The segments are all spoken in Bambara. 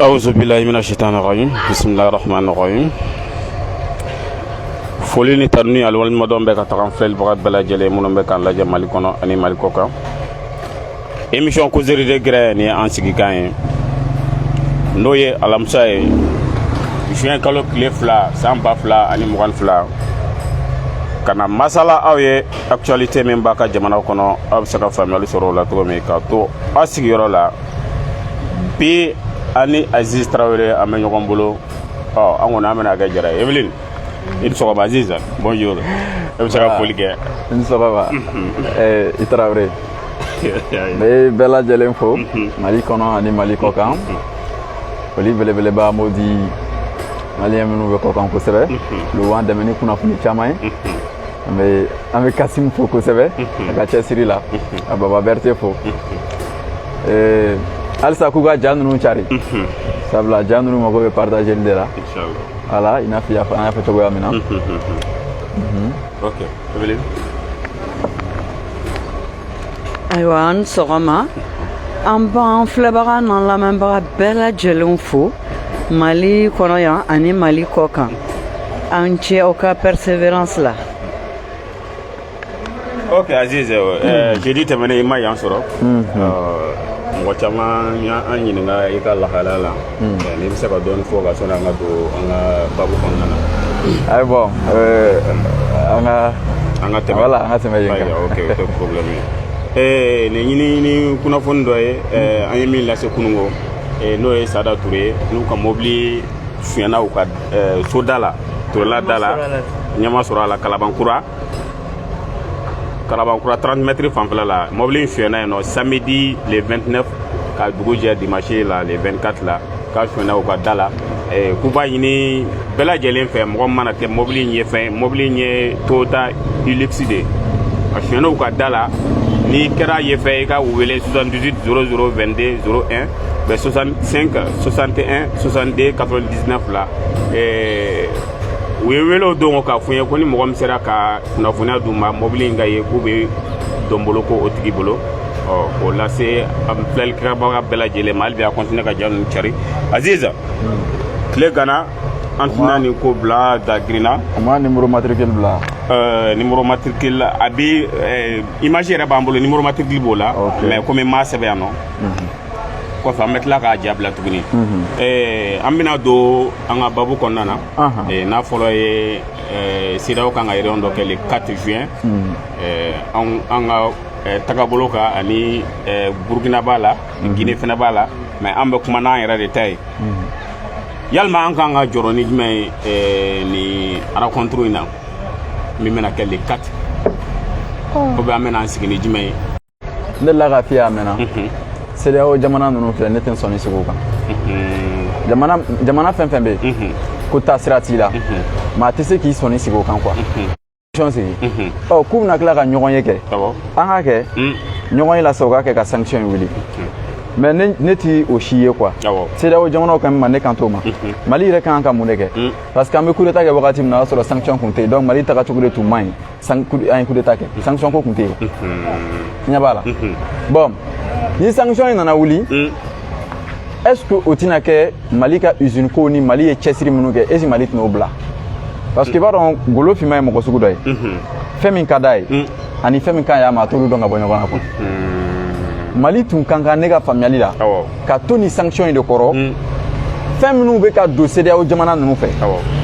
awuzu bilahi mina shitani rajim bisimilahi rahmani rahim foli ni tanuni ani waleɲumandɔn bɛ ka taga an filɛlibaga bɛɛ lajɛlen minnu bɛ k'an lajɛ mali kɔnɔ ani mali kɔ kan emisiyɔn kozeri de gɛrɛn nin ye an sigikan ye n'o ye alamisa ye juin kalo tile fila san ba fila ani mugan fila ka na masala aw ye actualité min b'a ka jamanaw kɔnɔ aw bɛ se ka faamuyali sɔrɔ o la cogo min ka to aw sigiyɔrɔ la bi an ni aziz tarawele an bɛ ɲɔgɔn bolo ɔ an kɔni an bɛna kɛ jara ye evelyn i ni sɔgɔma aziz bonjour e bɛ se ka foli kɛ i ni sɔgɔma tarawele n bɛ bɛɛ lajɛlen fo mali kɔnɔ ani mali kɔkan foli belebeleba an b'o di maliyɛn minnu bɛ kɔkan kosɛbɛ olu b'an dɛmɛ ni kunnafoni caman ye an bɛ an bɛ kasimu fo kosɛbɛ a ka cɛsiri la a baba berete fo halisa k'u ka ja ninnu cari sabula ja ninnu mago bɛ partageli de la voilà i n'a fɔ an y'a fɔ cogoya min na ayiwa a ni sɔgɔma an b'an filɛbaga n'an lamɛnbaga bɛɛ lajɛlenw fo mali kɔnɔ yan ani mali kɔ kan a ni ce aw ka perseverance la ok aziz eh, hmm. eh, jeudi tɛmɛnen i ma yan sɔrɔ hmm, hmm. Euh, mɔgɔ caman y'an ɲininka i ka lahalaya la eh, n'i bɛ se ka dɔɔni fɔ a kan sanni an ka don an ka babu kɔnɔna na ayi bɔn an ka an ka tɛmɛ wala an ka tɛmɛ yen kan ok o tɛ problème ye nin ɲinini kunnafoni dɔ ye an ye min lase kunun ko n'o ye sada ture ye n'u ka mobili sonyɛna u ka soda la turela da la ɲɛma sɔrɔ a la kalabankura kalabankura 30 mètres fanfɛla la mɔbili in sonyɛna yen nɔ samedi le 29 ka dugu jɛ dimanche la le 24 la k'a sonyɛna u ka da la eh, k'u b'a ɲini bɛɛ lajɛlen fɛ mɔgɔ min mana kɛ mɔbili in ye fɛ mɔbili in ye toyota hilux de ye a sonyɛna u ka da la n'i kɛra ye fɛ i ka u wele 78 00 22 01 bɛ 65 61 62 99 la eh, u ye wele don k'a fɔ n ye ko ni mɔgɔ min sera ka kunnafoniya d'u ma mɔbili in ka ye k'u bɛ dɔnbolo ko o tigi bolo ɔ k'o lase an filɛlikɛbaga bɛɛ lajɛlen ma hali bi a kɔntine ka ja ninnu cari aziz tile gana an tɛna nin ko bila da girinna u ma nimoro matrikili bila euh, nimoro matrikili la a bi euh, image yɛrɛ b'an bolo nimoro matrikili b'o la mais komi n m'a sɛbɛn yan nɔ kɔfɛ an bɛ tila k'a ja bila tuguni mhm. euh, an bɛna don an ka babu kɔnɔna na eh, n'a fɔlɔ ye eh, CEDEAO kan ka réunion dɔ kɛ le 4 juin hmm. eh, an ka tagabolo kan ani burukina b'a la hmm. gine fana b'a la mais an bɛ kuma n'an yɛrɛ de ta ye hmm. yalima an kan ka jɔrɔ ni jumɛn ye nin rencontre in na min bɛna kɛ le 4 ko bɛ an bɛna an sigi ni jumɛn ye n delila k'a f'i ye a mɛnna CEDEAO jamana ninnu filɛ ne tɛ n sɔnni sigi o kan jamana fɛn fɛn bɛ yen ko taasira t'i la maa tɛ se k'i sɔnni sigi o kan quoi sigi ɔ k'u bɛna tila ka ɲɔgɔn ye kɛ an k'a kɛ ɲɔgɔn ye la sa u k'a kɛ ka sanction in wuli mais ne, ne ti o si ye quoi CEDEAO jamanaw quand même ne kan t'o ma mali yɛrɛ kan ka mun de kɛ parce que an bɛ coup d'Etat kɛ wagati min na o y'a sɔrɔ sanction kun tɛ yen donc mali tagacogo de tun man ɲi an ye coup d'Etat kɛ sanction ko kun tɛ yen, unhun, i ɲɛ b'a la, unhun, bon ni sanction in nana wuli, un, est ce que o tɛna kɛ Mali ka usine ko ni Mali ye cɛsiri minnu kɛ est ce que Mali tɛn'o bila parce que i b'a dɔn golo finman ye mɔgɔ sugu dɔ ye, unhun, fɛn min ka d'a ye un, ani fɛn min ka ɲi a ma a t'olu dɔn ka bɔ ɲɔgɔn na quoi, unhun, Mali tun ka kan ne ka faamuyali la, awɔ. ka to ni sanction in de kɔrɔ mm. fɛn minnu bɛ ka don CEDEAO jamana ninnu fɛ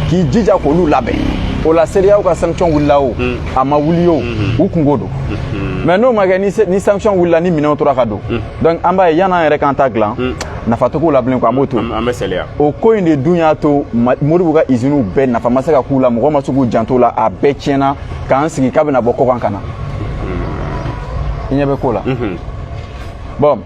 k'i jija k'olu labɛn o la CEDEAO ka sanction wulila o mm. a ma wuli o mm-hmm. u kunko don mm-hmm. mais n'o ma kɛ ni sanction wulila ni minɛnw tora ka don mm. donc an b'a ye yan'an yɛrɛ k'an ta dilan nafa tɛ ko la bilen quoi an b'o to o ko in de dun y'a to Modibo ka iziniw bɛɛ nafa ma se ka k'u la mɔgɔ ma se k'u janto la a bɛɛ tiɲɛna k'an sigi k'a bɛna bɔ kɔkan ka na i ɲɛ bɛ ko la bon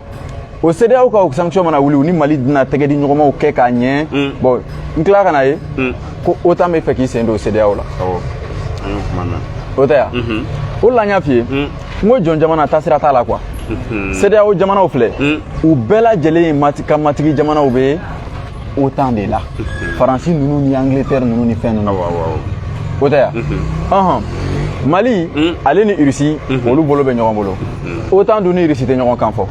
o CEDEAO ka o sanction mana wuli u ni Mali dina tɛgɛdiɲɔgɔnmaw kɛ k'a ɲɛ mm. bon n tila ka n'a ye mm. ko OTAN bɛ fɛ k'i sen don CEDEAO la o tɛ ya mm-hmm. o la n y'a f'i ye mm. n ko jɔn jamana taasira t'a la quoi mm-hmm. CEDEAO jamanaw filɛ u bɛɛ lajɛlen ka matigi jamanaw bɛ OTAN de la faransi ninnu ni angleterre ninnu ni fɛn ninnu o tɛ yan mali hmm. ale ni irisi hmm. olu bolo bɛ ɲɔgɔn bolo hmm. OTAN dun ni irisi tɛ ɲɔgɔn kan fɔ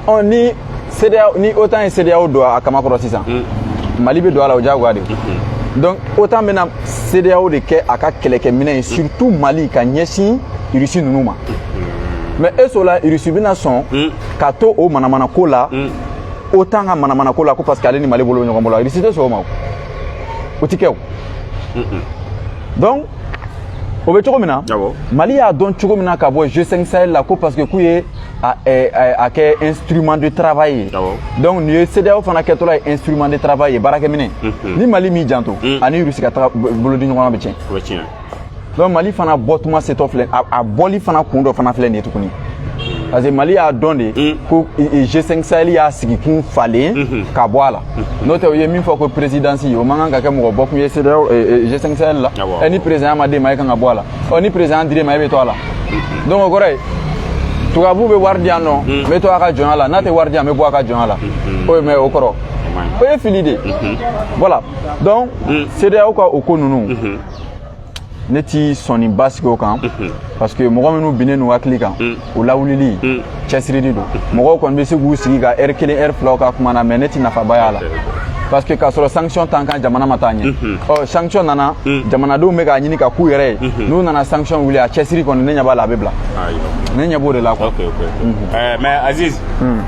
ɔ ni OTAN ye CEDEAO don a kaman kɔrɔ sisan mali bɛ don a la o diyagoya de donc OTAN bɛna CEDEAO de kɛ a ka kɛlɛkɛminɛn ye surtout mali ka ɲɛsin irisi ninnu ma mais est-ce que o la irisi bɛna sɔn ka to o manamana ko la OTAN ka manamana ko la ko parce que ale ni mali bolo bɛ ɲɔgɔn bolo irisi tɛ sɔn o ma o tɛ kɛ o donc o bɛ cogo min na mali y'a dɔn cogo min na ka bɔ G5 sahel la ko parce que k'u ye a, eh, eh, a, a kɛ instrument de travail ye donc n'i ye CEDEAO fana kɛtɔla ye instrument de travail ye baarakɛminɛn ni mali m'i janto a ni rusi ka taga bolodiɲɔgɔnma bɛ tiɲɛ donc mali fana bɔtuma setɔ filɛ a bɔli fana kun dɔ fana filɛ nin ye tuguni parce que mali y'a dɔn de mm. ko g5 sahel y'a sigikun falen mm-hmm. ka bɔ a la mm-hmm. n'o tɛ u ye min fɔ ko présidence o man kan ka kɛ mɔgɔ bɔkun ye CEDEAO g5 sahel la ah, ɛ ni président ma d'e ma e kan ka bɔ a la ɔ ni président dir'e ma e bɛ to a la mm-hmm. donc o kɔrɔ ye tubabu bɛ wari di yan nɔ n bɛ to a ka jɔnya la n'a tɛ wari di yan n bɛ bɔ a ka jɔnya la o ye mais o kɔrɔ o ye fili de voilà donc CEDEAO ka o ko ninnu ne ti sɔnni basigi o kan parce que mɔgɔ minnu binnen n'u hakili kan o lawulili cɛsirili don mɔgɔw kɔni bɛ se k'u sigi ka heure kelen heure filaw ka kuma na mais ne ti nafaba y'a la parce que k'a sɔrɔ sanction t'an kan jamana ma taa ɲɛ ɔ sanction nana jamanadenw bɛ k'a ɲini ka k'u yɛrɛ ye n'u nana sanction wuli a cɛsiri kɔni ne ɲɛ b'a la a bɛ bila ne ɲɛ b'o de la quoi mais aziz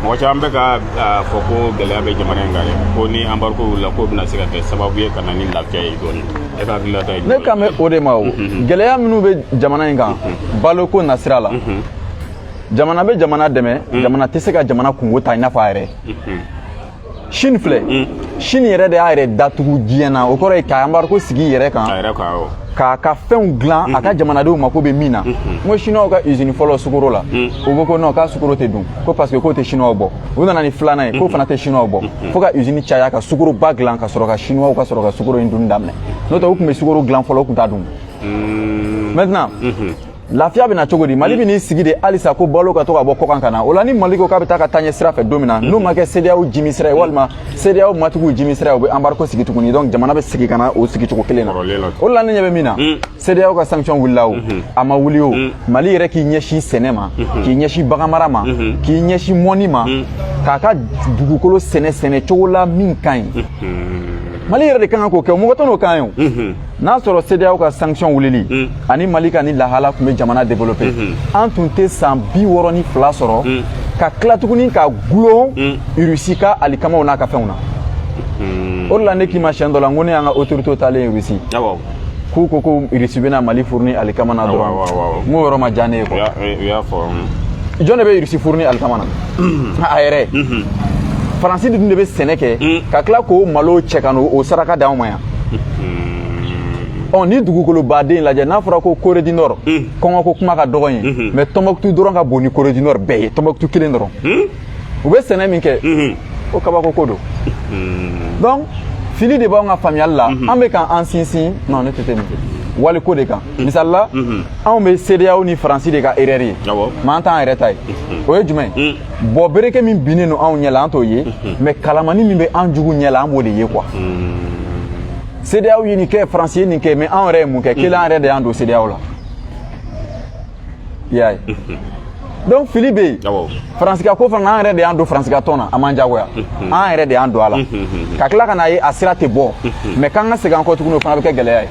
mɔgɔ caman bɛ k'a fɔ ko gɛlɛya bɛ jamana in kan ko ni embargo wulila k'o bɛna se ka kɛ sababu ye ka na ni lafiya ye dɔɔnin ne kan bɛ o de ma o gɛlɛya minnu bɛ jamana in kan baloko nasira la jamana bɛ jamana dɛmɛ jamana tɛ se ka jamana kunko ta i n'a fɔ a yɛrɛ chine filɛ chine yɛrɛ de y'a yɛrɛ datugu diɲɛ na o kɔrɔ ye ka embargo sigi yɛrɛ kan k'a ka fɛnw dilan a ka jamanadenw mako bɛ min na n ko chinois ka usine fɔlɔ sukoro la u ko ko non k'a sukoro tɛ dun ko parce que k'o tɛ chinois bɔ u nana ni filanan ye k'o fana tɛ chinois bɔ fo ka usine caya ka sukoroba dilan ka sɔrɔ ka chinois ka sɔrɔ ka sukoro in dunni daminɛ n'o tɛ u tun bɛ sukoro dilan fɔlɔ u tun t'a dun maintenant lafiya bɛ na cogo di mali bɛn'i sigi de halisa ko balo ka to ka bɔ kɔkan ka na o la ni mali ko k'a bɛ taa ka taaɲɛ sira fɛ don min na n'o ma kɛ CEDEAO jimi sira ye walima CEDEAO matigiw jimi sira ye u bɛ embargo sigi tuguni donc jamana bɛ sigi ka na o sigi cogo kelen na o la ne ɲɛ bɛ min na CEDEAO ka sanction wulila o mhm. a ma wuli o mhm. mali yɛrɛ k'i ɲɛsin sɛnɛ ma mhm. k'i ɲɛsin baganmara ma k'i ɲɛsin mɔni ma k'a ka dugukolo sɛnɛ sɛnɛ cogo la min ka ɲi mali yɛrɛ de ka kan k'o kɛ mɔgɔ tɛn'o k'an ye o n'a sɔrɔ CEDEAO ka sanction wulili ani mali ka ni lahala tun bɛ jamana développer an tun tɛ san bi wɔɔrɔ ni fila sɔrɔ ka tila tuguni ka gulon irisi ka alikamaw n'a ka fɛnw na o de la ne k'i ma siyɛn dɔ la n ko ne y'an ka autorité taalen ye irisi k'u ko ko irisi bɛna mali fournir alikama na dɔrɔn n k'o yɔrɔ ma diya ne ye quoi u y'a fɔ jɔn de bɛ irisi fournir alikama na a yɛrɛ faransi dun de bɛ sɛnɛ kɛ ka tila k'o malo cɛ ka n'o saraka d'anw ma yan ɔ ni dugukoloba don lajɛ n'a fɔra ko corée du nord kɔngɔko kuma ka dɔgɔ ye mais tombouctou dɔrɔn ka bon ni corée du nord bɛɛ ye tombouctou kelen dɔrɔn u bɛ sɛnɛ min kɛ o kabako ko don donc fili de b'anw ka faamuyali la an bɛ ka an sinsin non ne tɛ tɛ nin kɛ waliko de kan misali la anw bɛ sedeyaw ni faransi de ka erreur ye ma an t'an yɛrɛ ta ye o ye jumɛn ye bon bereke min binnen don anw ɲɛ la an t'o ye mais kalamani min bɛ an jugu ɲɛ la an b'o de ye quoi sedeyaw ye nin kɛ faransi ye nin kɛ mais anw yɛrɛ ye mun kɛ kelen an yɛrɛ de y'an don sedeyaw la i y'a ye donc fili bɛ yen faransi ka ko fana an yɛrɛ de y'an don faransi ka tɔn na a m'an jagoya an yɛrɛ de y'an don a la ka tila ka n'a ye a sira tɛ bɔ mais k'an ka segin an kɔ tuguni o fana bɛ kɛ gɛlɛya ye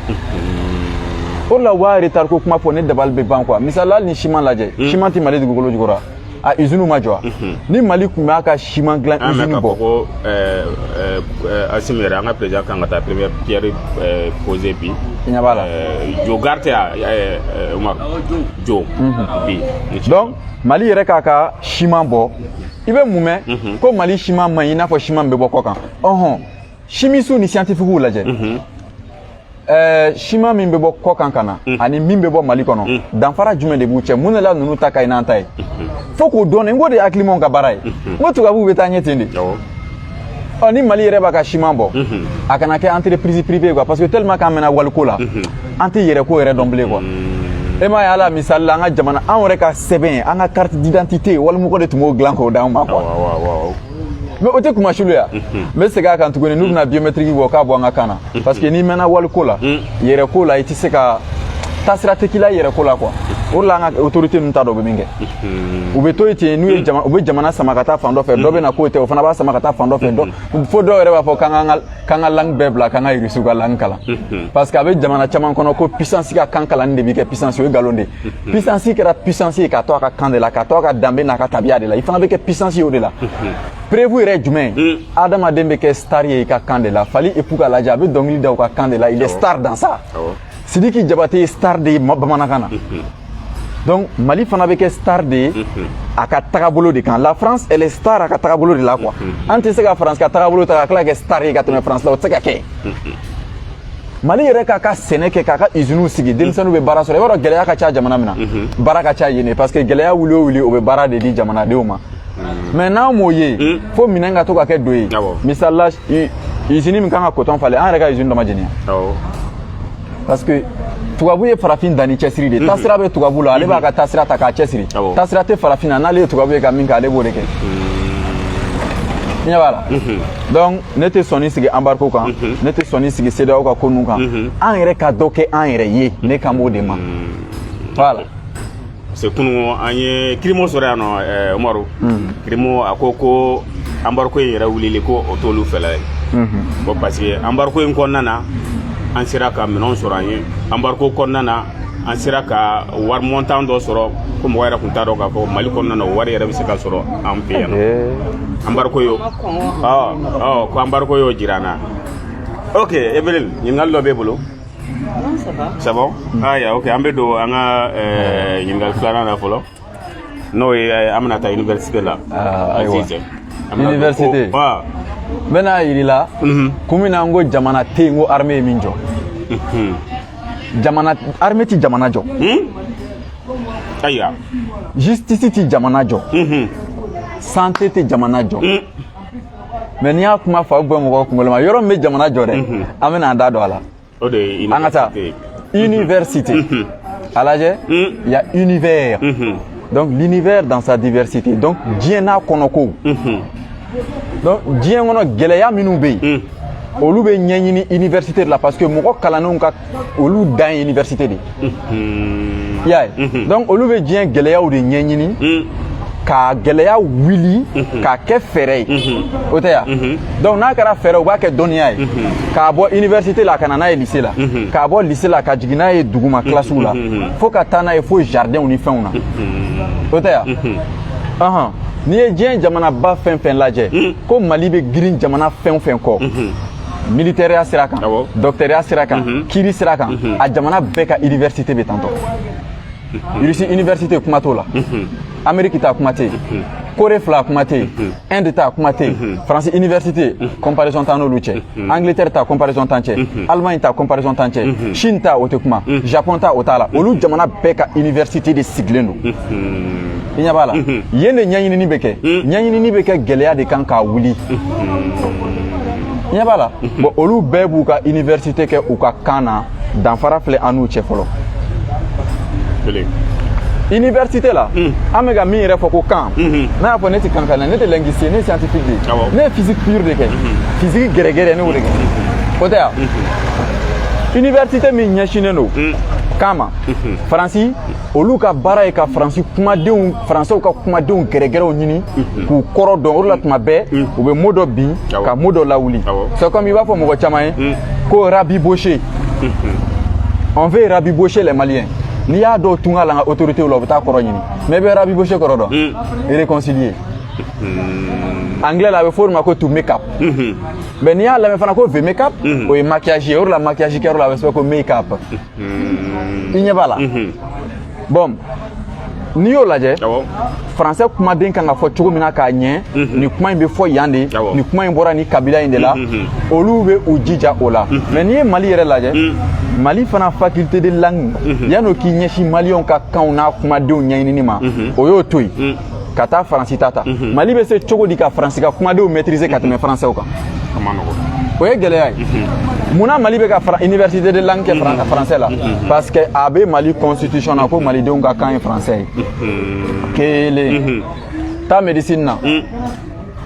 o de la u b'a retard ko kuma fɔ ne dabali bɛ ban quoi misali la hali ni siman lajɛ siman tɛ mali dugukolo jukɔrɔ a iziniw ma jɔ ni mali tun b'a ka siman dilan izini bɔ ko asimi yɛrɛ an ka perezidan kan ka taa première pierre poser bi i ɲɛ b'a la jo gari tɛ a umaru jo bi donc mali yɛrɛ k'a ka siman bɔ i bɛ mun mɛn ko mali siman man ɲi i n'a fɔ siman bɛ bɔ kɔ kan ɔhɔn simisiw ni siyantifikiw lajɛ ɛɛ siman min bɛ bɔ kɔ kan ka na mm. ani min bɛ bɔ mali kɔnɔ mm. danfara jumɛn de b'u cɛ mun de la ninnu ta ka ɲi n'an ta ye mm-hmm. fo k'o dɔn n k'o de ye hakilimaw ka baara ye mm-hmm. n ko tubabuw bɛ taa ɲɛ ten de ɔ ni mali yɛrɛ b'a ka siman bɔ mm-hmm. a kana kɛ entreprise privée ye quoi parce que tellement k'an mɛnna waliko la an tɛ yɛrɛ ko yɛrɛ dɔn bilen quoi e m'a ye ala misali la an ka jamana an yɛrɛ ka sɛbɛn an ka carte d'identité walimɔgɔ de tun b'o dilan k'o d'an ma quoi mais o tɛ kuma surunya n bɛ segin a kan tuguni n'u bɛna biometriki bɔ k'a bɔ an ka kan na parce que n'i mɛnna waliko la yɛrɛ ko la i tɛ se ka taasira tɛ k'i la yɛrɛ ko la quoi o de la an ka autorité ninnu t'a dɔn u bɛ min kɛ u bɛ to yen ten n'u ye jama u bɛ jamana sama ka taa fan dɔ fɛ dɔ bɛ na k'o tɛ o fana b'a sama ka taa fan dɔ fɛ dɔ fo dɔw yɛrɛ b'a fɔ k'an ka k'an ka langue bɛɛ bila k'an ka irisiw ka langue kalan parce que a bɛ jamana caman kɔnɔ ko puissance ka kan kalanni de bɛ kɛ puissance o ye nkalon de ye puissance kɛra puissance ye ka to a ka kan de la ka to a ka danbe n'a ka tabiya de la i fana bɛ kɛ puissance ye o de la preuve yɛrɛ jumɛn adamaden bɛ kɛ star ye i ka kan de la fally ipupa lajɛ a bɛ dɔnkili da u ka kan de la il est star dans ça sidiki jabate ye star de ye bamanankan na donc mali fana bɛ kɛ star de ye a ka tagabolo de kan la france elle est star a ka tagabolo de la quoi an tɛ se ka france ka tagabolo ta ka tila ka kɛ star ye ka tɛmɛ france la o tɛ se ka kɛ mali yɛrɛ k'a ka sɛnɛ kɛ k'a ka iziniw sigi denmisɛnninw bɛ baara sɔrɔ i b'a dɔn gɛlɛya ka ca jamana min na baara ka ca yen parce que gɛlɛya wuli o wuli o bɛ baara de di jamanadenw ma mais n'an m'o ye fo minɛn ka to ka kɛ don ye misali la izini min kan ka kotɔn falen an yɛrɛ ka izini dɔ ma jɛniya parce que tubabu ye farafin dan ni cɛsiri de taasira bɛ tubabu la ale b'a ka taasira ta k'a cɛsiri taasira tɛ farafin na n'ale ye tubabu ye ka min kɛ ale b'o de kɛ i ɲɛ b'a la donc ne tɛ sɔnni sigi embargo kan mhm. ne tɛ sɔnni sigi CEDEAO ka ko ninnu kan mhm. an yɛrɛ ka dɔ kɛ an yɛrɛ ye ne kan b'o de ma mhm. voilà parce que kunun an ye kirimo sɔrɔ yan nɔ umaru kirimo a ko ko embargo in yɛrɛ wulili ko o t'olu fɛla ye bon parce que embargo in kɔnɔna na an sera ka minɛnw sɔrɔ an ye embargo kɔnɔna na an sera ka wari montant dɔ sɔrɔ ko mɔgɔ yɛrɛ tun t'a dɔn k'a fɔ mali kɔnɔna na o wari yɛrɛ bɛ se ka sɔrɔ an fɛ yan nɔ embargo y'o ko embargo y'o jira an na ok evelyn ɲininkali dɔ b'e bolo ça va aya ok an bɛ don an ka ɲininkali filanan na fɔlɔ n'o ye eh, an bɛna taa université la ah, ayiwa université n bɛn'a yir'i la mhm. kun min na n ko jamana tɛ yen ko armée ye min jɔ mhm. jamana armée ti jamana jɔ hmm? ayiwa justice ti jamana jɔ mhm. santé tɛ jamana jɔ hmm. mais n'i y'a kuma fa bɔ mɔgɔ kunkolo ma yɔrɔ min bɛ jamana jɔ dɛ an bɛna an da don a la o de ye an ka taa université mhm. a lajɛ mhm. il y a univers mhm. donc l'univers dans sa diversité donc diɲɛ n'a kɔnɔkow donc diɲɛ kɔnɔ gɛlɛya minnu bɛ yen olu bɛ ɲɛɲini université de la parce que mɔgɔ kalannenw ka olu dan ye université de ye y'a ye donc olu bɛ diɲɛ gɛlɛyaw de ɲɛɲini ka gɛlɛya wuli k'a kɛ fɛɛrɛ ye o tɛ ya donc n'a kɛra fɛɛrɛ u b'a kɛ dɔnniya ye k'a bɔ université la ka na n'a ye lycée la k'a bɔ lycée la ka jigin n'a ye duguma kilasiw la fo ka taa n'a ye fo jardinw ni fɛnw na o tɛ ya n'i ye diɲɛ jamanaba fɛn fɛn lajɛ ko mali bɛ girin jamana fɛn fɛn kɔ militɛriya sira kan dɔkitɛriya sira kan mhm. kiri sira kan mhm. a jamana bɛɛ ka université bɛ tantɔ mhm. irisi université kuma t'o la amérique ta kuma tɛ yen corée fila kuma tɛ yen inde ta kuma tɛ yen france université comparaison t'an n'olu cɛ angleterre ta comparaison t'an cɛ allemagne ta comparaison t'an cɛ chine ta o tɛ kuma japon ta o t'a la olu jamana bɛɛ ka université de sigilen don i ɲɛ b'a la yen de ɲɛɲinini bɛ kɛ ɲɛɲinini bɛ kɛ gɛlɛya de kan k'a wuli i ɲɛ b'a la bon olu bɛɛ b'u ka université kɛ u ka kan na danfara filɛ an n'u cɛ fɔlɔ université la an bɛ ka min yɛrɛ fɔ ko kan n'a y'a fɔ ne tɛ kan kan na ne tɛ linguiste ye ne scientifique de ye ne ye physique pure de kɛ physique gɛrɛgɛrɛ ne y'o de kɛ o tɛ ya université min ɲɛsinnen don kan ma faransi olu ka baara ye ka faransi kumadenw faransɛw ka kumadenw gɛrɛgɛrɛw ɲini mhm. k'u kɔrɔ dɔn o de la tuma bɛɛ mhm. u bɛ mot dɔ bin ka mot dɔ lawuli c'est comme i b'a fɔ mɔgɔ caman ye mhm. ko rabibocher on veut rabibocher les maliens n'i y'a dɔw tun ka la ka autoritéw la u bɛ t'a kɔrɔ ɲini mais i bɛ rabibocher kɔrɔ dɔn réconcilier anglais la a bɛ fɔ o de ma ko to make up mais n'i y'a lamɛn fana ko ve make up o ye maquillage ye o de la maquillage kɛyɔrɔ la a bɛ sɛbɛn ko make up i ɲɛ b'a la bon n'i y'o lajɛ faransɛ kumaden kan ka fɔ cogo min na k'a ɲɛ nin kuma in bɛ fɔ yan de nin kuma in bɔra nin kabila in de la olu bɛ u jija o la mais n'i ye mali yɛrɛ lajɛ mali fana faculté de langue yan'o k'i ɲɛsin maliyɛnw ka kanw n'a kumadenw ɲɛɲinini ma o y'o to yen ka taa faransi ta ta mhm. mali bɛ se cogo di ka faransi ka kumadenw maîtriser ka tɛmɛ faransɛw kan o ye gɛlɛya ye mhm. mun na mali bɛ ka université de langue kɛ mhm. faransɛ la parce que a bɛ mali constitution na ko malidenw ka kan ye faransɛ ye kelen taa médecine na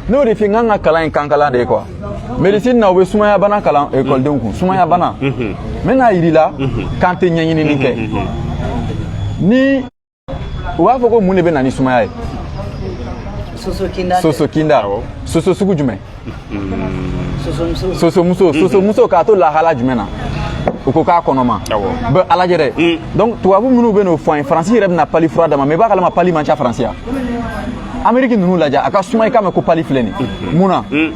n'o de fɛ n k'an ka kalan ye kankalan de ye quoi médecine na u bɛ sumaya bana kalan ekɔlidenw kun sumaya bana n bɛ n'a yir'i la k'an tɛ ɲɛɲinini kɛ ni u b'a fɔ ko mun de bɛ na ni sumaya ye soso kinda soso sugu jumɛn sosomuso sosomuso k'a to lahala jumɛn na u ko k'a kɔnɔma b'a lajɛ dɛ mm. donc tubabu minnu bɛ n'o fɔ an ye faransi yɛrɛ bɛna pali fura d'an ma mais i b'a kalama pali man ca faransi yan ameriki ninnu lajɛ a ka suma i k'a mɛn ko pali filɛ nin mm-hmm. mun na mm.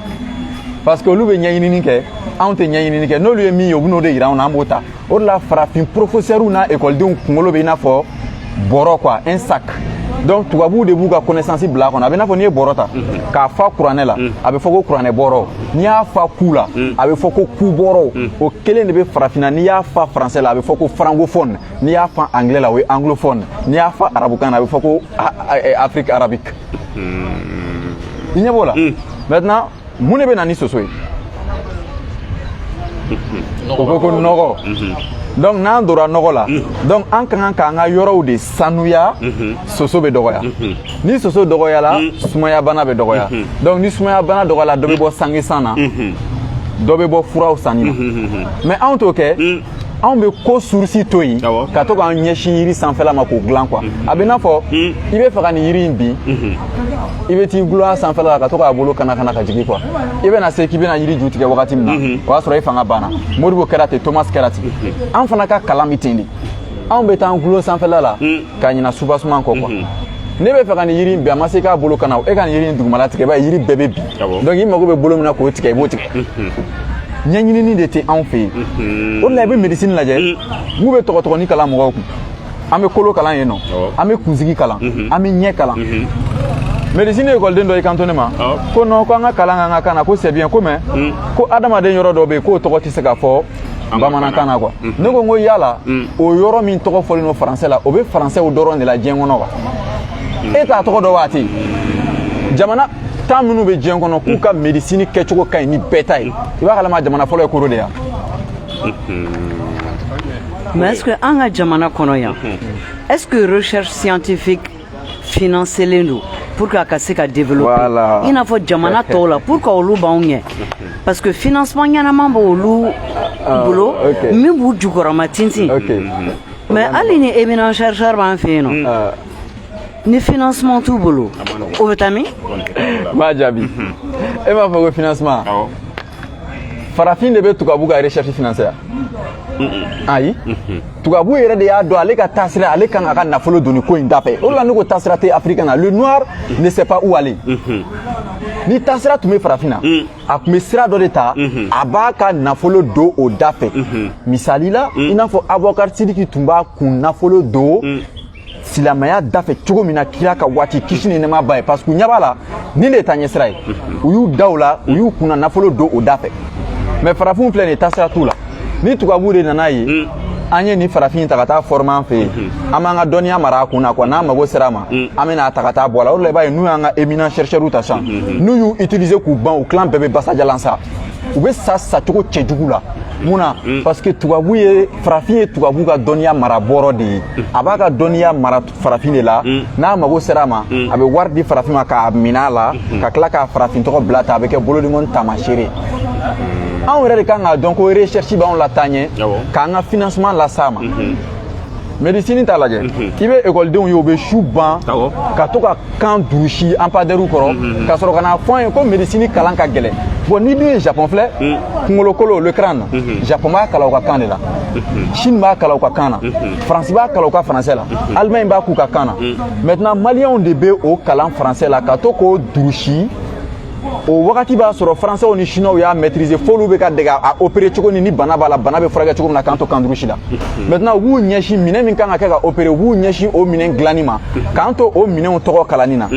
parce que olu bɛ ɲɛɲinini kɛ anw tɛ ɲɛɲinini kɛ n'olu ye min ye u bɛn'o de yira anw na an b'o ta o de la farafin professeurw n'a ekɔlidenw kunkolo bɛ i n'a fɔ bɔrɔ quoi un sac donc tubabuw de b'u ka connaissance bila a kɔnɔ a bɛ n'a fɔ n'i ye bɔrɔ ta k'a fa kuranɛ la a bɛ fɔ ko kuranɛ bɔrɔ n'i y'a fa ku la a bɛ fɔ ko ku bɔrɔ o kelen de bɛ farafinna n'i y'a fa français la a bɛ fɔ ko francophone n'i y'a fa anglais la o ye anglophone n'i y'a fa arabukan na a bɛ fɔ ko afrique arabique i ɲɛ b'o la maintenant mun de bɛ na ni soso ye o ko ko nɔgɔ donc n'an donna nɔgɔ la donc an ka kan k'an ka yɔrɔw de sanuya soso bɛ dɔgɔya ni soso dɔgɔyala sumaya bana bɛ dɔgɔya donc ni sumaya bana dɔgɔyala dɔ bɛ bɔ sangesan na dɔ bɛ bɔ furaw sanni na mais anw t'o kɛ anw bɛ ko source to yen ka to k'an ɲɛsin yiri sanfɛla ma k'o dilan quoi a bɛ n'a fɔ i bɛ fɛ ka nin yiri in bin i bɛ t'i gulon a sanfɛla la ka to k'a bolo kana kana ka jigin quoi i bɛna se k'i bɛna yiri ju tigɛ wagati min na o y'a sɔrɔ i fanga banna modibo kɛra ten thomas kɛra ten an fana ka kalan bɛ ten de anw bɛ taa an gulon sanfɛla la ka ɲina soubassement kɔ quoi mhm. ne bɛ fɛ ka nin yiri in bin a ma se k'a bolo kana e ka nin yiri in dugumala tigɛ i b'a ye yiri bɛɛ bɛ bin ah donc i mago bɛ bolo min na k'o tigɛ i b'o tigɛ mhm. ɲɛɲinini de tɛ anw fɛ yen mhm. o de la i bɛ médecine lajɛ n'u bɛ tɔgɔtɔgɔni kalan mɔgɔw kun an bɛ kolo kalan yen nɔ an bɛ kunsigi kalan an bɛ ɲɛ kalan médecine ekɔliden dɔ y'i kanto ne ma ko non ko an ka kalan k'an ka kan na ko c'est bien ko mais ko adamaden yɔrɔ dɔ bɛ yen k'o tɔgɔ tɛ se ka fɔ bamanankan na quoi ne ko n ko yala o yɔrɔ min tɔgɔ fɔlen don français la o bɛ françaisw dɔrɔn de la diɲɛ kɔnɔ wa e t'a tɔgɔ dɔn wa ten jamana tan minnu bɛ diɲɛ kɔnɔ k'u ka médecine kɛcogo ka ɲi ni bɛɛ ta ye i b'a kalama jamana fɔlɔ ye koro de yan mais est ce que an ka jamana kɔnɔ yan est ce que recherche scientifique financelen don pour que a ka se ka développer voilà. i n'a fɔ jamana tɔw la pour que olu b'anw ɲɛ parce que financement ɲɛnama b'olu ah, bolo okay. min b'u jukɔrɔma tintin okay. mais hali ni éminent chercheur b'an fɛ yen nɔ ah. ni financement t'u bolo o bɛ taa min m'a jaabi e m'a fɔ ko financement farafin de bɛ tubabu ka recherche financer ayi tubabu yɛrɛ de y'a dɔn ale ka taasira ale kan k'a ka nafolo don nin ko in dafɛ o de la ne ko taasira tɛ africain na le noir ne sait pas où aller ni taasira tun bɛ farafin na a tun bɛ sira dɔ de ta a b'a ka nafolo don o da fɛ misali la i n'a fɔ abubakar sidiki tun b'a kun nafolo don silamɛya dafɛ cogo min na kira ka waati kisi ni nɛɛma b'a ye parce que u ɲɛ b'a la nin de taaɲɛsira ye u y'u da o la u y'u kunna nafolo don o da fɛ mais farafinw filɛ nin ye taasira t'u la ni tubabu de nana ye mm. an ye nin farafin ta ka taa former an fɛ yen mm-hmm. an b'an ka dɔnniya mara a kun na quoi n'an mago sera a ma mm. an bɛna a ta ka taa bɔ a la o de la i b'a ye n'u y'an ka éminent chercheurs ta sisan mm-hmm. n'u y'u utiliser k'u ban u tilan bɛɛ bɛ basajalan sa u bɛ sa cogo cɛjugu la mun na mm. parce que tubabu ye farafin ye tubabu ka dɔnniya mara bɔrɔ de ye a b'a ka dɔnniya mara farafin de la mm. n'a mago sera a ma mm. a bɛ wari di farafin ma k'a minɛ a la mm-hmm. ka tila k'a farafin tɔgɔ bila ta a bɛ kɛ bolodimɔni taamasere mm. anw yɛrɛ de kan k'a dɔn ko recherche b'anw lataa ɲɛ k'an ka financement las'a ma mm-hmm. médecine t'a lajɛ mm-hmm. i bɛ ekɔlidenw ye u bɛ su ban ka to ka kan durusi anpadɛriw kɔrɔ mm, mm, mm. ka sɔrɔ ka na a fɔ an ye ko médecine kalan ka gɛlɛn bon n'i dun ye japon filɛ kunkolokolo le crâne japon b'a kalan u ka kan de la chine b'a kalan u ka kan na faransi b'a kalan u ka français la allemagne b'a k'u ka kan na maintenant maliyɛnw de bɛ o kalan français la ka to k'o durusi o wagati b'a sɔrɔ faransɛw ni siniwaw y'a maîtriser f'olu bɛ ka dege a opérer cogo ni ni bana b'a la bana bɛ furakɛ cogo min na k'an to kan durusi la maintenant u b'u ɲɛsin minɛn min kan ka kɛ ka opérer u b'u ɲɛsin o minɛn dilanni ma k'an to o minɛnw tɔgɔ kalanni na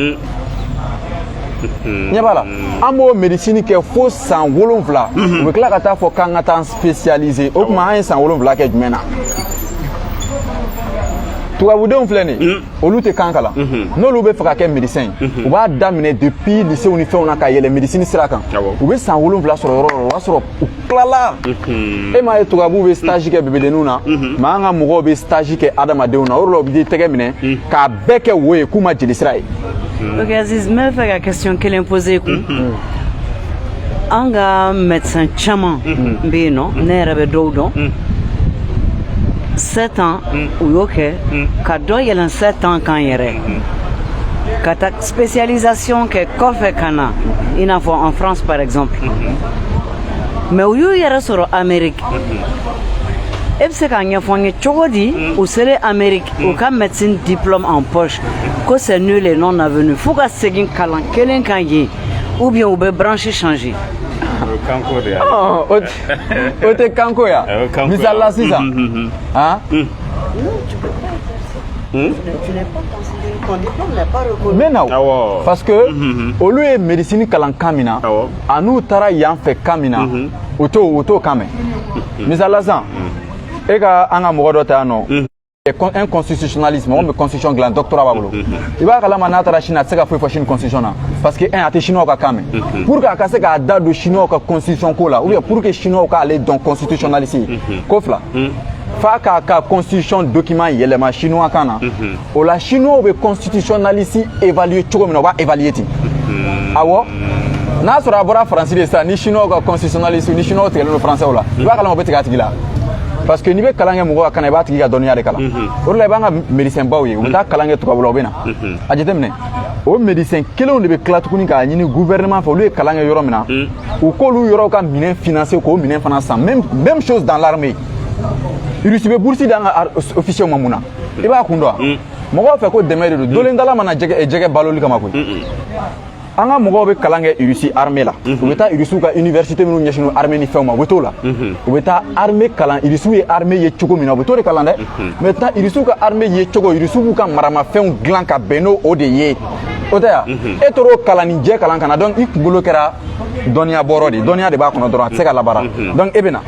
ɲɛ b'a la an b'o médecine kɛ fo san wolonfila u bɛ tila ka taa fɔ k'an ka taa spécialiser o tuma an ye san wolonfila kɛ jumɛn na tubabudenw filɛ nin ye olu tɛ kan kalan n'olu bɛ fɛ ka kɛ médecin ye u b'a daminɛ depuis lycée ni fɛnw na ka yɛlɛ médecine sira kan u bɛ san wolonfila sɔrɔ yɔrɔ yɔrɔ o b'a sɔrɔ u tilala e m'a ye tubabuw bɛ stage kɛ bebedenninw na mais an ka mɔgɔw bɛ stage kɛ adamadenw na o de la u bɛ tɛgɛ minɛ k'a bɛɛ kɛ wo ye k'u ma jelisira ye. ok Aziz n bɛ fɛ ka question kelen poser kun. an ka médecin caman bɛ yen nɔ ne yɛrɛ bɛ dɔw dɔn sept ans u y'o kɛ ka dɔ yɛlɛn sept ans kan yɛrɛ ka taa spécialisation kɛ kɔfɛ ka na i n'a fɔ en France par exemple mais u y'u yɛrɛ sɔrɔ Amérique e bɛ se k'a ɲɛfɔ n ye cogo di u selen Amérique u ka médecine diplôme en poche ko c'est nul et non avenu f'u ka segin kalan kelen kan yen ou bien u bɛ branche changer kanko de y'a o tɛ kanko ya misali la sisan han Hmm? Mais non, ah, parce que hmm, hmm, olu ye médecine kalan kan min na a n'u taara yan fɛ kan min na u t'o u t'o kan mɛn misali la sisan e ka an ka mɔgɔ dɔ ta yan nɔ un constitutionnaliste mɔgɔ min bɛ constitution dilan doctorat b'a bolo i b'a kalama n'a taara Chine a tɛ se ka foyi fɔ Chine constitution na parce que un a tɛ chinois ka kan mɛn pour que a ka se k'a da don chinois ka constitution ko la ou bien pour que chinois k'ale dɔn constitutionnaliste ye ko fila f'a k'a ka constitution document yɛlɛma chinois kan na o la chinois bɛ constitutionnaliste évaluer cogo min na u b'a évaluer ten awɔ n'a sɔrɔ a bɔra faransi de sisan ni chinois ka constitutionnaliste ni chinois tigɛlen don français la i b'a kalama u bɛ tigɛ a tigi la parce que n'i bɛ kalan kɛ mɔgɔ ka kan na i b'a tigi ka dɔnniya de kalan o de la i b'an ka médecin baw ye u bɛ taa kalan kɛ tubabula u bɛ na a jateminɛ o médecin kelenw de bɛ tila tuguni k'a ɲini gouvernement fɛ olu ye kalan kɛ yɔrɔ min na u k'olu yɔrɔw ka minɛn financer k'o minɛn fana san même chose dans l'armée irisi bɛ burusi d'an ka officiers ma mun na i b'a kun dɔn wa mɔgɔw fɛ ko dɛmɛ de don dolendala ma na jɛgɛ baloli kama koyi an ka mɔgɔw bɛ kalan kɛ irisi arme la u bɛ taa irisiw ka université minnu ɲɛsinnen arme ni fɛnw ma u bɛ t'o la u bɛ taa arme kalan irisiw ye arme ye cogo min na u bɛ t'o de kalan dɛ maintenant irisiw ka arme ye cogo irisiw b'u ka maramafɛnw dilan ka bɛn n'o o de ye o tɛ yan e tor'o kalan nin jɛ kalan ka na donc i kunkolo kɛra dɔnniya bɔrɔ de dɔnniya de b'a kɔnɔ dɔrɔn a tɛ se ka labaara donc e bɛ na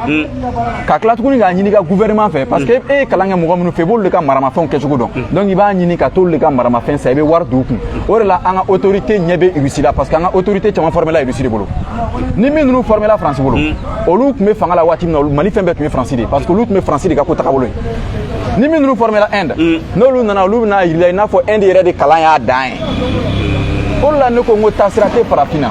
ka tila tuguni k'a ɲini i ka gouvernement fɛ parce que e ye kalan kɛ mɔgɔ minnu fɛ i b'olu de ka maramafɛnw kɛcogo dɔn donc i b'a ɲini ka t'olu de ka maramafɛn san i bɛ wari don u kun o de la an ka autorité ɲɛ bɛ irisi la parce que an ka autorité caman formela irisi de bolo ni min ninnu formela faransi bolo olu tun bɛ fanga la waati min na mali fɛn bɛɛ tun ye faransi de ye parce que olu tun bɛ faransi de ka ko tagabolo ye ni min ninnu formela inde n'olu nana olu bɛn'a yira i la i n'a fɔ inde yɛrɛ de kalan y'a dan ye o de la ne ko n ko taasira tɛ farafin na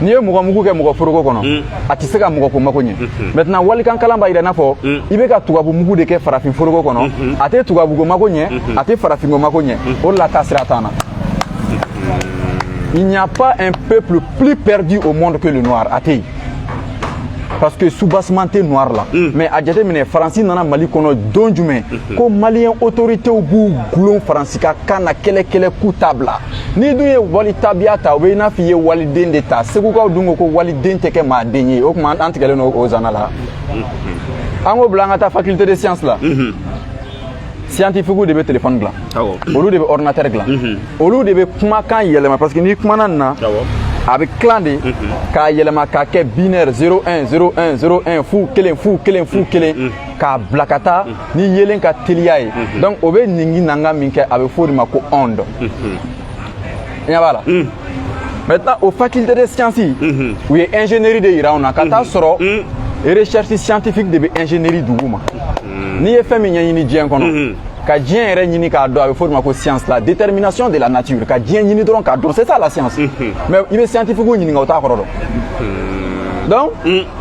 n'i ye mɔgɔ mugu kɛ mɔgɔ foroko kɔnɔ mm. a tɛ se ka mɔgɔ ko mako ɲɛ mm-hmm. maintenant walikan kalan b'a yira i n'a fɔ mm. i bɛ ka tubabu mugu de kɛ farafin foroko kɔnɔ mm-hmm. a tɛ tubabuko mako ɲɛ mm-hmm. a tɛ farafinko mako ɲɛ o de la taasira t'an na il n'y a pas un peuple plus perdu au monde que le noir a tɛ yen parce que soubassement tɛ noir la mm. mais a jateminɛ faransi nana mali kɔnɔ don jumɛn ko maliyɛn autoritew b'u gulon faransi ka kan na kɛlɛkɛlɛ k'u t'a bila n'i dun ye wali tabiya ta o bɛ i n'a fɔ i ye waliden de ta segukaw dun ko ko waliden tɛ kɛ maa den ye o tuma an tigɛlen don o zana la an k'o bila an ka taa faculté de science la scientifique de bɛ téléphone dilan olu de bɛ ordinateur dilan olu de bɛ kumakan yɛlɛma parce que n'i kumana nin na a bɛ tilan de k'a yɛlɛma k'a kɛ binaire 01 01 01 fu kelen fu kelen fu kelen k'a bila ka taa ni yelen ka teliya ye donc o bɛ ningi nanga min kɛ a bɛ f'o de ma ko onde i ɲɛ b'a la maintenant o faculté de science u ye ingénierie de yira anw na ka t'a sɔrɔ recherche scientifique de bɛ ingénierie duguma n'i ye fɛn min ɲɛɲini diɲɛ kɔnɔ ka diɲɛ yɛrɛ ɲini k'a dɔn a bɛ fɔ o de ma ko science la détermination de la nature ka diɲɛ ɲini dɔrɔn k'a dɔn c'est ça la science mais i bɛ scientifique ɲininka o t'a kɔrɔ dɔn donc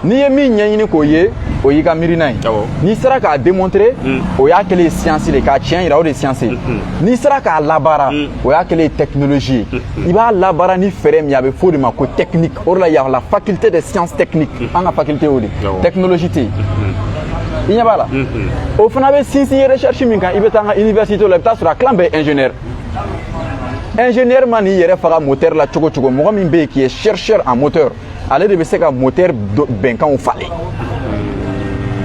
n'i ye min ɲɛɲini k'o ye o y'i ka miirina ye n'i sera k'a démontrer hmm. o y'a kɛlen ye science de k'a tiɲɛ yira o de ye science ye hmm, hmm. n'i sera k'a labaara o y'a kɛlen ye technologie ye i b'a labaara ni fɛɛrɛ min ye a bɛ f'o de ma ko technique o de la y a la faculté de science technique an ka faculté y'o de technologie tɛ yen i ɲɛ b'a la o fana bɛ sinsin ye recherche min kan i bɛ taa an ka université la i bɛ t'a sɔrɔ a tilan bɛɛ ye ingénieur ingénieur man'i yɛrɛ faga moteur la cogo o cogo mɔgɔ min bɛ yen qui est chercheur en moteur ale de bɛ se ka moteur bɛnkanw falen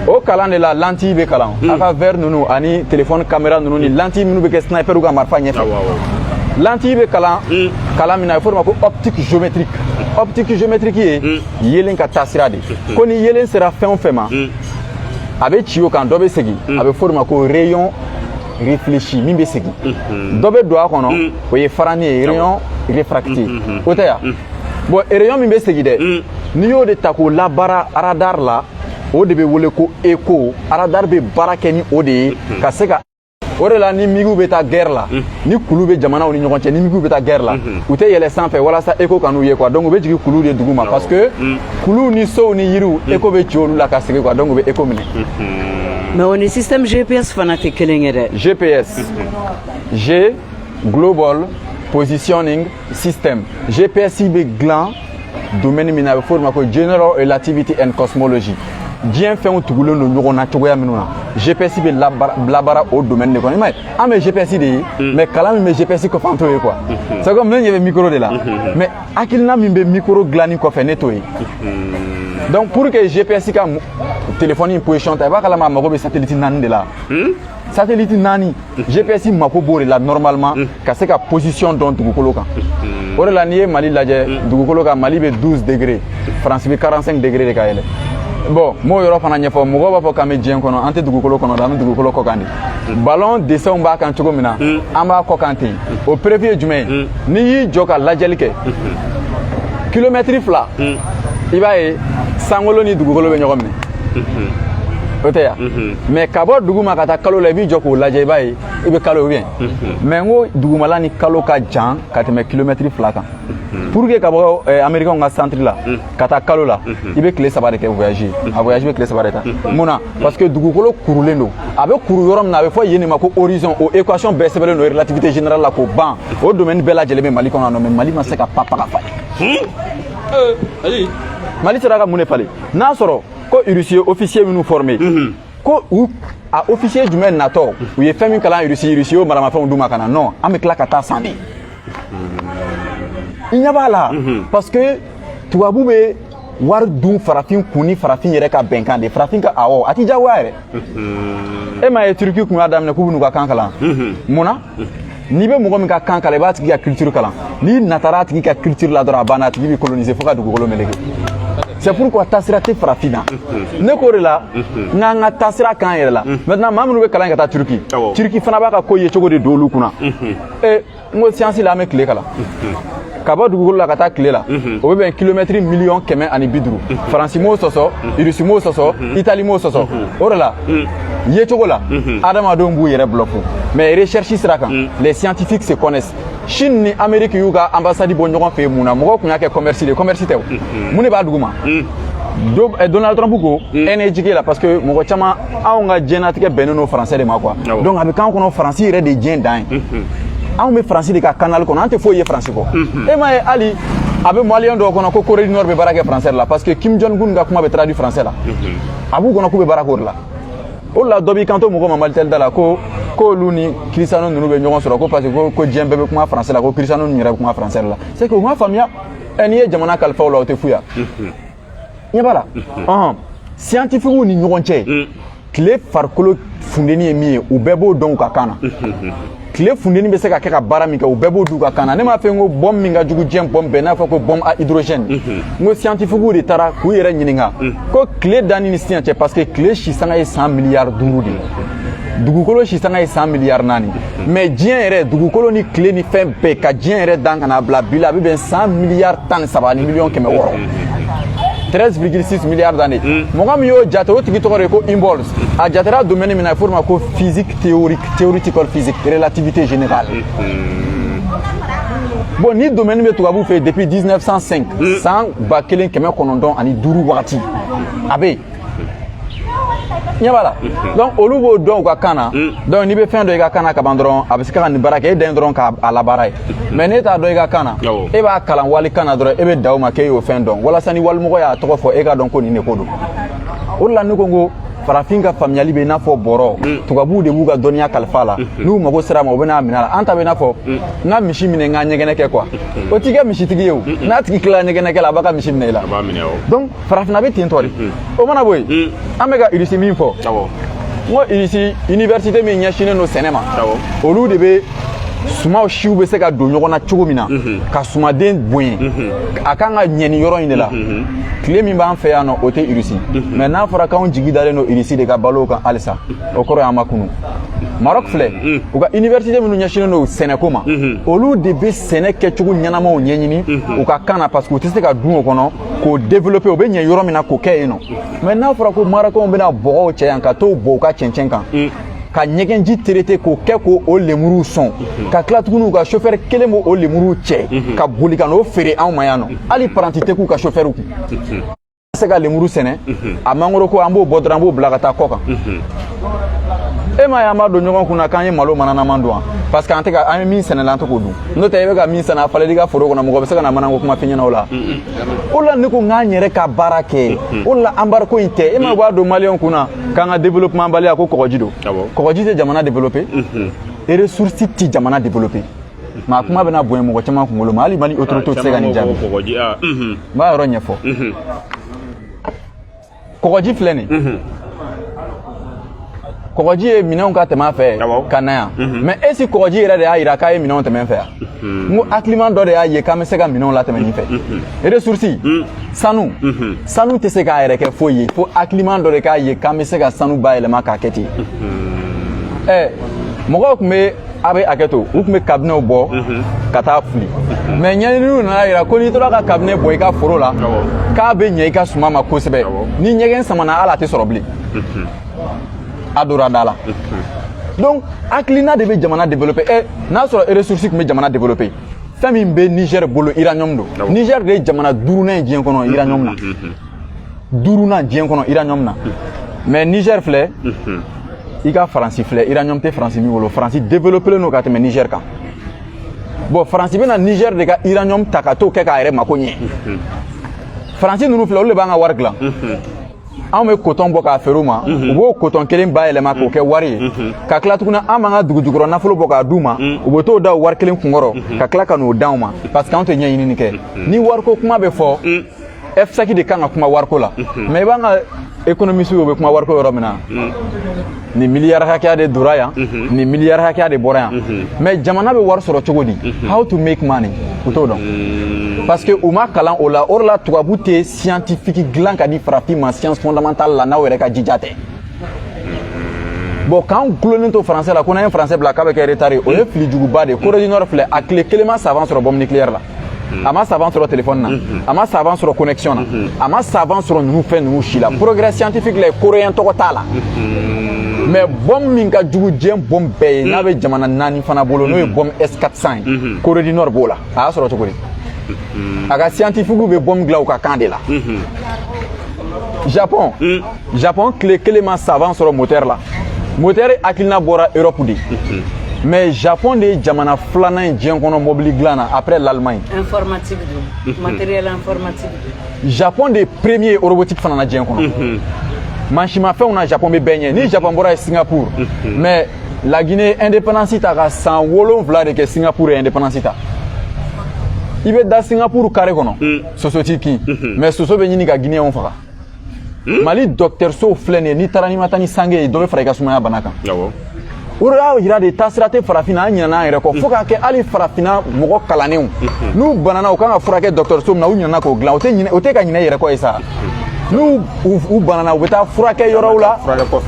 o kalan de la lentille bɛ kalan hmm. a ka verre ninnu ani téléphone caméra ninnu ni lentille minnu bɛ kɛ sniperw ka marifa ɲɛfɛ lentille bɛ kalan hmm. kalan min na a bɛ fɔ o de ma ko optique géométrique optique géométrique ye hmm. yeelen ka taasira de ko ni yeelen sera fɛn o fɛn ma a bɛ ci o kan dɔ bɛ segin a bɛ fɔ o de ma ko rayon réfléchi min bɛ segin dɔ bɛ don a kɔnɔ o ye farani ye rayon réfracté o tɛ yan bon rayon min bɛ segin dɛ mm. n'i y'o de ta k'o labaara aradar la o de bɛ wele ko écho aradar bɛ baara kɛ ni o de ye mm-hmm. ka se ka o de la ni migiw bɛ taa gɛrɛ la mm-hmm. ni kulu bɛ jamanaw ni ɲɔgɔn cɛ ni migiw bɛ taa gɛrɛ la mm-hmm. u tɛ yɛlɛ sanfɛ walasa écho kan'u ye quoi donc u bɛ jigin kulu de duguma parce que mm. kuluw ni sow ni yiriw mm. écho bɛ ci olu la ka segin quoi donc u bɛ écho minɛ mais o ni système gps fana tɛ kelen ye dɛ gps g global positioning system gps bɛ dilan domaine min na a bɛ fɔ o de ma ko general relativity and cosmology diɲɛ fɛnw tugulen don ɲɔgɔn na cogoya minnu na gps bɛ labaara o domaine de kɔnɔ i m'a ye an bɛ gps de ye mm. mais kalan min bɛ gps kɔfɛ an t'o ye quoi mm-hmm. c'est comme ne ɲɛ bɛ micro de la mm-hmm. mais hakilina min bɛ micro dilanni kɔfɛ ne t'o ye mm-hmm. donc pour que gps ka téléphone in position ta i b'a kalama a mago bɛ satellite naani de la hmm? satellite naani gps mako b'o de la normalement mm. ka se ka position dɔn dugukolo kan mm. o de la n'i ye mali lajɛ mm. dugukolo kan mali bɛ 12 degré faransi bɛ 45 degré de ka yɛlɛ bon m'o yɔrɔ fana ɲɛfɔ mɔgɔw b'a fɔ k'an bɛ diɲɛ kɔnɔ an tɛ dugukolo kɔnɔ dɛ an bɛ dugukolo kɔ kan de ballon dessinw b'a kan cogo min na an b'a kɔ kan ten o preuve ye jumɛn ye n'i y'i jɔ ka lajɛli kɛ kilomɛtiri fila i b'a ye sankolo ni dugukolo bɛ ɲɔgɔn minɛ o tɛ yan mais ka bɔ duguma ka taa kalo la i b'i jɔ k'o lajɛ i b'a ye i bɛ kalo ye mais n ko dugumala ni kalo ka jan ka tɛmɛ kilomɛtiri fila kan pour que ka bɔ eh, américainw ka centre la ka taa kalo la i bɛ tile saba de kɛ voyage a voyage bɛ tile saba de ta mun na parce que dugukolo kurulen don a bɛ kuru yɔrɔ min na a bɛ fɔ yen de ma ko horizon o équation bɛɛ sɛbɛnlen don relativité générale la k'o ban o domaine bɛɛ lajɛlen bɛ mali kɔnɔ yan nɔ mais mali ma se ka papa ka falen mali sera ka mun de falen n'a sɔrɔ ko irisi ye ofisiye minnu formé ko u a ofisiye jumɛn natɔ u ye fɛn min kalan irisi irisi y'o maramafɛnw d'u ma ka na non an bɛ tila ka taa san de i ɲɛ b'a la parce que tubabu bɛ wari dun farafin kun ni farafin yɛrɛ ka bɛnkan de farafin ka awɔ a ti jagoya yɛrɛ e m'a ye turki kun y'a daminɛ k'u bɛn'u ka kan kalan mun na n'i bɛ mɔgɔ min ka kan kalan i b'a tigi ka culture kalan n'i natara a tigi ka culture la dɔrɔn a banna a tigi b'i coloniser fo ka dugukolo meleke c'est pourquoi taasira tɛ farafin na ne k'o de la n k'an ka taasira k'an yɛrɛ la maintenant maa minnu bɛ kalan ka taa turki turki fana b'a ka ko yecogo de don olu kun na n ko siyansi la an bɛ tile kalan ka bɔ dugukolo la ka taa tile la o bɛ bɛn kilomɛtiri miliyɔn kɛmɛ ani bi duuru faransi m'o sɔsɔ irisi m'o sɔsɔ itali m'o sɔsɔ o de la yecogo la adamadenw b'u yɛrɛ bloquer mais recherche sira kan les scientifiques se connaissent chine ni amérique y'u ka ambassade bɔ ɲɔgɔn fɛ mun na mɔgɔw kun y'a kɛ commerce de commerce tɛ o mun de b'a duguma donald trump ko energy la parce que mɔgɔ caman anw ka diɲɛnatigɛ bɛnnen don faransɛ de ma quoi donc a bɛ k'an kɔnɔ faransi yɛrɛ de diɲɛ dan ye anw bɛ faransi de ka kanali kɔnɔ an tɛ foyi ye faransi kɔ e m'a ye hali a bɛ maliyɛn dɔw kɔnɔ ko corée du nord bɛ baara kɛ faransɛ de la parce que kim jong un ka kuma bɛ traduit faransɛ la a b'u kɔnɔ k'u bɛ baara k'o de la o de la dɔ b'i kanto mɔgɔ ma malitɛli da la ko k'olu ni cristiano ninnu bɛ ɲɔgɔn sɔrɔ ko parce que ko diɲɛ bɛɛ bɛ kuma faransɛ la ko cristiano ninnu yɛrɛ bɛ kuma faransɛ de la c'est que u m'a faamuya n'i ye jamana kalifa o la o tɛ fu ya ɲɛ b'a la ɔhɔn siyantifikiw ni ɲɔgɔn cɛ tile farikolo funteni ye min ye u bɛɛ b'o dɔn u ka kan na tile funteni bɛ se ka kɛ ka baara min kɛ u bɛɛ b'o d'u ka kan na ne m'a fɔ n ko bombe min ka jugu diɲɛ bombe bɛɛ n'a fɔ ko bombe à hydrogène n ko siyantifikiw de taara k'u yɛrɛ ɲininka ko tile danni ni sisan cɛ parce que tile si sanga ye san miliyari duuru de ye dugukolo si sanga ye san miliyari naani mais diɲɛ yɛrɛ dugukolo ni tile ni fɛn bɛɛ ka diɲɛ yɛrɛ dan ka n'a bila bi la a bɛ bɛn san miliyari tan ni saba ni miliyɔn kɛmɛ wɔɔrɔ 13,6 milliards d'années hmm. mɔgɔ min y'o jate o tigi tɔgɔ de ko hubble a jatera domaine min na a f'o ma ko physique théorique theoretical physique relativité générale hmm. bon nin domaine bɛ tubabu fɛ depuis 1905 hmm. san ba kelen kɛmɛ kɔnɔntɔn ani duuru wagati a bɛ yen ɲɛ b'a la donc olu b'o dɔn u ka kan na donc n'i bɛ fɛn dɔn i ka kan na kaban dɔrɔn a bɛ se ka nin baara kɛ e dan ye dɔrɔn k'a labaara ye mais n'e t'a dɔn i ka kan na e b'a kalan wali kan na dɔrɔn e bɛ da o ma k'e y'o fɛn dɔn walasa ni walimɔgɔ y'a tɔgɔ fɔ e k'a dɔn ko nin de ko don o de la ne ko n ko farafin ka faamuyali bɛ i n'a fɔ bɔrɔ mm. tubabuw de b'u ka dɔnniya kalifa a la mm-hmm. n'u mago ser'a ma u bɛn'a minɛ a la an ta bɛ i n'a fɔ mm. n ka misi minɛ n ka ɲɛgɛnɛ kɛ quoi mm-hmm. o t'i kɛ misitigi ye o n'a tigi tilala ɲɛgɛnɛ kɛ la a b'a ka misi minɛ i la donc farafinna bɛ ten tɔ de o mana bɔ yen an bɛ ka irisi min fɔ n ko irisi iniversite min ɲɛsinnen don sɛnɛ ma olu de bɛ suman siw bɛ se ka don ɲɔgɔn na cogo min na ka sumanden bonya a kan ka ɲɛ nin yɔrɔ in de la tile min b'an fɛ yan nɔ o tɛ irisi mais n'a fɔra k'anw jigi dalen don irisi de ka balo kan halisa o kɔrɔ y'an ma kunun maroc filɛ u ka iniversite minnu ɲɛsinnen don sɛnɛko ma olu de bɛ sɛnɛ kɛcogo ɲɛnamaw ɲɛɲini u ka kan na parce que u tɛ se ka don o kɔnɔ k'o développer o bɛ ɲɛ yɔrɔ min na k'o kɛ yen nɔ mais n'a fɔra ko marɔkɛnw bɛna bɔgɔw cɛ yan ka t'o bɔ u ka cɛncɛn kan ka ɲɛgɛnji traiter k'o kɛ k'o lemuruw sɔn ka tila tuguni u ka chauffeur kelen b'o o lemuruw cɛ ka boli ka n'o feere anw ma yan nɔ hali paranti tɛ k'u ka chauffeur kun se ka lemuru sɛnɛ a mangoro ko an b'o bɔ dɔrɔn an b'o bila ka taa kɔ kan e m'a ye an b'a don ɲɔgɔn kun na k'an ye malo mananaman dun wa parce que an ye min sɛnɛ la an tɛ k'o dun n'o tɛ i bɛ ka min sɛnɛ a falen d'i ka foro kɔnɔ mɔgɔ bɛ se ka na manako kuma f'i ɲɛna o la o la ne ko n k'an yɛrɛ ka baara kɛ o la embargo in tɛ e ma b'a don maliyɛnw kun na k'an ka développement baliya ko kɔgɔji don kɔgɔji tɛ jamana développer et ressource tɛ jamana développer mais a kuma bɛna bonya mɔgɔ caman kunkolo ma hali mali autorité tɛ se ka nin jaabi n b'a yɔrɔ ɲɛfɔ kɔgɔji filɛ nin mhm. kɔgɔji ye minɛnw ka tɛmɛ a fɛ ka na yan mhm. mais est-ce que kɔgɔji yɛrɛ de y'a yira k'a ye minɛnw tɛmɛ n fɛ yan mhm. n ko hakiliman dɔ de y'a ye k'an bɛ se ka minɛnw latɛmɛ nin fɛ ressources sanu sanu tɛ se k'a yɛrɛ kɛ foyi ye fo hakiliman dɔ de k'a ye k'an bɛ se ka sanu bayɛlɛma k'a kɛ ten ɛɛ mɔgɔw tun bɛ a bɛ hakɛ to u tun bɛ kabinɛw bɔ ka taa fili mais ɲɛɲininiw nan'a yira ko n'i tora ka kabinɛ bɔ i ka foro la k'a bɛ ɲɛ i ka suman ma kosɛbɛ ni ɲɛgɛn samana hali a tɛ sɔrɔ bilen a dora da la donc hakilina de bɛ jamana développer ɛ eh, n'a sɔrɔ ressource tun bɛ jamana développer fɛn min bɛ niger bolo uranium don niger de ye jamana duurunan ye diɲɛ kɔnɔ uranium na duurunan diɲɛ kɔnɔ uranium na mais niger filɛ i ka faransi filɛ uranium tɛ faransi min bolo faransi développelen don ka tɛmɛ niger kan bon faransi bɛna niger de ka uranium ta ka t'o kɛ k'a yɛrɛ mako ɲɛ faransi ninnu filɛ olu de b'an ka wari dilan anw bɛ coton bɔ k'a feere u ma u b'o coton kelen bayɛlɛma k'o kɛ wari ye ka tila tuguni an b'an ka dugujukɔrɔ nafolo bɔ k'a d'u ma u bɛ t'o da o wari kelen kunkɔrɔ ka tila ka n'o d'anw ma parce que anw tɛ ɲɛɲinini kɛ ni wariko kuma bɛ fɔ FSEG de kan ka kuma wariko la mais i b'an ka économistes u bɛ kuma wariko yɔrɔ min na nin miliyari hakɛya de dora yan nin miliyari hakɛya de bɔra yan mais jamana bɛ wari sɔrɔ cogo di how to make money u t'o dɔn parce que u ma kalan o la o de la tubabu tɛ scientifique dilan ka di farafin ma science fondamentale la n'aw yɛrɛ ka jija tɛ bon k'an gulonnen to français la ko n'an ye français bila k'a bɛ kɛ retard o ye fili juguba de ye corée du nord filɛ a tile kelen ma savant sɔrɔ bombe nucléaire la Mm. a ma savant sɔrɔ téléphone na mm-hmm. a ma savant sɔrɔ connexion na mm-hmm. a ma savant sɔrɔ ninnu fɛn ninnu si la mm-hmm. progrès scientifique la coréen tɔgɔ t'a la mais bombe min ka jugu diɲɛ bombe bɛɛ ye n'a bɛ jamana naani fana bolo n'o ye bombe s 400 ye corée du nord b'o la a y'a sɔrɔ cogo di a ka scientifiquew bɛ bombe dilan u ka kan de la japon mm. japon tile kelen ma savant sɔrɔ moteur la moteur hakilina bɔra europe de mhm. mais japon de ye jamana filanan ye diɲɛ kɔnɔ mɔbili dilan na après l'allemagne informatique don mhm. matériel informatique japon de ye premier robotique fana na diɲɛ kɔnɔ mhm. mansimafɛnw na japon bɛ bɛɛ ɲɛ ni japon bɔra yen singapour mais la guinée ye indépendance ta ka san wolonwula de kɛ singapour ye indépendance ta i bɛ da singapour carré kɔnɔ soso t'i kin mais soso bɛ ɲini ka guinéenw faga Hmm? mali dɔgɔtɔrɔsow filɛ nin ye n'i taara n'i ma taa ni sange ye dɔ bɛ fara i ka sumaya bana kan o de y'a jira de taasira tɛ farafinna an ɲinana an yɛrɛ kɔ fo k'a kɛ hali farafinna mɔgɔ kalannenw hmm. n'u banana u kan ka furakɛ dɔgɔtɔrɔso min na u ɲinana k'o dilan o tɛ ka ɲinɛ yɛrɛ kɔ ye sa hmm. n'u banana u bɛ taa furakɛ yɔrɔw la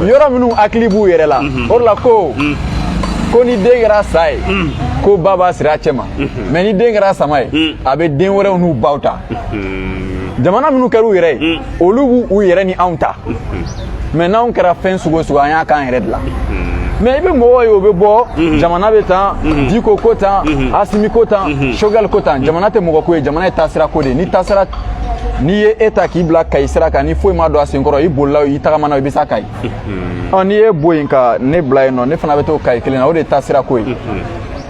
yɔrɔ minnu hakili b'u yɛrɛ la o de la ko ko ni den kɛra sa ye ko ba b'a siri a cɛ ma mais ni den kɛra sama ye a bɛ den wɛrɛw n'u baw ta jamana minnu kɛra u yɛrɛ ye olu b'u yɛrɛ ni anw ta mais n'anw kɛra fɛn sugu o sugu an y'a k'an yɛrɛ de la mais i bɛ mɔgɔ ye o bɛ bɔ jamana bɛ tan diko ko tan asimi ko tan sogɛli ko tan jamana tɛ mɔgɔ ko ye jamana ye taasira ko de ye ni taasira n'i ye e ta k'i bila kayi sira kan ni foyi ma don a senkɔrɔ i bolila i tagamana i bɛ se kayi ɔ n'i y'e bɔ yen ka ne bila e nɔ ne fana bɛ t'o kayi kelen na o de ye taasira ko ye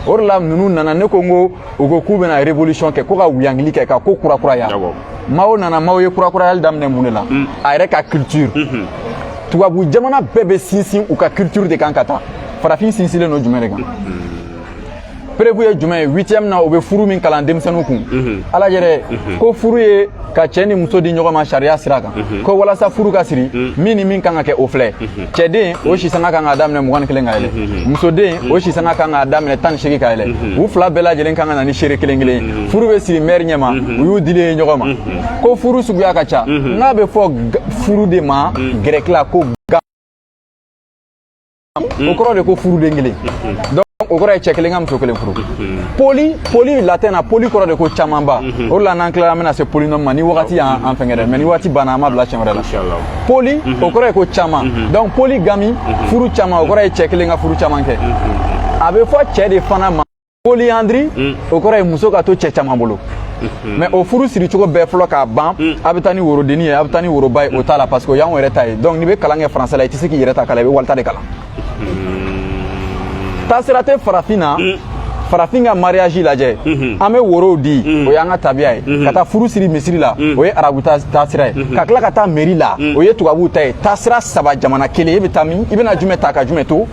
o de la ninnu nana ne ko n ko u ko k'u bɛna révolution kɛ ko ka wuyangili kɛ ka ko kurakuraya mao nana mao ye kurakurayali daminɛ mun de la mm. a yɛrɛ ka culture mm-hmm. tubabu jamana bɛɛ bɛ sinsin u ka culture de kan ka taa farafin sinsinlen don jumɛn de kan mm-hmm. preuve ye jumɛn ye huitième na u bɛ furu min kalan denmisɛnninw kun mm-hmm. a lajɛ dɛ ko furu ye ka cɛ ni muso di ɲɔgɔn ma sariya sira kan mhm. ko walasa furu ka siri mhm. min ni min kan ka kɛ o filɛ mhm. cɛden o si san ka kan k'a daminɛ mugan ni kelen ka yɛlɛ musoden o si san ka kan k'a daminɛ tan ni segin ka yɛlɛ u fila bɛɛ lajɛlen kan ka na ni seere kelen kelen ye furu bɛ siri mɛri ɲɛma u y'u dilen ye ɲɔgɔn ma ko furu suguya ka ca nk'a bɛ fɔ furu de ma gɛrɛki la ko Mm. o kɔrɔ de ko furuden kelen mm-hmm. donc o kɔrɔ ye cɛ kelen ka muso kelen furu mm-hmm. poli poli latin na poli kɔrɔ de ko camanba mm-hmm. o de la n'an tilala an bɛna se polynôme ma ni wagati y'an fɛngɛ dɛ mais ni wagati banna an b'a bila siɲɛ wɛrɛ la poli o kɔrɔ ye ko caman donc polygamie furu caman o kɔrɔ ye cɛ kelen ka furu caman kɛ a bɛ fɔ cɛ de fana ma polyandrie mm. o kɔrɔ ye muso ka to cɛ caman bolo mm-hmm. mais o furu siri cogo bɛɛ fɔra ka ban mm. a bɛ taa ni worodenni ye a bɛ taa ni woroba ye o t'a la parce que o y'anw yɛrɛ ta ye donc n'i bɛ kalan kɛ français la i tɛ se k'i yɛrɛ ta kalan i bɛ wali ta de kalan mm-hmm. taasira tɛ farafin na mm. farafin ka mariage lajɛ mm-hmm. an bɛ worow di o y'an ka tabiya ye ka taa furu siri misiri la o ye arabu taasira ye ka tila ka taa meri la o ye tubabuw ta ye taasira saba jamana kelen e bɛ taa min i bɛna jumɛn ta ka jumɛn to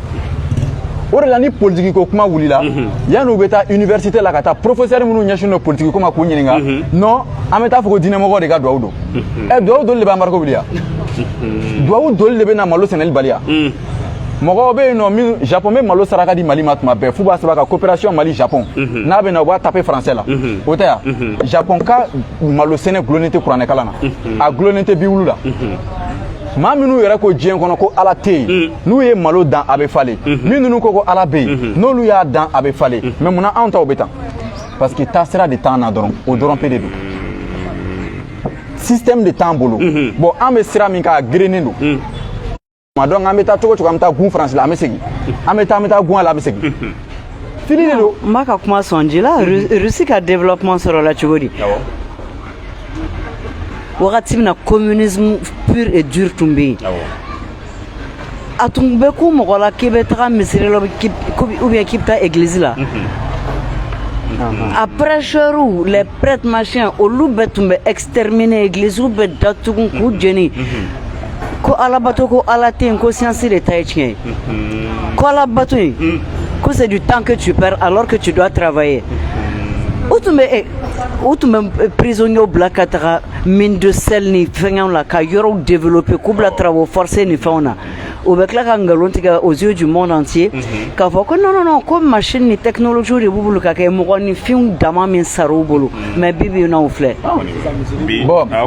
o de la ni politiki ko kuma wulila yanni u bɛ taa université la ka taa professeur minnu ɲɛsinnen don politiki ko ma k'u ɲininka non an bɛ taa fɔ ko diinɛmɔgɔ de ka duwawu don ɛ duwawu doli de bɛ embargo wuli yan duwawu doli de bɛ na malo sɛnɛli baliya mɔgɔw bɛ yen nɔ min japon bɛ malo saraka di mali ma tuma bɛɛ f'u b'a sɛbɛn ko coopération mali japon n'a bɛ na u b'a tape français la o tɛ yan japon ka malo sɛnɛ gulonnen tɛ kuranɛ kalan na a gulonnen tɛ bibulu la maa minnu yɛrɛ ko diɲɛ kɔnɔ ko ala tɛ yen mm. n'u ye malo dan a bɛ falen mm-hmm. min ninnu ko ko ala bɛ yen mm-hmm. n'olu y'a dan a bɛ falen mm-hmm. mais munna anw taw bɛ tan parce que taasira de t'an na dɔrɔn o dɔrɔn pe de don système de t'an bolo bon an bɛ sira min kan a gerennen don mm. donc an bɛ taa cogo o cogo an bɛ taa gun faransi la an bɛ segin an bɛ taa an bɛ taa gun a la an bɛ segin fili de don n b'a ka kuma sɔn ji la russie ka développement sɔrɔla cogo di wagati min na communisme pur et dur tun bɛ yen a tun bɛ ko mɔgɔ la k'i bɛ taga misiri la ou bien k'i bɛ taa église la a prêcheurs les prêtres machin olu bɛɛ tun bɛ exterminer église bɛɛ datugu k'u jeni ko alabato ko ala tɛ yen ko science de ta ye tiɲɛ ye ko alabato in ko c'est du temps que tu perds alors que tu dois travailler u tun bɛ eh, u tun bɛ prisonniers bila ka taga mine de sel ni fɛngɛw la ka yɔrɔw développer k'u bila travaux forcés ni fɛnw na u bɛ tila ka nkalon tigɛ aux yeux du monde entier k'a fɔ ko non non non ko machine ni technologie de b'u bolo ka kɛ mɔgɔninfinw dama min sar'u bolo mais bi bi n'aw filɛ bon a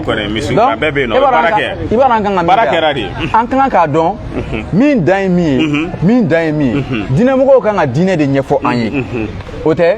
bɛɛ bɛ yen nɔ baara kɛ i b'a an kan ka baara kɛra de an kan k'a dɔn min dan ye min ye mhm. min dan ye min ye mhm. diinɛmɔgɔw kan ka diinɛ de ɲɛfɔ an ye mhm. o tɛ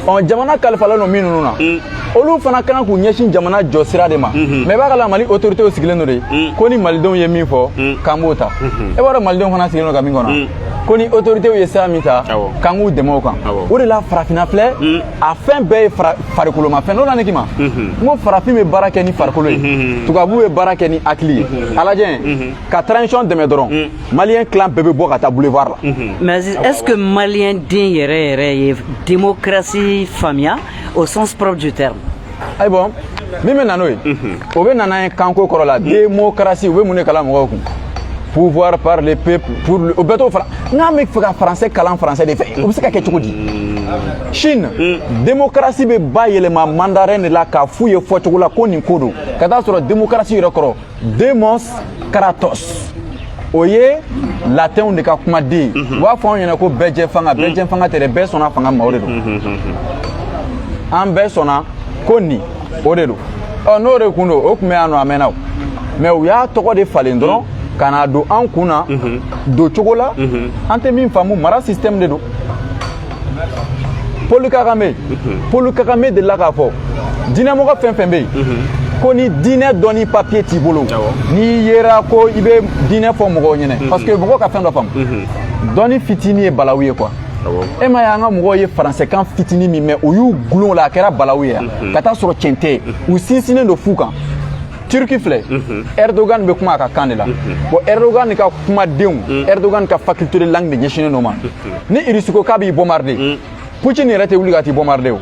ɔ jamana kalifalen don minnu na mm. olu fana ka kan k'u ɲɛsin jamana jɔ sira de ma mais b'a ka la mali autoritéw sigilen don de mm. ko ni malidenw ye min fɔ mm. k'an b'o ta e b'a dɔn malidenw fana sigilen don ka min kɔnɔ ko ni autoritéw ye sira min ta k'an k'u dɛmɛ o kan o de la farafinna filɛ a fɛn bɛɛ ye farikolomafɛn n'o la ne k'i ma n ko farafin bɛ baara kɛ ni farikolo ye tubabu bɛ baara kɛ ni hakili ye a lajɛ ka transition dɛmɛ dɔrɔn maliyɛn tilan bɛɛ bɛ bɔ ka taa boulevard la mais est-ce que maliyɛn den yɛrɛ yɛrɛ ye démocratie faamuya au sens propre du terme ayi bon min bɛ na n'o ye o bɛ na n'a ye kanko kɔrɔ la démocratie u bɛ mun de kalan mɔgɔw kun pouvoir par le peuple pour le o bɛɛ t'o fara n'an bɛ fɛ ka français kalan français de fɛ o bɛ se ka kɛ cogo di chine démocratie bɛ bayɛlɛma mandarin de la k'a f'u ye fɔcogo la ko nin ko don ka taa sɔrɔ démocratie yɛrɛ kɔrɔ demos kratos o ye latɛnw de ka kumaden ye u b'a fɔ anw ɲɛna ko bɛɛjɛfanga bɛɛjɛfanga tɛ dɛ bɛɛ sɔnna fanga ma o de don an bɛɛ sɔnna ko nin o de don ɔ n'o de kun don o tun bɛ yan nɔ a mɛnna o mais u y'a tɔgɔ de falen dɔrɔn ka na don an kun na doncogo la an tɛ min faamu mara système de don paul kagame paul kagame delila k'a fɔ diinɛmɔgɔ fɛn fɛn bɛ yen ko ni diinɛ dɔnni papiye t'i bolo n'i yera ko i bɛ diinɛ fɔ mɔgɔw ɲɛna parce que mɔgɔw ka fɛn dɔ faamu dɔnni fitini ye balawu ye quoi e m'a ye an ka mɔgɔw ye faransɛkan fitini min mɛn o y'u gulon la a kɛra balawu ye yan ka taa sɔrɔ tiɲɛ tɛ u sinsinnen don fu kan turki filɛ mhm. erdogan bɛ kuma a ka kan de la mhm. bon erdogan ka kumadenw mhm. erdogan ka faculté de langue de ɲɛsinnen don ma ni irisi ko k'a b'i bombarder putin yɛrɛ tɛ wuli ka t'i bombarder o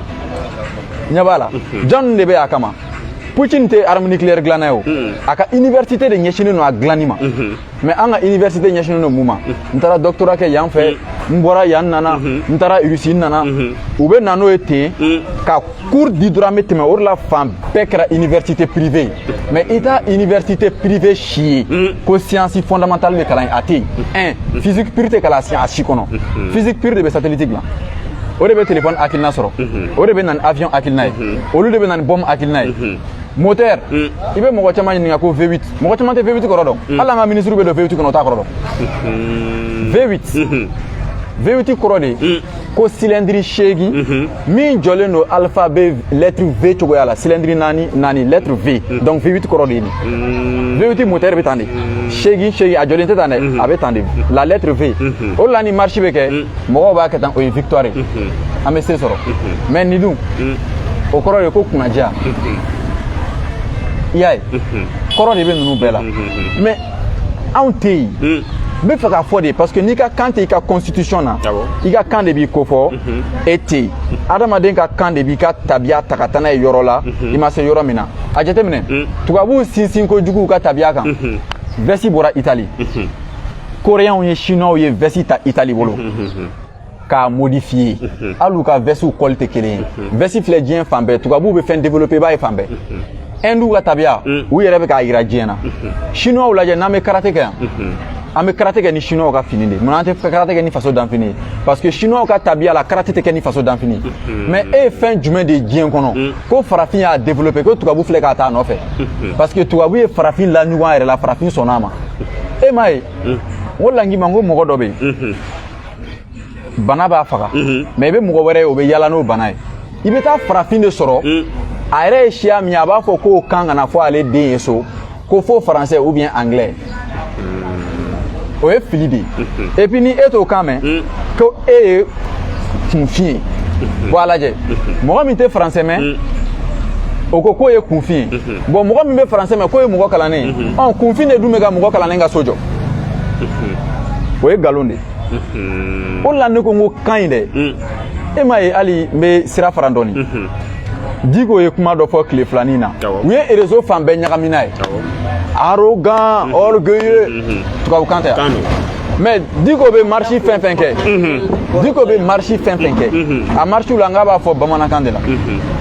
ɲɛ b'a la jɔn de bɛ a kama putin tɛ arme nucléaire dilanna ye o a ka université de ɲɛsinnen don a dilanni ma mais an ka université ɲɛsinnen don mun ma n taara doctorat kɛ yan fɛ n bɔra yan nana n taara rusi n nana u bɛ na n'o ye ten ka cours di dɔrɔn an bɛ tɛmɛ o de la fan bɛɛ kɛra université privée ye mais i t'a université privée si ye ko science fondamentale bɛ kalan yen a tɛ yen physique pure tɛ kalan a si kɔnɔ physique pure de bɛ satellite dilan o de bɛ téléphone hakilina sɔrɔ o de bɛ na ni avion hakilina ye olu de bɛ na ni bombe hakilina ye moteur mm. i bɛ mɔgɔ caman ɲininka ko V8 mɔgɔ caman tɛ V8 kɔrɔ dɔn mm. hali an ka ministre bɛ don V8 kɔnɔ o t'a kɔrɔ dɔn mm-hmm. V8 mm-hmm. V8 kɔrɔ de mm. ko cylindre seegin mm-hmm. min jɔlen don alphabet lettre V cogoya la cylindre naani naani lettre V donc V8 kɔrɔ de ye nin V8 moteur bɛ tan de seegin seegin a jɔlen tɛ tan dɛ a bɛ tan de la lettre V o la ni marche bɛ kɛ mɔgɔw b'a kɛ tan o ye victoire ye an bɛ se sɔrɔ mais nin dun o kɔrɔ de ko kunnaja i y'a ye kɔrɔ de bɛ ninnu bɛɛ la mais anw tɛ yen n bɛ fɛ k'a fɔ de parce que n'i ka kan tɛ i ka constitution na i ka kan de b'i ko fɔ e tɛ yen adamaden ka kan de b'i ka tabiya ta ka taa n'a ye yɔrɔ la i ma se yɔrɔ min na a jateminɛ tubabuw sinsin kojugu u ka tabiya kan vɛsi bɔra itali koreyanw ye chinois ye vɛsi ta itali bolo k'a modifiye hali u ka vɛsiw kɔli tɛ kelen ye vɛsi filɛ diɲɛ fan bɛɛ tubabuw bɛ fɛn développé i b'a ye fan bɛɛ hindu ka tabiya u yɛrɛ bɛ k'a yira diɲɛ na chinois lajɛ n'an bɛ karate kɛ yan an bɛ karate kɛ ni chinois ka fini de munna an tɛ karate kɛ ni faso danfini ye parce que chinois ka tabiya la karate tɛ kɛ ni faso danfini ye mais e ye fɛn jumɛn de ye diɲɛ kɔnɔ ko farafin y'a développé ko tubabu filɛ ka t'a nɔfɛ parce que tubabu ye farafin laɲugun a yɛrɛ la farafin sɔnna a ma e m'a ye o la n k'i ma n ko mɔgɔ dɔ bɛ yen bana b'a faga mais i bɛ mɔgɔ wɛrɛ ye o bɛ yala n'o bana ye i bɛ taa farafin de sɔrɔ a yɛrɛ ye siya min ye a b'a fɔ k'o kan kana fɔ ale den ye so ko fo français ou bien anglais o ye fili de ye et puis ni e t'o kan mɛn hmm. ko e ye kunfin ye bon a lajɛ mɔgɔ min tɛ français mɛn hmm. o ko k'o ye kunfin ye hmm. bon mɔgɔ min bɛ français mɛn k'o ye mɔgɔ kalannen ye ɔn kunfin de dun bɛ ka mɔgɔ kalannen ka so jɔ o ye nkalon de ye o la ne ko n ko kan in dɛ e m'a ye hali n bɛ sira fara dɔɔnin diko ye kuma dɔ fɔ tile fila nin na u ye réseau fan bɛɛ ɲagami n'a ye arrogant orgueilleux tubabukan tɛ yan mais diko bɛ marisi fɛn fɛn kɛ diko bɛ marisi fɛn fɛn kɛ a marisiw la n k'a b'a fɔ bamanankan de la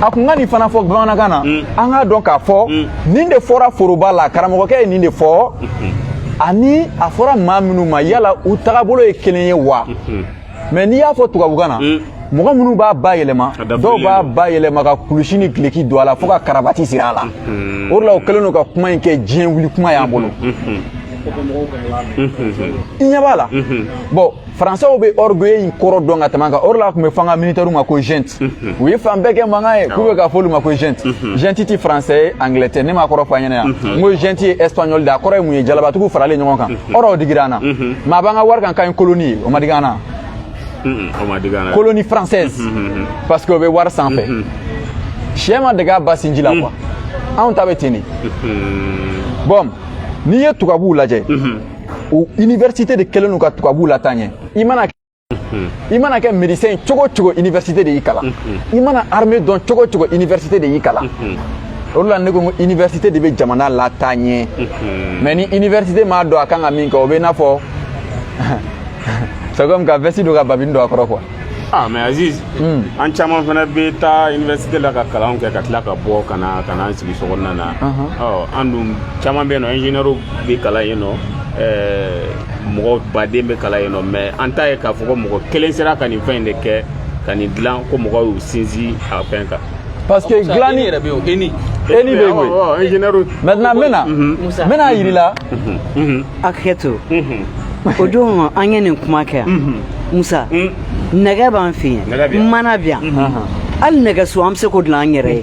a kun ka nin fana fɔ bamanankan na an k'a dɔn k'a fɔ nin de fɔra foroba la karamɔgɔkɛ ye nin de fɔ ani a fɔra maa minnu ma yala u tagabolo ye kelen ye wa mais n'i y'a fɔ tubabukan na mm. mɔgɔ minnu b'a bayɛlɛma dɔw b'a bayɛlɛma ka kulusi ni gileki don a la fo ka karabati siri a la mm-hmm. o de la o kɛlen don ka kuma in kɛ diɲɛ wuli kuma y'an bolo mm-hmm. Mm-hmm. i ɲɛ b'a la bon faransɛw bɛ orgueil in kɔrɔ dɔn ka tɛmɛ an kan o de la a tun bɛ fɔ an ka militaire ma ko junte u ye fan bɛɛ kɛ mankan ye k'u bɛ ka fɔ olu ma ko junte junte ti faransɛ ye anglais tɛ ne m'a kɔrɔ fɔ a ɲɛna yan n ko junte ye espagnol de a kɔrɔ ye mun ye jalabatigiw faralen ɲɔgɔn kan o rɔ o digira an na mais a b'an ka wari kan k'an ye colonie ye o ma digi an na colonie française parce que o bɛ wari sanfɛ syɛ ma dege a ba sinji la quoi anw ta bɛ ten de bon n'i ye tubabuw lajɛ o université de kɛlen don ka tubabuw lataa ɲɛ i mana i mana kɛ médecin cogo cogo université de y'i kalan i mana armée dɔn cogo cogo université de y'i kalan o de la ne ko n ko université de bɛ jamana lataa ɲɛ mais ni université m'a dɔn a kan ka min kɛ o bɛ i n'a fɔ c'est comme ka veste don ka babini don a kɔrɔ quoi ah mais Aziz hmm. an caman fana bɛ taa université la ka kalanw kɛ ka tila ka bɔ ka na an sigi sokɔnɔna na an dun caman bɛ yen nɔ ingénieur bɛ kalan yen nɔ mɔgɔ baden bɛ kalan yen nɔ mais an t'a ye k'a fɔ ko mɔgɔ kelen sera ka nin fɛn in de kɛ ka nin dilan ko mɔgɔw y'u sinsin a fɛn kan parce que dilanni yɛrɛ bɛ yen ENI ENI bɛ yen koyi ingénieur maintenant n bɛna n bɛn'a yira i la hakɛto o don an ye nin kuma kɛ yan Musa nɛgɛ b'an fɛ yen mana bɛ yan hali nɛgɛso an bɛ se k'o dilan an yɛrɛ ye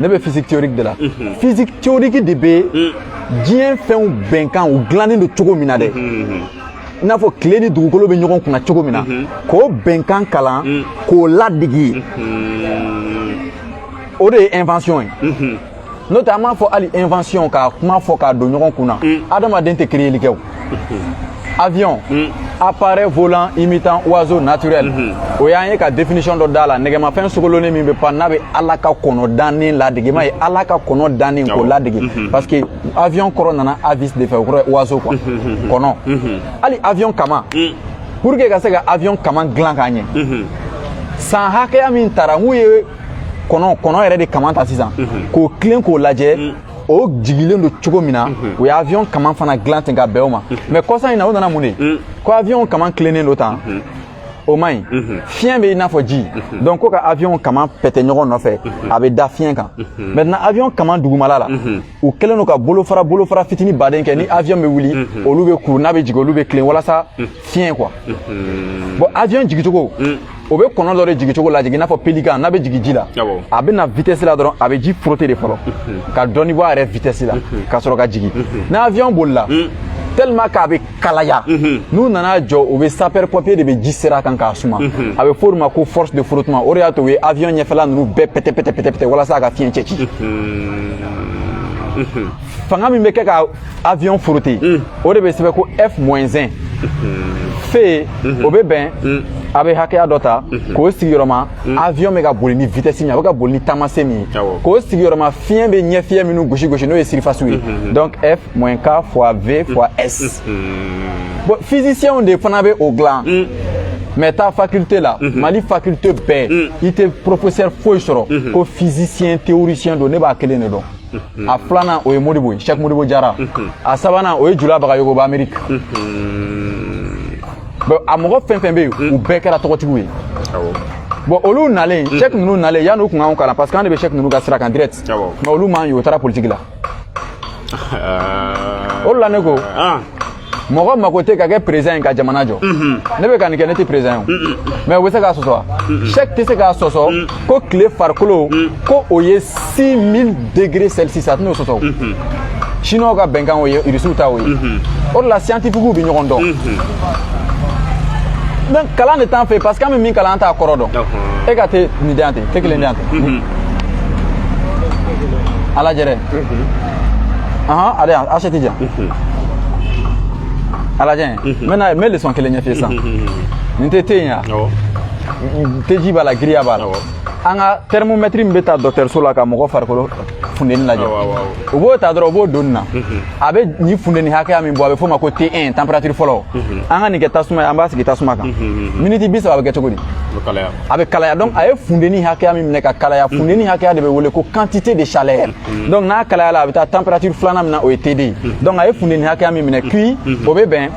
ne bɛ physique théorique de la mhm. physique théorique de bɛ mhm. diɲɛ fɛnw bɛnkan u dilannen don cogo min na dɛ mhm, i n'a fɔ tile ni dugukolo bɛ ɲɔgɔn kunna cogo min na k'o bɛnkan kalan k'o ladege o de ye invention ye n'o tɛ an b'a fɔ hali invention ka kuma fɔ k'a don ɲɔgɔn kunna adamaden tɛ créeli kɛ o avion mm. appareil volant imitant oiseau naturel mm -hmm. o y'an ye ka définition dɔ d'a la nɛgɛmafɛn sogolonnen min bɛ pan n'a bɛ ala ka kɔnɔ dannen ladege m'a ye mm-hmm. ala ka kɔnɔ dannen k'o ladege mm -hmm. parce que avion kɔrɔ nana avis de fɛ o kɔrɔ ye oiseau quoi mm-hmm. kɔnɔ mm-hmm. hali avion kama mm. pour que ka se ka avion kama dilan k'a ɲɛ san hakɛya min tara n'u ye kɔnɔ kɔnɔ yɛrɛ de kama ta sisan k'o tilen k'o lajɛ mm. o jigilen don cogo min na o ye avion kaman fana dilan ten ka bɛn o ma mais kɔsa in na o nana mun de ko avion kaman tilennen don tan o man ɲi mhm. fiɲɛ bɛ i n'a fɔ ji mhm. donc ko ka avion kama pɛtɛ ɲɔgɔn nɔfɛ mhm. a bɛ da fiɲɛ kan maintenant avion kama dugumala la u kɛlen don ka bolofara bolofara fitini baden kɛ ni avion bɛ wuli olu bɛ kuru n'a bɛ jigin olu bɛ tilen walasa fiɲɛ quoi bon avion jigicogo o bɛ kɔnɔ dɔ de jigin cogo ladege i n'a fɔ pelikan n'a bɛ jigin ji la a bɛ na vitesse la dɔrɔn a bɛ ji frotter de fɔlɔ ka dɔɔni bɔ a yɛrɛ vitesse la ka sɔrɔ ka jigin ni avion bolila tellement k'a bɛ kalaya n'u nana jɔ u bɛ sapeur pompier de bɛ ji ser'a kan k'a suma a bɛ f'o de ma ko force de frottement o de y'a to u ye avion ɲɛfɛla ninnu bɛɛ pɛtɛ pɛtɛ walasa a ka fiɲɛ cɛci fanga min bɛ kɛ ka avion frotter mm. o de bɛ sɛbɛn ko f moins 1 fe mhm. o bɛ bɛn mhm. a bɛ hakɛya dɔ ta mhm. k'o sigiyɔrɔma avion bɛ ka boli ni vitesse min ye a bɛ ka boli ni taamase min ye k'o sigiyɔrɔma fiɲɛ bɛ ɲɛ fiɲɛ minnu gosi gosi n'o ye surface ye donc f moins k fois v fois s bon physiciens de fana bɛ o dilan mais taa faculté la mali faculté bɛɛ i tɛ professeur foyi sɔrɔ ko physicien théoricien don ne b'a kelen de dɔn Mm-hmm. a filanan o ye modibo ye chek modibo jara mm-hmm. a sabanan o ye jula bagayogo bɛ amérique mm-hmm. bon a mɔgɔ fɛn fɛn bɛ yen mm. u bɛɛ kɛra tɔgɔtigiw ye bon olu nalen chek ninnu nalen yanni u tun k'anw kalan parce que an de bɛ chek ninnu ka sira kan direct mais olu m'an ye u taara politiki la o de la ne ko ah. mɔgɔ mako tɛ ka kɛ président ye ka jamana jɔ ne bɛ ka nin kɛ ne tɛ président ye mais u bɛ se k'a sɔsɔ wa chek tɛ se k'a sɔsɔ ko tile farikolo ko o ye 6000 degre celsius a tɛn'o sɔsɔ siniwaw ka bɛnkan o ye irisiw ta o ye o de la scientifiquew bɛ ɲɔgɔn dɔn donc kalan de t'an fɛ parce que an bɛ min kalan an t'a kɔrɔ dɔn e ka te nin di yan ten te kelen di yan ten ala jɛrɛ ahan ale yan asetu jɛ ala jɛn n bɛna n bɛ leçon kelen ɲɛf'i ye sisan nin tɛ te ye wa teji b'a la giriya b'a la an ka thermomètre min bɛ ta dɔkɔtɔrɔso la ka mɔgɔ farikolo funteni lajɛ u b'o ta dɔrɔn u b'o don nin na a bɛ nin funteni hakɛya min bɔ a bɛ f'o ma ko T1 température fɔlɔ an ka nin kɛ tasuma ye an b'a sigi tasuma kan miniti bi saba a bɛ kɛ cogo di a bɛ kalaya donc a ye funteni hakɛya min minɛ ka kalaya mm. funteni hakɛya de bɛ wele ko quantité de chaleur mm. donc n'a kalayala a bɛ taa température filanan min na o ye T2 ye mm. donc a ye funteni hakɛya min minɛ Q o bɛ bɛn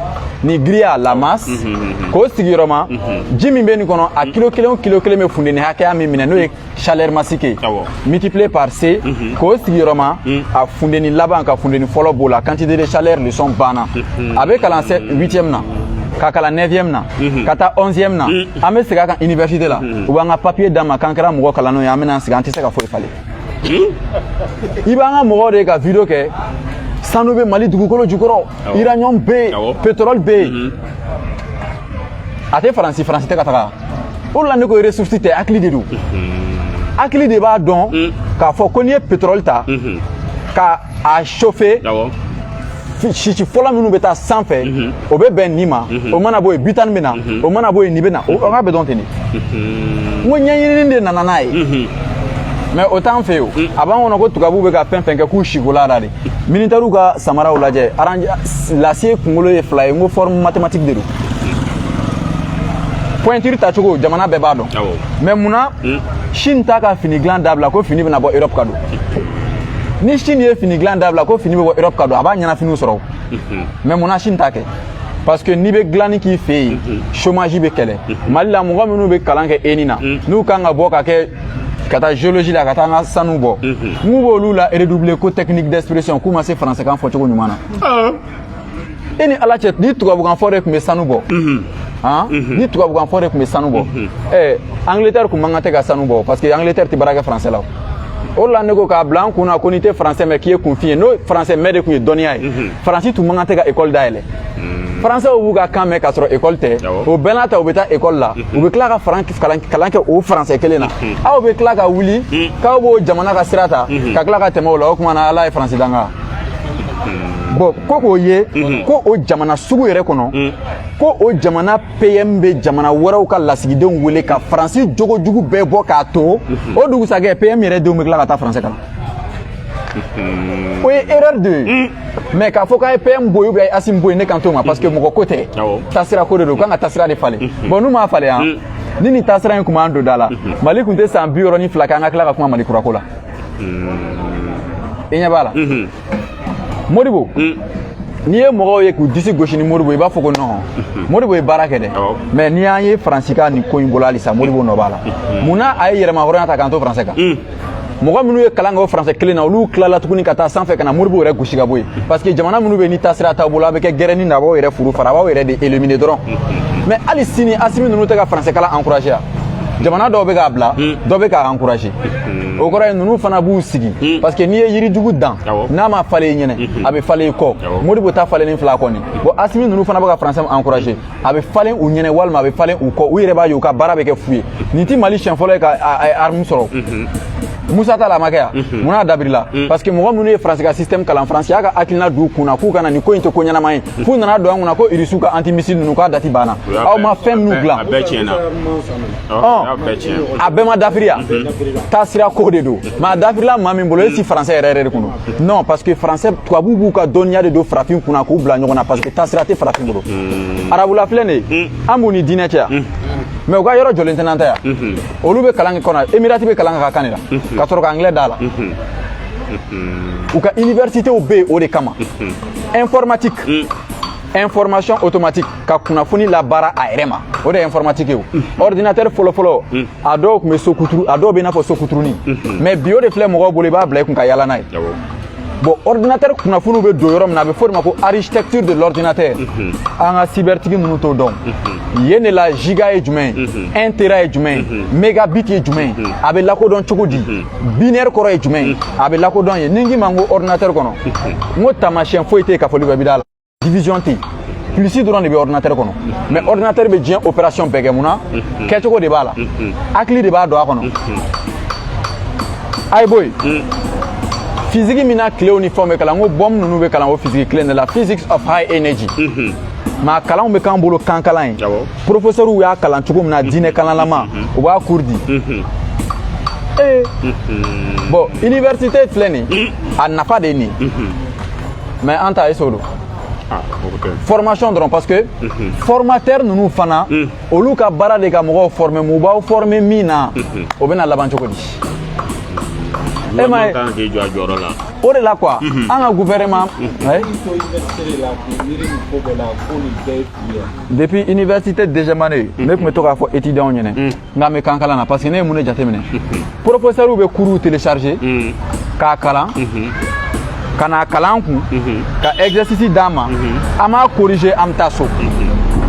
ni giriya la masse k'o sigiyɔrɔma ji min bɛ nin kɔnɔ a kilo kelen o kilo kelen bɛ funteni hakɛya min minɛ n'o ye chaleur massique ye multiplié par C k'o sigiyɔrɔma a funteni laban ka funteni fɔlɔ b'o la quantité de chaleur leçon banna a bɛ kalan 8e na ka kalan 9e na ka taa 11e na an bɛ segin a kan université la u b'an ka papier d'an ma k'an kɛra mɔgɔ kalannenw ye an bɛna an sigi an tɛ se ka foyi falen i b'an ka mɔgɔw de ka video kɛ sanu bɛ mali dugukolo jukɔrɔ uranium bɛ yen pétrole bɛ yen a tɛ faransi faransi tɛ ka taga o de la ne ko ressource tɛ hakili de don hakili de b'a dɔn k'a fɔ ko n'i ye pétrole ta ka a chauffer sisi fɔlɔ minnu bɛ taa sanfɛ mhm. o bɛ bɛn nin ma mhm. o mana bɔ yen butane bɛ na mhm. o mana bɔ yen nin bɛ na o ka bɛ dɔn ten de n ko ɲɛɲinini de nana n'a ye mais o t'an fɛ yen o a b'an kɔnɔ ko tubabuw bɛ ka fɛn fɛn kɛ k'u sikola la de militɛriw ka samaraw lajɛ lacet kunkolo ye fila ye n ko forme mathématique de don pointure tacogo jamana bɛɛ b'a dɔn mais mun na chine t'a ka fini dilan dabila ko fini bɛna bɔ europe ka don ni chine ye fini dilan dabila ko fini bɛ bɔ europe ka don a b'a ɲɛnafiniw sɔrɔ mais munna chine t'a kɛ parce que n'i bɛ dilanni k'i fɛ yen chômage bɛ kɛlɛ mali la mɔgɔ minnu bɛ kalan kɛ eni na n'u kan ka bɔ ka kɛ ka taa géologie la ka taa an ka sanu bɔ n'u b'olu la redoubler ko technique d'expression k'u ma se français kan fɔ cogo ɲuman na e ni ala cɛ ni tubabukanfɔ de tun bɛ sanu bɔ ni tubabukanfɔ de tun bɛ sanu bɔ ɛ angleterre tun man kan tɛ ka sanu bɔ parce que angleterre tɛ baara kɛ faransɛ la o la ne ko k'a bila an kun na ko n'i tɛ faransɛ mɛn k'i ye kunfin ye n'o faransɛ mɛn de tun ye dɔnniya ye faransi tun man kan tɛ ka ekɔli dayɛlɛ faransɛw b'u ka kan mɛn k'a sɔrɔ ekɔli tɛ o bɛɛ n'a ta u bɛ taa ekɔli la u bɛ tila ka kalan kɛ o faransɛ kelen na aw bɛ tila ka wuli k'aw b'o jamana ka sira ta ka tila ka tɛmɛ o la o tuma na ala ye faransi danga bon ko k'o ye mhm. ko o jamana sugu yɛrɛ kɔnɔ mhm. ko o jamana pm bɛ jamana wɛrɛw ka lasigidenw wele ka faransi jogo jugu bɛɛ bɔ k'a to mhm. o dugusajɛ pm yɛrɛ denw bɛ tila ka taa faransɛ kalan o ye erreur de ye mais k'a fɔ k'a ye pm bɔ yen ou bien asimi bɔ yen ne kan t'o ma parce que mɔgɔ ko tɛ taasira ko de don u kan ka taasira de falen bon n'u m'a falen yan ni nin taasira in tun b'an don da la mali tun tɛ san bi wɔɔrɔ ni fila kɛ an ka tila ka kuma mali kurako la i ɲɛ b'a la modibo n'i ye mɔgɔw ye k'u disi gosi ni modibo i b'a fɔ ko non modibo ye baara kɛ dɛ mais n'i y'an ye faransi ka nin ko in bolo halisa modibo nɔ b'a la mun na a ye yɛrɛmahɔrɔnya ta k'an to faransɛ kan mɔgɔ minnu ye kalan kɛ o faransɛ kelen na olu tilala tuguni ka taa sanfɛ ka na modibo yɛrɛ gosi ka bɔ yen parce que jamana minnu bɛ ni taasira t'aw bolo a bɛ kɛ gɛrɛni na a b'aw yɛrɛ furu fara a b'aw yɛrɛ de éliminer dɔrɔn mais hali sini asimi ninnu tɛ ka faransɛ kalan encourager yan jamana dɔw bɛ k'a bila dɔw bɛ k'a encourager Hmm. o kɔrɔ ye ninnu fana b'u sigi hmm. parce que n'i ye yirijugu dan n'a ma falen i ɲɛnɛ hmm. a bɛ falen i kɔ modibo ta falennen filɛ kɔni bon asimi ninnu fana bɛ ka français encourager a bɛ falen u ɲɛnɛ walima a bɛ falen u kɔ u yɛrɛ b'a ye u ka baara bɛ kɛ fu ye nin tɛ mali siɲɛ fɔlɔ ye ka arme sɔrɔ musa tile la a ma kɛ yan mun na a dabilala parce que mɔgɔ minnu ye faransi ka système kalan faransi y'a ka hakilina d'u kun na k'u kana nin ko in tɛ ko ɲɛnama ye f'u nana don an kunna ko irisiw ka antimissile ninnu k'a dati banna aw ma fɛn minnu dilan a bɛɛ ma dafiri yan taasira ko de don mais a dafirila maa min bolo e si français yɛrɛ yɛrɛ de kun don non parce que français tubabuw b'u ka dɔnniya de don farafin kunna k'u bila ɲɔgɔn na parce que taasira tɛ farafin bolo arabula filɛ nin ye an b'u ni diinɛ cɛ yan mais u ka yɔrɔ jɔlen tɛ n'an ta yan olu bɛ kalan kɛ kɔnɔ emirati bɛ kalan k'a ka kan de la ka sɔrɔ ka anglais d'a la u ka universitéw bɛ yen o de kama informatique information automatique ka kunnafoni labaara a yɛrɛ ma o de ye informatique ye mhm. ordinateur fɔlɔ fɔlɔ mhm. a dɔw tun bɛ so kuturu a dɔw bɛ i n'a fɔ so kuturunin mhm. mais bi o de filɛ mɔgɔw bolo i b'a bila i kun ka yaala n'a ye bon ordinateur kunnafoniw bɛ don yɔrɔ min na a bɛ fɔ o de ma ko architecture de l'ordinateur an ka cybertigi ninnu t'o dɔn yen de la giga ye jumɛn ye un tera ye jumɛn ye megabit ye jumɛn ye a bɛ lakodɔn cogo di binaire kɔrɔ ye jumɛn ye a bɛ lakodɔn ye ni n k'i ma n ko ordinateur kɔnɔ n ko taamasiyɛn foyi tɛ yen kafoli bɛ bida la division tɛ yen plus dɔrɔn de bɛ ordinateur kɔnɔ mais ordinateur bɛ diɲɛ opération bɛɛ kɛ mun na kɛcogo de b'a la hakili de b'a don a kɔnɔ a ye bɔ yen physique min na tilew ni fɛnw bɛ kalan ko bombe ninnu bɛ kalan o physique kelen de la physics of high energy mais a kalanw bɛ k'an bolo kan kalan ye professeurw y'a kalan cogo min na diinɛ kalanlama u b'a cours di ee bon université filɛ nin a nafa de ye nin mais an ta ye so don ah, formation dɔrɔn parce que mhm. formateur ninnu fana mhm. olu ka baara de ka mɔgɔw former mun b'aw former min na mhm. o bɛna laban cogo di e ma ye o de la quoi an ka gouvernement depuis université dejemane ne tun bɛ to k'a fɔ étudiantw ɲɛna n k'an bɛ kan kalan na parce que ne ye mun de jateminɛ professeurw bɛ cours télécharger mm. k'a kalan mm-hmm. ka n'a kalan kun mm-hmm. ka exercice d'an ma mm-hmm. an b'a corriger an bɛ taa so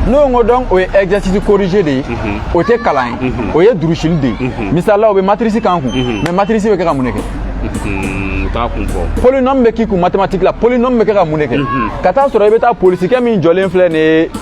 n'o ko donc o ye exercice corrigé de ye o tɛ kalan ye o ye durusili de ye misali la u bɛ matrice k'an kun mais matrice bɛ kɛ ka mun de kɛ u t'a kun fɔ polynôme bɛ k'i kun mathématique la polynôme bɛ kɛ ka mun de kɛ ka t'a sɔrɔ i bɛ taa polisikɛ min jɔlen filɛ nin ye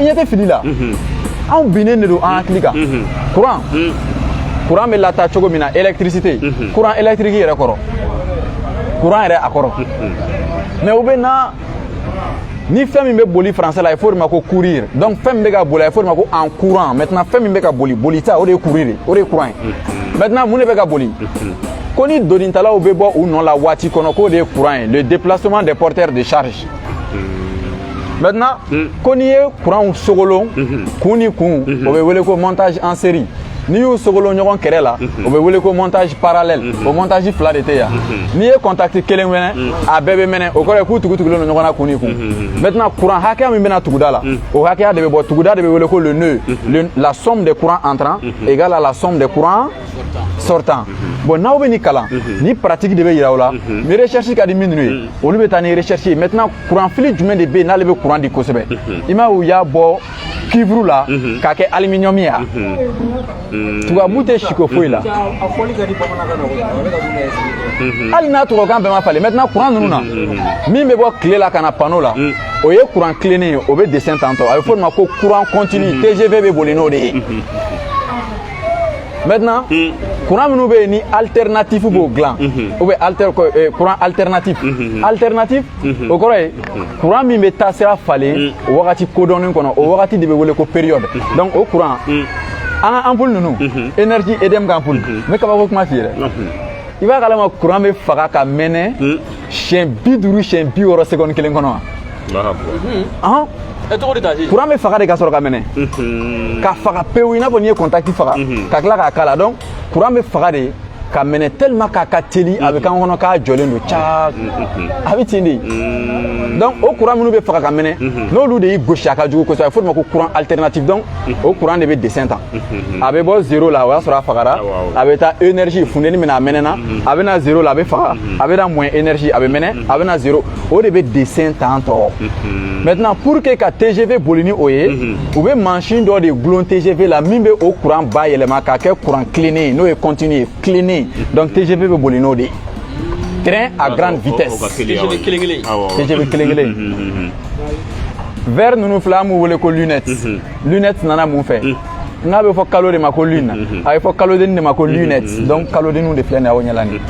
i ɲɛ tɛ fili la anw binnen de don an hakili kan courant courant bɛ lataa cogo min na électricité courant électrique yɛrɛ kɔrɔ courant yɛrɛ a kɔrɔ mais u bɛ na ni fɛn min bɛ boli français la a ye fɔ o de ma ko courir donc fɛn min bɛ ka boli a ye fɔ o de ma ko en courant maintenant fɛn min bɛ ka boli bolita o de ye courir de o de ye courant ye maintenant mun de bɛ ka boli ko ni donitalaw bɛ bɔ u nɔ la waati kɔnɔ k'o de ye courant ye le déplacement des porteurs de charge maintenant mm. ko n'i ye kuranw sogolon mm-hmm. kun ni kun mm-hmm. o bɛ wele ko montage en série n'i y'u sogolon ɲɔgɔn kɛrɛ la mm-hmm. o bɛ wele ko montage parallèle o montage fila de tɛ yan n'i ye contact kelen mɛnɛ mm. a bɛɛ bɛ mɛnɛ o kɔrɔ ye k'u tugutugulen don ɲɔgɔn na kun ni kun maintenant kuran hakɛya min bɛ na tuguda la mm. o hakɛya de bɛ bɔ tuguda de bɛ wele ko le nœud la somme des courants entrants égale à la somme des courants sortants bon n'aw bɛ nin kalan ni pratique de bɛ yira aw la ni recherche ka di minnu ye olu bɛ taa ni recherche ye maintenant kuranfili jumɛn de bɛ yen n'ale bɛ kuran di kosɛbɛ i m'a ye u y'a bɔ cuivre la k'a kɛ aluminium ye yan tubabu tɛ siko foyi la hali n'a tubabukan bɛɛ ma falen maintenant kuran ninnu na min bɛ bɔ tile la ka na panneau la o ye kuran tilennen ye o bɛ dessin tan tɔ a bɛ fɔ o de ma ko kuran continu tgv bɛ boli n'o de ye maintenant hmm. courant minnu bɛ yen ni alternatif b'o hmm. dilan hmm. ou bien alter eh, courant alternatif alternatif o kɔrɔ ye courant min bɛ taa sira falen wagati kodɔnnen kɔnɔ o wagati de bɛ wele ko période donc o courant an ka ampoule ninnu énergie EDM ka ampoule n bɛ kabako kuma f'i ye dɛ i b'a kalama courant bɛ faga ka mɛnɛ siɲɛ bi duuru siɲɛ bi wɔɔrɔ seconde kelen kɔnɔ wa kuran bɛ faga de ka sɔrɔ ka mɛnɛ ka faga pewu i n'a fɔ n'i ye contact faga ka tila k'a k'a la donc kuran bɛ faga de ka mɛnɛ tellement k'a ka teli a bɛ k'an kɔnɔ k'a jɔlen don ca a bɛ ten de donc o kuran minnu bɛ faga ka mɛnɛ n'olu de y'i gosi a ka jugu kosɛbɛ a bɛ fɔ o de ma ko kuran alternatif donc o kuran de bɛ dessin tan a bɛ bɔ zéro la o y'a sɔrɔ a fagara a bɛ taa énergie funteni min na a mɛnɛna a bɛ na zéro la a bɛ faga a bɛ na moins énergie a bɛ mɛnɛ a bɛ na zéro o de bɛ dessin tan tɔ maintenant pour que ka TGV boli ni o ye u bɛ mansin dɔ de gulon TGV la min bɛ o courant bayɛlɛma k'a kɛ courant tilennen ye n'o ye continu ye tilennen donc TGV bɛ boli n'o de ye train à grande vitesse TGV kelen kelen verre ninnu fila an b'u wele ko lunette lunette nana mun fɛ n'a bɛ fɔ kalo de ma ko lune a bɛ fɔ kalodenni de ma ko lunette donc kalodenniw de filɛ nin ye aw ɲɛ la nin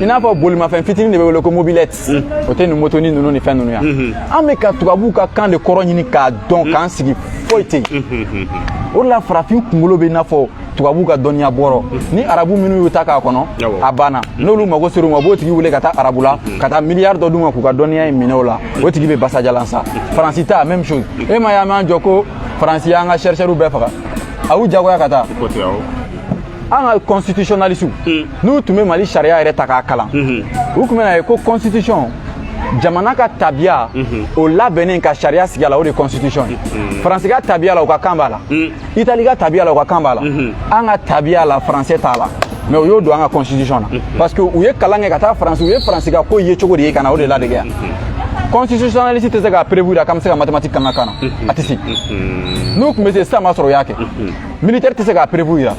i n'a fɔ bolimafɛn fitinin de bɛ wele ko mobilette o tɛ nin motoni ninnu ni fɛn ninnu yan an bɛ ka tubabuw ka kan de kɔrɔ ɲini k'a dɔn k'an sigi foyi tɛ yen o de la farafin kunkolo bɛ i n'a fɔ tubabu ka dɔnniya bɔrɔ ni arabu minnu y'u ta k'a kɔnɔ a banna n'olu mago ser'u ma u b'o tigi wele ka taa arabu la ka taa miliyari dɔ d'u ma k'u ka dɔnniya in minɛ o la o tigi bɛ basajalan sa faransi ta même chose e m'a ye an b'an jɔ ko faransi y'an ka chercheurs bɛɛ faga a y'u jagoya ka taa an ka constitutionnalistes n'u tun bɛ mali sariya yɛrɛ ta k'a kalan u tun bɛn'a ye ko constitution jamana ka tabiya o labɛnnen ka sariya sigi a la o de ye constitution ye faransi ka tabiya la u ka kan b'a la itali ka tabiya la u ka kan b'a la mhm. an ka tabiya la faransɛ t'a la mais u y'o don an ka constitution na mhm. parce que u ye kalan kɛ ka taa faransi u ye faransi ka ko ye cogo de ye ka na o de ladege yan mhm. constitutionnaliste tɛ se k'a prévoir k'an bɛ se ka mathématique k'an ka kan na a tɛ se n'u tun bɛ se sisan b'a sɔrɔ u y'a kɛ militaire tɛ se k'a prévoir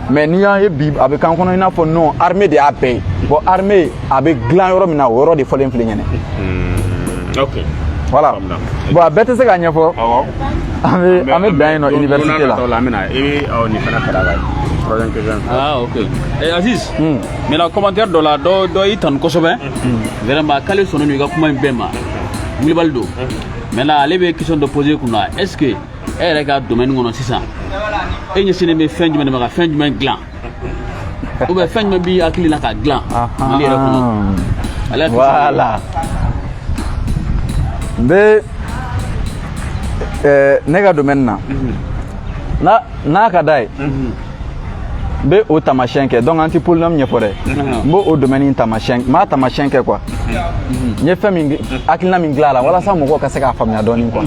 mais n'i y'a ye bi a bɛ k'an kɔnɔ i n'a fɔ non armée de y'a bɛɛ ye bon armée a bɛ dilan yɔrɔ min na o yɔrɔ de fɔlen filɛ ɲɛnɛ hmm, ok voilà bon a bɛɛ tɛ se ka ɲɛfɔ an bɛ an bɛ dan yen nɔ université la an bɛna i bɛ ɔ nin fana kalan la troisième question ah ok eh, Aziz hmm. mais la commentaire dɔ la dɔ dɔ y'i tanu kosɛbɛ hmm. vraiment k'ale sɔnnen don i ka kuma in bɛɛ ma Wulibali don maintenant ale bɛ question dɔ poser kunna est ce que e yɛrɛ ka domaine kɔnɔ sisan e ɲɛsinnen bɛ fɛn jumɛn de ma ka fɛn jumɛn dilan ou bien fɛn jumɛn b'i hakili la ka dilan mali yɛrɛ kɔnɔ ale y'a voilà n bɛ ne ka domaine na n'a n'a ka d'a ye n bɛ o taamasiyɛn kɛ donc an tɛ polynôme ɲɛfɔ dɛ n b'o o domaine in taamasiyɛn n b'a taamasiyɛn kɛ quoi n ye fɛn min hakilina min dilan a la walasa mɔgɔw ka se k'a faamuya dɔɔni quoi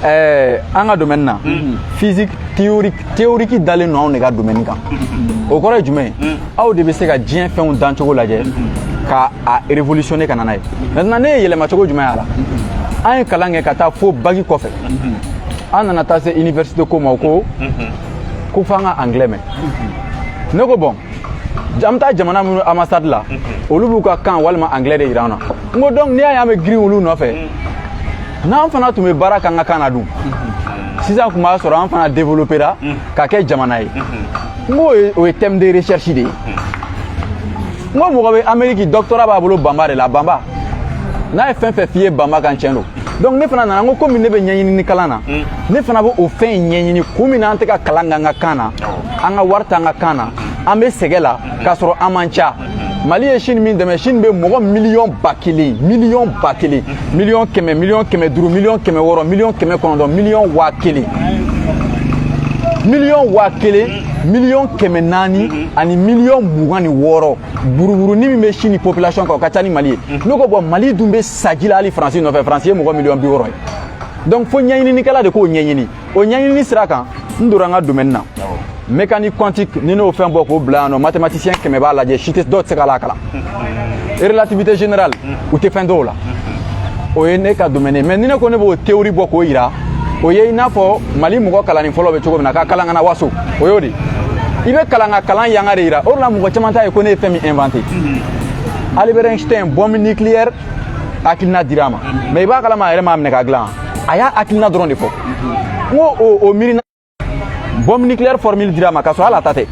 ɛɛ an ka domaine na physique théorique dalen don anw de ka domaine kan o kɔrɔ ye jumɛn ye aw de bɛ se ka diɲɛ fɛnw dancogo lajɛ ka a révolutionner ka na n'a ye maintenant ne ye yɛlɛmacogo jumɛn y'a la an ye kalan kɛ ka taa fo bac kɔfɛ an nana taa se université ko ma o ko ko f'an ka anglais mɛn ne ko bon an bɛ taa jamana minnu ambassade la olu b'u ka kan walima anglais de jira an na n ko donc n'i y'a ye an bɛ girin olu nɔfɛ n'an fana tun bɛ baara k'an ka kan na dun sisan tun b'a sɔrɔ an fana développera ka kɛ jamana ye n ko o ye thème de recherche de ye n ko mɔgɔ bɛ amérique doctorat b'a bolo bambara de la bambara n'a ye fɛn fɛn f'i ye bambara kan tiɲɛ don donc ne fana nana n ko komi ne bɛ ɲɛɲinini kalan na hmm. ne fana bɛ o fɛn in ɲɛɲini kun min na an tɛ ka kalan k'an ka kan na an ka wari t'an ka kan na an bɛ sɛgɛn la hmm. k'a sɔrɔ an man ca hmm. mali ye chine min dɛmɛ chine bɛ mɔgɔ miliyɔn ba kelen miliyɔn ba kelen miliyɔn kɛmɛ miliyɔn kɛmɛ duuru miliyɔn kɛmɛ wɔɔrɔ miliyɔn kɛmɛ kɔnɔntɔn miliyɔn waa kelen miliyɔn waa kelen miliyɔn kɛmɛ naani mhm. ani miliyɔn mugan ni wɔɔrɔ buruburuni min bɛ chine population kan o ka ca ni mali ye mhm. ne ko bon mali dun bɛ saji la hali faransi nɔfɛ faransi ye mɔgɔ miliyɔn bi wɔɔrɔ ye donc fo ɲɛɲininikɛla de k'o ɲɛɲini o ɲɛɲinini sira kan n donna n ka domaine na mécanique quantique ni n'o fɛn bɔ k'o bila yan nɔ mathématicien kɛmɛ b'a lajɛ si tɛ dɔw tɛ se k'a la kalan relativité générale u tɛ fɛn dɔn o la o ye ne ka domaine ye mais ni ne ko ne b'o théorie bɔ k'o yira o ye i n'a fɔ mali mɔgɔ kalanni fɔlɔ bɛ cogo min na ka kalan ka na waso o y'o de i bɛ kalan ka kalan yanga de yira o de la mɔgɔ caman t'a ye ko ne ye fɛn min inventé Albert Einstein bombe nucléaire hakilina dira a ma mais i b'a kalama a yɛrɛ m'a minɛ ka dilan a y'a hakilina dɔrɔn de fɔ n ko o miirina bombe nucléaire formule dira a ma k'a sɔrɔ hali a ta tɛ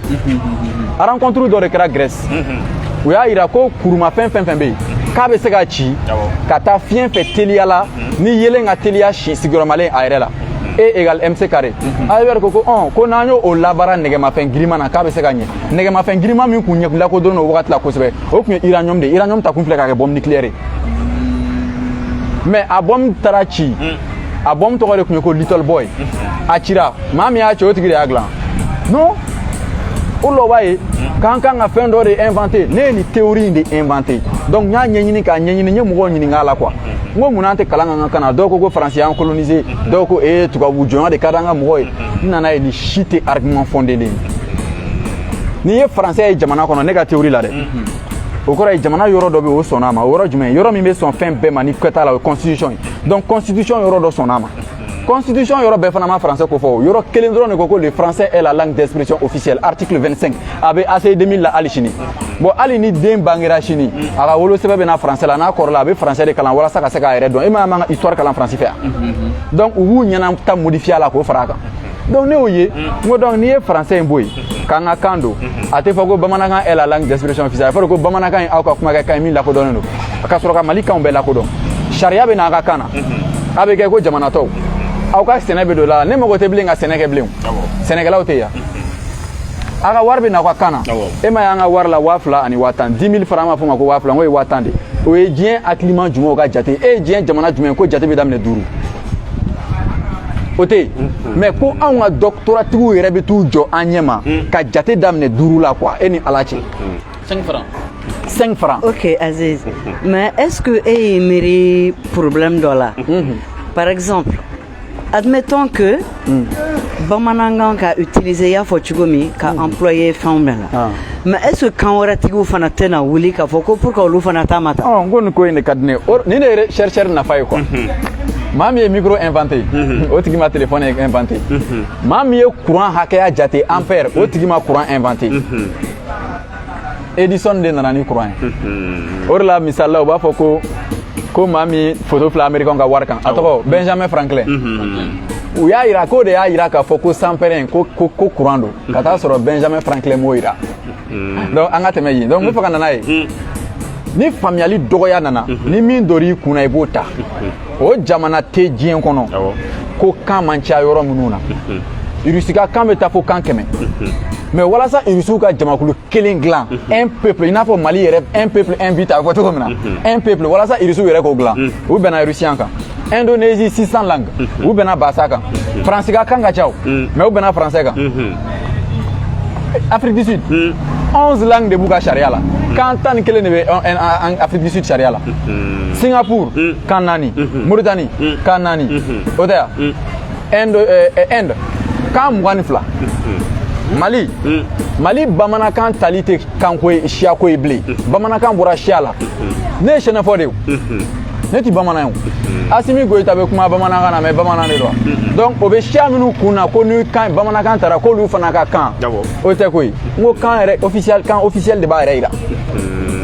rencontre dɔ de kɛra grèce u y'a yira ko kurumafɛn fɛn fɛn bɛ yen k'a bɛ se ka ci ka taa fiɲɛ fɛ teliya la ni yelen ka teliya si sigiyɔrɔmalen a yɛrɛ la e égale mc carré albert ko ko ɔn ko n'an ye o labaara nɛgɛmafɛn girinma na k'a bɛ se ka ɲɛ nɛgɛmafɛn girinma min kun ye kun lakodɔnnen o wagati la kosɛbɛ o tun ye uranium de ye uranium ta kun filɛ k'a kɛ bombe nucléaire ye mais a bombe taara ci a bombe tɔgɔ de tun ye ko little boy a cira maa min y'a ci o tigi de y'a dilan non o la o b'a ye k'an kan ka fɛn dɔ de inventé ne ye nin théorie in de inventé donc n y'a ɲɛɲini k'a ɲɛɲini n ye mɔgɔw ɲininka a la quoi n ko mun n'an tɛ kalan k'an ka kan na dɔw ko ko faransi y'an colonisé dɔw ko ee tubabu jɔnya de ka d'an ka mɔgɔw ye n nana ye nin si tɛ argument fondé de ye n'i ye français ye jamana kɔnɔ ne ka théorie la dɛ mhm. o kɔrɔ ye jamana yɔrɔ dɔ bɛ o sɔnna a ma o yɔrɔ jumɛn yɔrɔ min bɛ sɔn fɛn bɛɛ ma ni kɛta la o ye constitution ye donc constitution yɔrɔ dɔ sɔnna a ma mhm. constitution yɔrɔ bɛɛ fana ma français kofɔ o yɔrɔ kelen dɔrɔn de ko ko le français est la langue d'expression officielle article 25 a bɛ ACI 2000 la hali sini bon hali ni den bangera sini a ka wolosɛbɛn bɛ na français la n'a kɔrɔla a bɛ français de kalan walasa ka se k'a yɛrɛ dɔn e ma an ka histoire kalan france fɛ donc u b'u ɲɛna ta modifier a la k'o fara a kan donc ne y'o ye n ko donc n'i ye français in bɔ yen k'an ka kan don a tɛ fɔ ko bamanankan est la langue d'expression officielle a fɔra ko bamanankan ye aw ka kumakɛkan ye min lakodɔnnen don ka sɔrɔ ka mali kanw bɛɛ lakodɔn sariya bɛ n'a ka kan na a bɛ kɛ ko jamana tɔw aw ka sɛnɛ bɛ don la ne mago tɛ bilen ka sɛnɛ kɛ bilen sɛnɛkɛlaw tɛ yan a ka wari bɛ na aw ka kan na e m'a y'an ka wari la waa fila ani waa tan dix mille francs an b'a f'o ma ko waa fila n k'o ye waa tan de o ye diɲɛ hakiliman jumɛnw ka jate e ye diɲɛ jamana jumɛn ko jate bɛ daminɛ duuru o tɛ yen mm-hmm. mais ko anw ka doctorat tigiw yɛrɛ bɛ t'u jɔ an ɲɛ ma mm. ka jate daminɛ duuru la quoi e ni ala cɛ mm. cinq francs 5 francs. Ok, Aziz. Mais est-ce que e y'i miiri problème dɔ la Par exemple, admettons que mm. bamanankan ka utiliser i y'a fɔ cogo min ka mm. employer fɛnw bɛɛ la ah. mais est ce que kan wɛrɛ tigiw fana tɛna wuli k'a fɔ ko pour que olu fana ta ma ta oh, n ko nin ko in de ka di ne ye nin de ye recherche nafa ye quoi mhm. maa min ye micro inventé mhm. o tigi ma téléphone inventé mhm. maa min ye courant hakɛya jate ampère o tigi ma courant inventé edison de nana ni courant ye mhm. o de la misali la u b'a fɔ ko ko maa min foto filɛ amerikɛnw ka wari kan a tɔgɔ benjamin franklin u y'a yira k'o de y'a yira k'a fɔ ko sanpɛrɛn ko ko ko courant don ka taa sɔrɔ benjamin franklin m'o yira donc an ka tɛmɛ yen donc n bɛ fɛ ka na n'a ye ni faamuyali dɔgɔya nana ni min dor'i kun na i b'o ta o jamana tɛ diɲɛ kɔnɔ ko kan man ca yɔrɔ minnu na irisi ka kan bɛ taa fo kan kɛmɛ mais walasa irisiw ka jamakulu kelen dilan un peuple i n'a fɔ mali yɛrɛ un peuple un but a bɛ fɔ cogo min na un peuple walasa irisiw yɛrɛ k'o dilan u bɛnna irisiyan kan indonésie 600 langues u bɛnna bahasa kan faransi ka kan ka ca o mais u bɛnna faransɛ kan Afrique du Sud. Hmm. 11 langues de b'u ka sariya la. Hmm. Kan tan ni kelen de bɛ an- an- an- Afrique du Sud sariya la. Hmm. Singapour Hmm. kan naani. Mhm. Mauritanie Hmm. kan naani. Mhm. O tɛ yan. Hmm. Inde eh, eh, Inde kan mugan ni fila. Mali. Hmm. mali bamanankan tali tɛ kanko ye siyako ye bilen bamanankan bɔra siya la ne ye sɛnɛfɔ de ye o. ne ti bamanan ye o asimi goyita bɛ kuma bamanankan na mais bamanan de don donc o bɛ siya minnu kun na ko ni kan bamanankan tara k'olu fana ka kan o tɛ koyi n ko kan yɛrɛ kan officiel de b'a yɛrɛ yira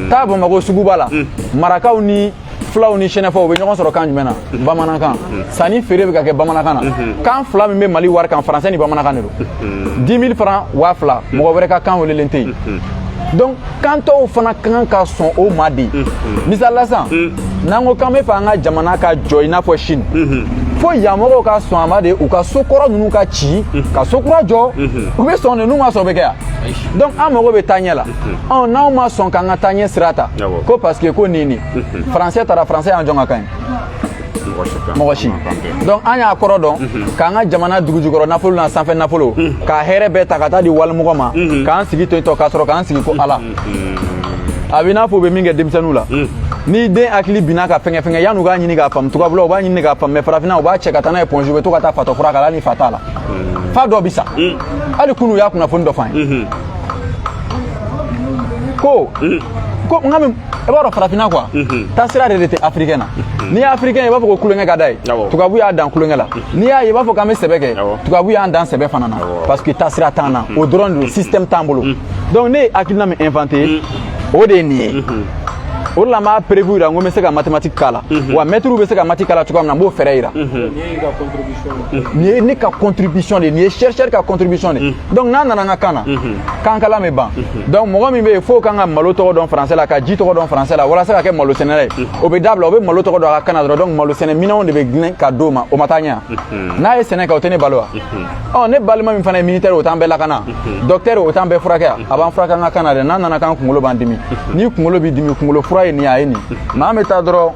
taa bamako suguba la marakaw ni fulaw ni sɛnɛfɔw bɛ ɲɔgɔn sɔrɔ kan jumɛn na bamanankan sanni feere bɛ ka kɛ bamanankan na kan fila min bɛ mali wari kan faransɛ ni bamanankan de don 10 000 francs waa fila mɔgɔ wɛrɛ ka kan welelen tɛ yen donc kan tɔw fana ka kan ka sɔn o ma de misali la sisan n'an ko k'an b'a fɛ an ka jamana ka jɔ i n'a fɔ chine fo yan mɔgɔw ka sɔn a ma de u ka so kɔrɔ ninnu ka ci ka so kura jɔ u bɛ sɔn de n'u ma sɔn bɛ kɛ yan donc an mago bɛ taa ɲɛ la ɔ n'anw ma sɔn k'an ka taa ɲɛ sira ta ko parce que ko ni ni faransɛ tara faransɛ y'an jɔn ka kan ye mɔgɔ si donc an y'a kɔrɔ dɔn mhm. k'an ka jamana dugujukɔrɔ nafolo n'a sanfɛ nafolo mhm. ka hɛrɛ bɛɛ ta ka taa di walimɔgɔ ma mhm. k'an sigi to tɔ k'a sɔrɔ k'an sigi ko ala a bɛ n'a fɔ u bɛ min kɛ denmisɛnninw la ni den hakili binna ka fɛnkɛ fɛnkɛ yan'u k'a ɲini k'a faamu tubabula u b'a ɲini k'a faamu mais farafinna u b'a cɛ ka taa n'a ye point G u bɛ to ka taa fatɔ fura k'a la ni fa t'a la fa dɔ bɛ sa hali kunu u y'a kunnafoni dɔ f'an ye ko ko n ka i b'a dɔn farafinna quoi mhm. taasira de de tɛ afirikɛn na mhm. n'i ye afirikɛn ye i b'a fɔ ko tulonkɛ ka d'a ye tubabu y'a dan tulonkɛ la mhm. n'i y'a ye i b'a fɔ k'an bɛ sɛbɛ kɛ tubabu y'an dan sɛbɛ fana na parce que taasira t'an na o dɔrɔn de système t'an bolo donc ne ye hakilina min inventé o de ye nin ye o de la n b'a preuve yira n ko n bɛ se ka mathématique k'a la wa mɛtiriw bɛ se ka mati k'a la cogoya min na n b'o fɛɛrɛ yira nin ye ne ka contribution de ye nin ye chercheur ka contribution de donc n'a nana n ka kan na kan kalan bɛ ban donc mɔgɔ min bɛ yen f'o kan ka malo tɔgɔ dɔn français la ka ji tɔgɔ dɔn français la walasa ka kɛ malo sɛnɛla ye o bɛ dabila o bɛ malo tɔgɔ dɔn a ka kan na dɔrɔn donc malo sɛnɛ minɛnw de bɛ dilan ka d'o ma o ma taa ɲɛ n'a ye sɛnɛ kɛ o tɛ ne balo wa ɔ ne balima min fana ye militaire o t'an bɛɛ lakana docteur o t'an bɛɛ furakɛ a b'an furakɛ an ka kan na dɛ n'a nana k'an kunkolo b'an dimi ni kunkolo b'i dimi kunkolo fura ye nin ye a ye nin maa bɛ taa dɔrɔn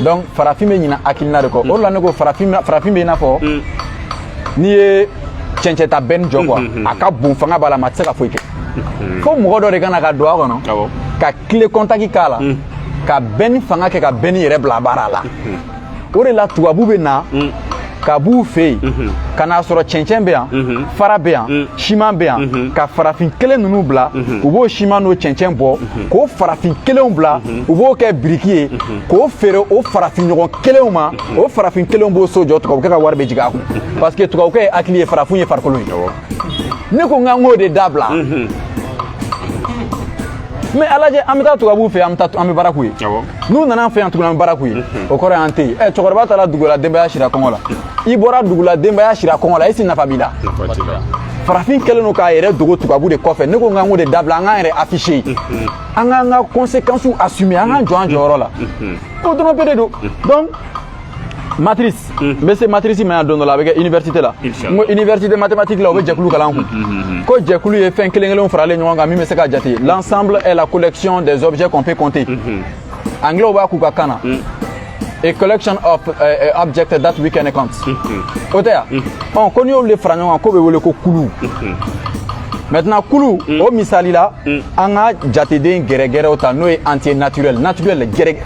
donc farafin bɛ ɲina hakilina de kɔ o de la ne ko farafin farafin bɛ i n'a fɔ mm. n'i ye cɛncɛn ta bɛnni jɔ quoi mm-hmm. a ka bon fanga b'a la mais a tɛ se ka foyi kɛ mm-hmm. fo mɔgɔ dɔ de ka na ka don a kɔnɔ ka kile kɔntaki k'a la mm. ka bɛnni fanga kɛ ka bɛnni yɛrɛ bila baara la mm-hmm. o de la tubabu bɛ na mm. ka b'u fɛ yen mhm. ka n'a sɔrɔ cɛncɛn bɛ yan mhm. fara bɛ yan mm. siman bɛ yan mhm. ka farafin kelen ninnu bila u b'o siman n'o cɛncɛn bɔ k'o farafin kelenw bila u b'o kɛ biriki ye k'o feere o farafin ɲɔgɔn kelenw ma o farafin kelenw b'o so jɔ tubabukɛ ka wari bɛ jigin a kun parce que tubabukɛ ye hakili ye farafinw ye farikolo ye ne ko n k'an k'o de dabila mais a lajɛ an bɛ taa tubabuw fɛ an bɛ taa an bɛ baara k'u ye n'u nana an fɛ yan tuguni an bɛ baara k'u ye o kɔrɔ y'an tɛ yen ɛ cɛkɔrɔba taara dugu la denbaya sira kɔngɔ la i bɔra dugu la denbaya sira kɔngɔ la est-ce nafa b'i la farafin kɛlen don k'a yɛrɛ dogo tubabu de kɔfɛ ne ko n k'an k'o de dabila an k'an yɛrɛ afficher an k'an ka conséquence assumer an k'an jɔ an jɔyɔrɔ la o dɔrɔn pe de don donc matrice n bɛ se matrice ma yan don dɔ la a bɛ kɛ université la n ko université mathématique la u bɛ jɛkulu kalan an kun ko jɛkulu ye fɛn kelen kelenw faralen ɲɔgɔn kan min bɛ se ka jate l'ensemble est la collection des objets qu'on peut compter anglais b'a k'u ka kan na a collection of uh, uh, objects that we can count o tɛ yan ɔ ko n'i y'olu de fara ɲɔgɔn kan k'o bɛ wele ko kulu maintenant kulu mm. o misali la mm. an ka jateden gɛrɛgɛrɛw ta n'o ye entier naturel naturel gɛrɛ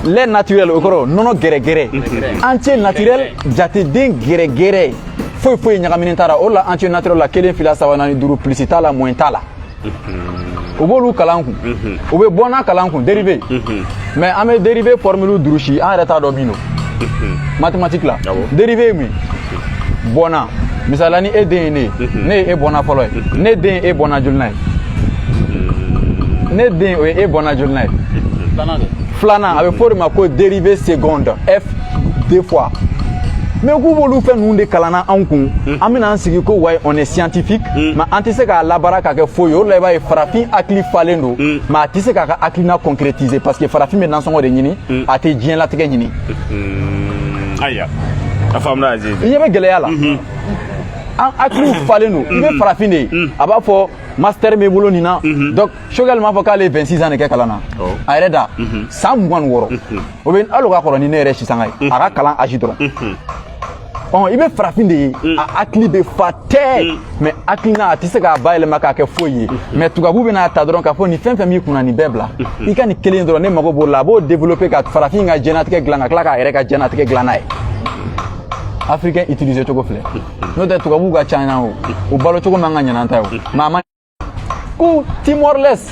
lait naturel o kɔrɔ nɔnɔ gɛrɛgɛrɛ mm. entier naturel jateden gɛrɛgɛrɛ foyi foyi ɲagaminen t'a la o la entier naturel la kelen fila saba naani duuru pilisi t'a la moins t'a la mm-hmm. u b'olu kalan an kun mm-hmm. u bɛ bɔnna kalan an kun dérivée mm-hmm. mais an bɛ dérivée formule durusi an yɛrɛ t'a dɔn min don mathématique la dérivée ye mun ye bɔnna misali la ni e den ye ne ne ye e bɔnna fɔlɔ ye ne den ye e bɔnna jolinan ye ne den o ye e bɔnna jolinan ye filanan a bɛ fɔ o de ma ko dérivée seconde f deux fois mais k'u b'olu fɛn ninnu de kalanna anw kun an bɛna an sigi ko ouais on est scientifique mais an tɛ se k'a labaara ka kɛ foyi ye o de la i b'a ye farafin hakili falen don mais a tɛ se k'a ka hakilina concrétiser parce que farafin bɛ nansɔngɔ de ɲini a tɛ diɲɛlatigɛ ɲini ayiwa a faamuna aziz i ɲɛ bɛ gɛlɛya la mhm. an hakiliw falen don i bɛ mhm. farafin de ye mhm. a b'a fɔ master bɛ n bolo nin na donc choguel m'a fɔ k'ale ye 26 ans de kɛ kalan na oh. a yɛrɛ da san mugan ni wɔɔrɔ o bɛ hali o ka kɔrɔ ni ne yɛrɛ sisanga ye a ka kalan âge dɔrɔn ɔ i bɛ farafin de ye a hakili bɛ fa tɛɛ mais hakilina a tɛ se k'a bayɛlɛma k'a kɛ foyi ye mais tubabu bɛ n'a ta dɔrɔn k'a fɔ nin fɛn fɛn b'i kun na nin bɛɛ bila i ka nin kelen dɔrɔn ne mago b'o la a b'o développer ka farafin ka jɛnatigɛ dilan ka tila k'a yɛrɛ ka jɛnatigɛ dilan n'a ye africain utiliser cogo filɛ n'o tɛ tubabuw ka ca yan o u balo cogo man ka ɲa n'an ta ye o mais a ma ko timor leste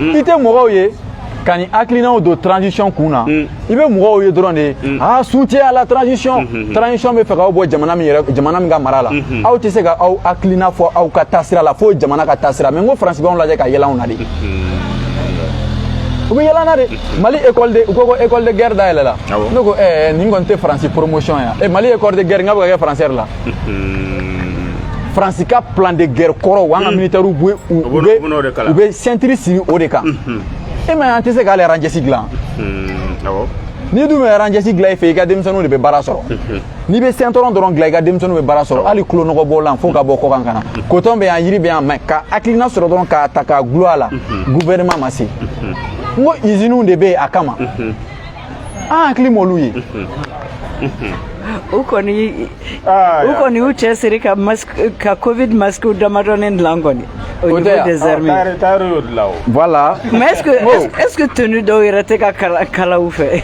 mm. i tɛ mɔgɔw ye ka nin hakilinaw don transition kun na mm. i bɛ mɔgɔw ye dɔrɔn de mm. aa soutien à la transition mm-hmm, mm-hmm. transition bɛ fɛ k'aw bɔ jamana min yɛrɛ jamana min ka mara la mm-hmm. aw tɛ se ka aw hakilina fɔ aw ka taasira la fo jamana ka taasira mais n ko faransi b'anw lajɛ ka yɛlɛ anw na de u bɛ yɛlɛ an na de mali école de u ko ko école de guerre dayɛlɛla ne ko ɛɛ nin kɔni tɛ faransi promotion ya mali école de guerre nk'a bɛ ka kɛ français yɛrɛ la faransi ka plan de guerre kɔrɔ wa an ka militaires bɛ u bɛ ceinture siri o de kan e m'a ye an tɛ se ka hali ranjɛsi dilan n'i dun bɛ ranjɛsi dilan i fɛ i ka denmisɛnninw de bɛ baara sɔrɔ n'i bɛ ceinturon dɔrɔn dilan i ka denmisɛnninw bɛ baara sɔrɔ hali tulo nɔgɔ bɔlan fo ka bɔ kɔkan ka na coton bɛ yan yiri bɛ yan mais ka hakilina sɔrɔ dɔrɔn k'a ta k'a gulon a la gouvernement ma se n ko iziniw de bɛ yen a kama an hakili m'olu ye u kɔni u kɔni y'u cɛsiri ka ka covid masques damadɔnin dilan kɔni au niveau des armées voilà mais est-ce que est-ce que tenue dɔw yɛrɛ tɛ ka kala u fɛ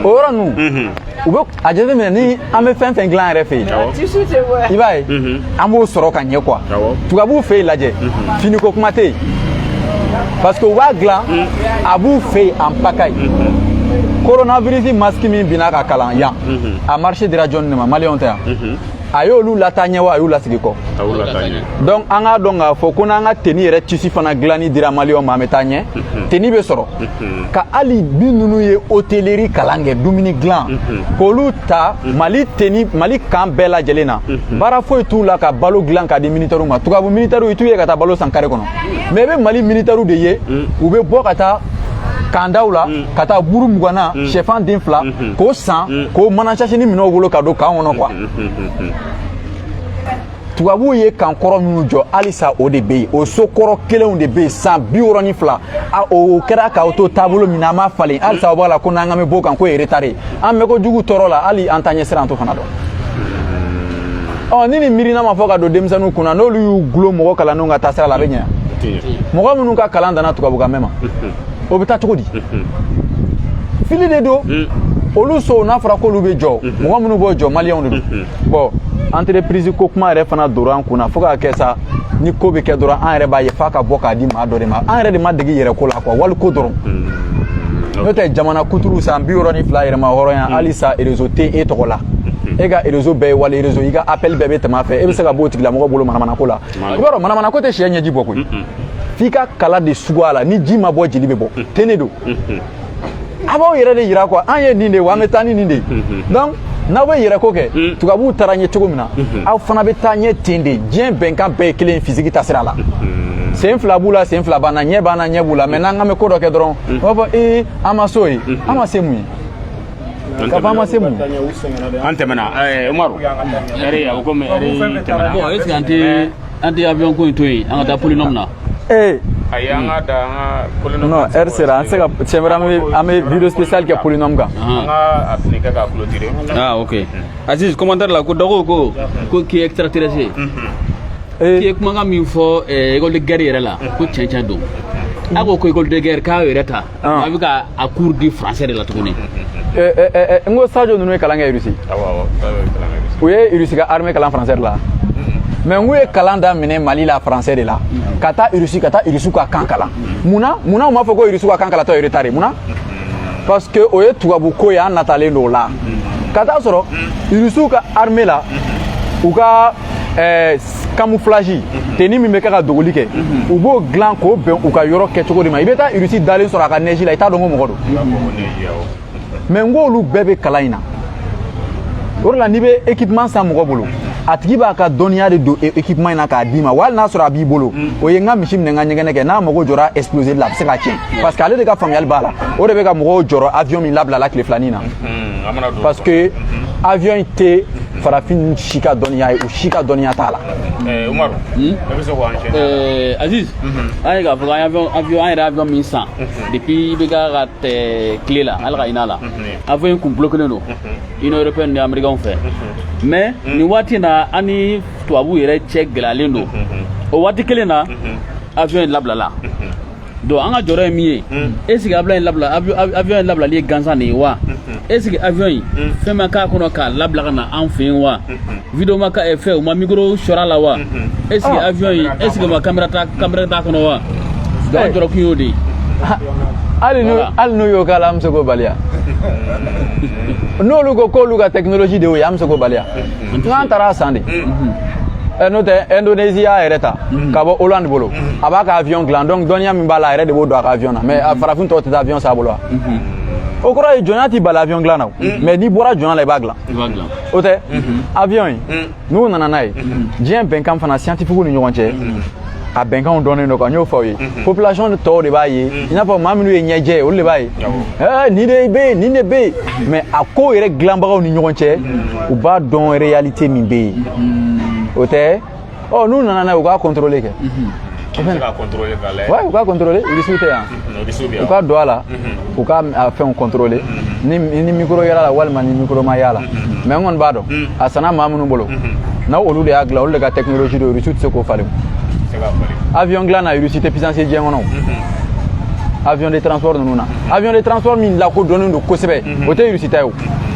o yɔrɔ ninnu u bɛ a jateminɛ ni an bɛ fɛn fɛn dilan yɛrɛ fɛ yen i b'a ye an b'o sɔrɔ ka ɲɛ quoi tubabuw fɛ yen lajɛ finiko kuma tɛ yen parce que u b'a dilan a b'u fɛ yen en pagaille coronavirus masque min binna ka kalan yan a marché dira jɔn de ma maliyɛnw tɛ yan a y'olu lataa ɲɛ wa a y'u lasigi kɔ donc an k'a dɔn k'a fɔ ko n'an ka teni yɛrɛ tisi fana dilanni dira maliyɛnw ma an bɛ taa ɲɛ mhm. teni bɛ sɔrɔ mhm. ka hali minnu ye hôtellerie kalan kɛ dumuni dilan mhm. k'olu ta mali kan bɛɛ lajɛlen na baara foyi t'u la ka balo dilan k'a di minitɛriw ma tubabu minitɛriw i t'u ye ka taa balo san kare kɔnɔ mais i bɛ mali minitɛriw de ye u bɛ bɔ ka taa kandaw la ka taa buru mugan na mm. sɛfan den fila mm-hmm. k'o san mm. k'o mana sasinin minɛ u bolo ka don kan kɔnɔ quoi mm-hmm. tubabuw ye kan kɔrɔ minnu jɔ halisa o de bɛ yen o so kɔrɔ kelenw de bɛ yen san bi wɔɔrɔ ni fila a o kɛra k'aw to taabolo min na an m'a falen halisa o b'a la ko n'an ka bɛ b'o kan k'o ye retard ye an bɛ ko jugu tɔɔrɔ la hali an taa ɲɛ sira an t'o fana dɔn. Mm-hmm. ɔ ni nin miirina ma fɔ ka don denmisɛnninw kun na n'olu y'u gulon mɔgɔ kalannenw ka taasira la a bɛ ɲɛ mɔgɔ minnu ka kalan danna tubabukan mɛn ma o bɛ taa cogo di fili de don olu sow n'a fɔra k'olu bɛ jɔ mɔgɔ minnu b'o jɔ maliyɛnw de don bon entreprise ko kuma yɛrɛ fana donna an kun na fo k'a kɛ sa ni ko bɛ kɛ dɔrɔn an yɛrɛ b'a ye f'a ka bɔ k'a di maa dɔ de ma an yɛrɛ de ma dege yɛrɛ ko la quoi wali ko dɔrɔn n'o tɛ jamana kuturu san bi wɔɔrɔ ni fila yɛrɛmahɔrɔnya halisa erezo tɛ e tɔgɔ la e ka erezo bɛɛ ye wali erezo i ka apɛli bɛɛ bɛ tɛmɛ a fɛ e bɛ se ka b'o tigilamɔgɔ bolo manamanako la i b'a dɔn manamanako tɛ cɛ ɲɛji bɔ koyi f'i ka kala de sugu a la ni ji ma bɔ jeli bɛ bɔ mm. ten de don mm-hmm. a b'aw yɛrɛ de yira quoi an ye nin de ye wa an bɛ taa ni nin de ye mm-hmm. donc n'aw bɛ yɛrɛ ko kɛ mm. tubabuw taara ɲɛ cogo min na mm-hmm. aw fana bɛ taa ɲɛ ten de diɲɛ bɛnkan bɛɛ ye kelen ye physique taasira la sen fila b'u la sen fila b'an na ɲɛ b'an na ɲɛ b'u la mais n'an k'an bɛ ko dɔ kɛ dɔrɔn u b'a fɔ ee an ma s'o ye an ma se mun ye k'a fɔ an ma se mun ye an tɛmɛna umaru heure a ko comme heure tɛmɛna bon est ce que an tɛ an tɛ avion ko in to yen an ka taa polynôme na ee ayi an ka da an ka polynôme non heure sera an tɛ se ka siɲɛ wɛrɛ an bɛ an bɛ vidéo spécial kɛ polynôme kan an ka a fini kɛ k'a clôturer ah ok Aziz commentaire la ko dɔgɔw ko ko k'i ye extraterrestre ye k'i ye kumakan min fɔ école de guerre yɛrɛ la ko tiɲɛ tiɲɛ don a ko ko école de guerre k'a yɛrɛ ta ah. a bɛ ka a cours di français de la tuguni eh, eh, eh, n ko sajo ninnu ye kalan kɛ Russie u ye Russie ka armée kalan français de la mais n k'u ye kalan daminɛ mali la français de la ka taa Russie ka taa Russie ka kan kalan mun na mun na u m'a fɔ ko Russie ka kan kalan tɔ ye retard ye mun na parce que o ye tubabu ko ye an natalen don o la ka taa sɔrɔ Russie ka armée la u ka ɛɛ camouflage mhm. tenue min bɛ kɛ ka dogoli kɛ mhm. u b'o dilan k'o bɛn u ka yɔrɔ kɛcogo de ma i bɛ taa Russe dalen sɔrɔ a ka neige la i t'a dɔn ko mɔgɔ don mais n k'olu bɛɛ bɛ kalan in na o de la n'i bɛ équipement san mɔgɔ bolo a tigi b'a ka dɔnniya de don équipement e- in na k'a d'i ma wa hali n'a sɔrɔ a b'i bolo mm. o ye n ka misi minɛ n ka ɲɛgɛnɛ kɛ n'a mago jɔra exploseli la a bɛ se k'a tiɲɛ mm. parce que ale de ka faamuyali b'a la o de bɛ ka mɔgɔw jɔrɔ avion min labilala tile fila nin na mm-hmm. parce que mm-hmm. avion in tɛ farafin si ka dɔnniya ye u si ka dɔnniya t'a la eh, umaru hmm? e bɛ se k'o enchaîner eh, aziz mhm. an ye k'a fɔ an yɛrɛ avion min san mhm. depuis IBK ka tile la ala ka hinɛ a la mhm. avion in kun bloquelen don union européenne ni américain fɛ mais nin waati in na an ni tubabuw yɛrɛ cɛ gɛlɛyalen don o waati kelen na avion in labilala donc an ka jɔrɔ ye min ye est ce que avion in labilali ye gansan de ye wa est ce que avion in fɛn ma k'a kɔnɔ k'a labila ka na an fɛ yen wa vidéo ma eh, fɛ u ma micro sɔrɔ a la wa est ce que ah. avion in est ce que ma caméra t'a kɔnɔ wa an jɔrɔ kun y'o de ye hali n'u y'o k'a la an bɛ se k'o bali wa n'olu ko k'olu ka technologie de y'o ye an bɛ se k'o bali wa an taara a san de Eh, n'o tɛ indonésie y'a yɛrɛ ta mhm. ka bɔ hollande bolo mhm. a b'a ka avion dilan donc dɔnniya min b'a la a yɛrɛ de b'o don a ka avion na mais mhm. farafin tɔw tɛ taa avion san a bolo wa o kɔrɔ ye jɔnya t'i bali avion dilan na o mais n'i bɔra jɔnya la i b'a dilan o tɛ avion ye n'u nana n'a ye diɲɛ bɛnkan fana scientifiquew ni ɲɔgɔn cɛ a bɛnkanw dɔnnen don quoi n y'o fɔ aw ye mhm. population tɔw de b'a ye mhm. i n'a fɔ maa minnu ye ɲɛjɛ ye olu de b'a ye eh, nin de bɛ yen nin de bɛ yen mhm. mais a ko yɛrɛ dilanbagaw ni ɲɔgɔn cɛ u b'a dɔn réalité min bɛ yen o tɛ ɔ n'u nana n'a ye u k'a contrôler kɛ u k'a contrôler u k'a contrôler irisiw tɛ yan u ka don a la u ka fɛnw contrôler ni ni micro y'a la walima ni micro ma y'a la mais n kɔni b'a dɔn a sanna maa minnu bolo na olu de y'a dilan olu de ka technologie don irisiw tɛ se k'o falen avion dilan na russie tɛ puissance ye diɲɛ kɔnɔ avion de transport ninnu na avion de transport min lakodɔnnen don kosɛbɛ o tɛ russie ta ye o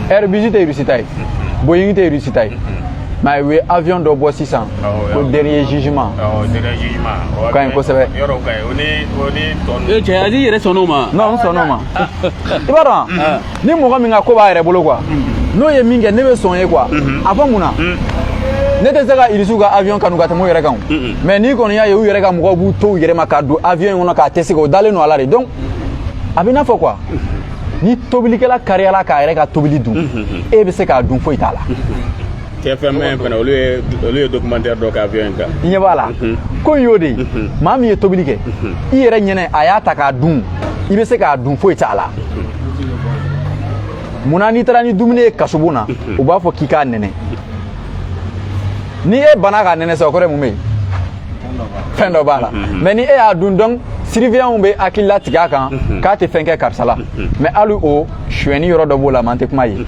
airbus tɛ russie ta ye boeing tɛ russie ta ye mais u ye avion dɔ bɔ sisan ko dernier jugement o ka ɲi kosɛbɛ ee cɛ aziz yɛrɛ sɔnna o ma non n sɔnna o ma i b'a dɔn ni mɔgɔ min ka ko b'a yɛrɛ bolo quoi n'o ye min kɛ ne bɛ sɔn ye quoi a fɔ mun na ne tɛ se ka irisiw ka avion kanu ka tɛmɛ u yɛrɛ kan mais n'i kɔni y'a ye u yɛrɛ ka mɔgɔw b'u to u yɛrɛ ma ka don avion in kɔnɔ k'a tester u dalen don a la de donc a bɛ i n'a fɔ quoi ni tobilikɛla kariyala k'a yɛrɛ ka tobili dun e bɛ se k'a dun foyi t'a la tfm fana olu ye olu ye documentaire dɔ kɛ avion in kan i ɲɛ b'a la ko in y'o de ye maa min ye tobili kɛ i yɛrɛ ɲɛna a y'a ta k'a dun i bɛ se k'a dun foyi t'a la munna n'i taara ni dumuni ye kasobon na u b'a fɔ k'i k'a nɛnɛ ni e banna k'a nɛnɛ sa o kɔrɔ ye mun bɛ yen fɛn dɔ b'a la mais ni e y'a dun dɔrɔn surveillantw bɛ hakili latigɛ a kan k'a tɛ fɛn kɛ karisa la mais hali o suyɛni yɔrɔ dɔ b'o la man tɛ kuma ye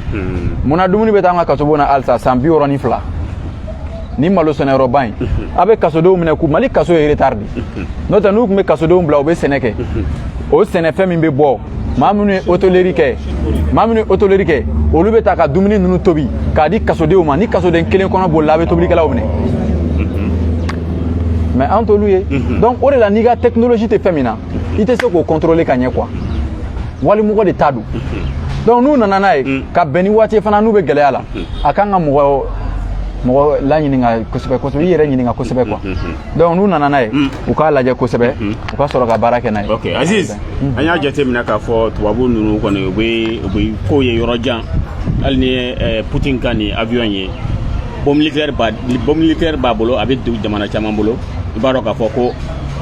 munna dumuni bɛ taa an ka kasobon na halisa san bi wɔɔrɔ ni fila ni malo sɛnɛyɔrɔba in a bɛ kasodenw minɛ k'u mali kaso ye retard de n'o tɛ n'u tun bɛ kasodenw bila u bɛ sɛnɛ kɛ o sɛnɛfɛn min bɛ bɔ maa minnu ye hôtellerie kɛ maa minnu ye hôtellerie kɛ olu bɛ taa ka dumuni ninnu tobi k'a di kasodenw ma ni kasoden kelen kɔnɔ bolila a bɛ tobilikɛlaw minɛ mais an t'olu ye donc o de la n'i ka technologie tɛ fɛn min na i tɛ se k'o contrôler ka ɲɛ quoi walimɔgɔ de ta don donc n'u nana n'a ye ka bɛn ni waati ye fana n'u bɛ gɛlɛya la a kan ka mɔgɔ mɔgɔ laɲininka kosɛbɛ kosɛbɛ i yɛrɛ ɲininka kosɛbɛ quoi donc n'u nana n'a ye mm. u k'a lajɛ kosɛbɛ mm-hmm. u ka sɔrɔ ka baara kɛ n'a ye ok aziz mm-hmm. an y'a jateminɛ k'a fɔ tubabu ninnu kɔni u bɛ u bɛ kow ye yɔrɔ jan hali ni ye eh, putin ka nin avion ye bombe nucléaire b'a bombe nucléaire b'a bolo a bɛ jamana caman bolo i b'a dɔn k'a fɔ ko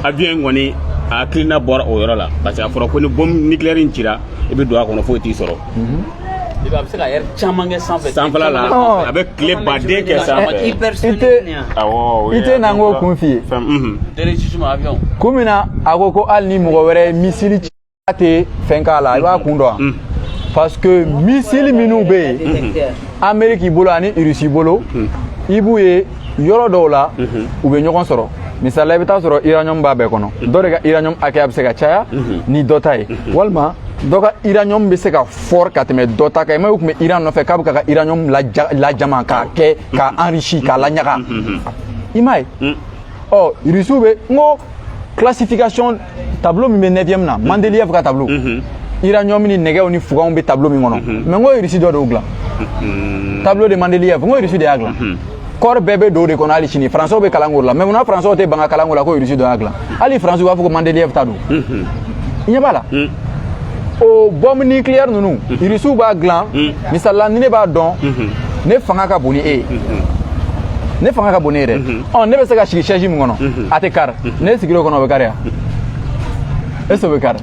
avion in kɔni a hakilina bɔra o yɔrɔ la parce que a fɔra ko ni bombe nucléaire in cira i bɛ don a kɔnɔ foyi t'i sɔrɔ mm-hmm. I b'a ye a bɛ se ka heure caman kɛ sanfɛ sanfɛla la Ɔn. a bɛ tile baden kɛ sanfɛ I tɛ awɔ i tɛ na n k'o kun f'i ye fɛn mhm. kun min na a ko ko hali ni mɔgɔ wɛrɛ ye misili ci a tɛ fɛn k'a la i b'a kun dɔn wa Mm. parce que misili minnu bɛ yen ameriki bolo ani irisi bolo i b'u ye yɔrɔ dɔw la mhm. u bɛ ɲɔgɔn sɔrɔ misali la i bɛ taa sɔrɔ uranium b'a bɛɛ kɔnɔ mhm. dɔ de ka uranium hakɛya bɛ se ka caya mhm. ni dɔ ta ye walima dɔ ka uranium bɛ se ka fort ka tɛmɛ dɔ ta kan i m'a ye u tun bɛ iran nɔfɛ k'a bɛ k'a ka uranium lajama k'a kɛ k'a enrichi k'a laɲaga i m'a ye ɔ rusiw bɛ n ko classification tableau min bɛ 9e na Mendeleev ka tableau uranium ni nɛgɛw ni fuganw bɛ tableau min kɔnɔ mais n ko Russie dɔ de y'o dilan tableau de Mendeleev n ko Russie de y'a dilan corps bɛɛ bɛ don o de kɔnɔ hali sini faransiw bɛ kalan k'o la mais munna faransiw tɛ ban ka kalan k'o la ko Russie dɔ y'a dilan hali faransiw b'a fɔ ko Mendeleev ta don i ɲɛ b'a la o bɔmu nucléaire ninnu Russie b'a dilan misali la ni ne b'a dɔn ne fanga ka bon ni e ye ne fanga ka bon ni e ye dɛ ɔ ne bɛ se ka sigi sɛji min kɔnɔ a tɛ kari n'e sigir'o kɔnɔ o bɛ kari wa est ce que o bɛ kari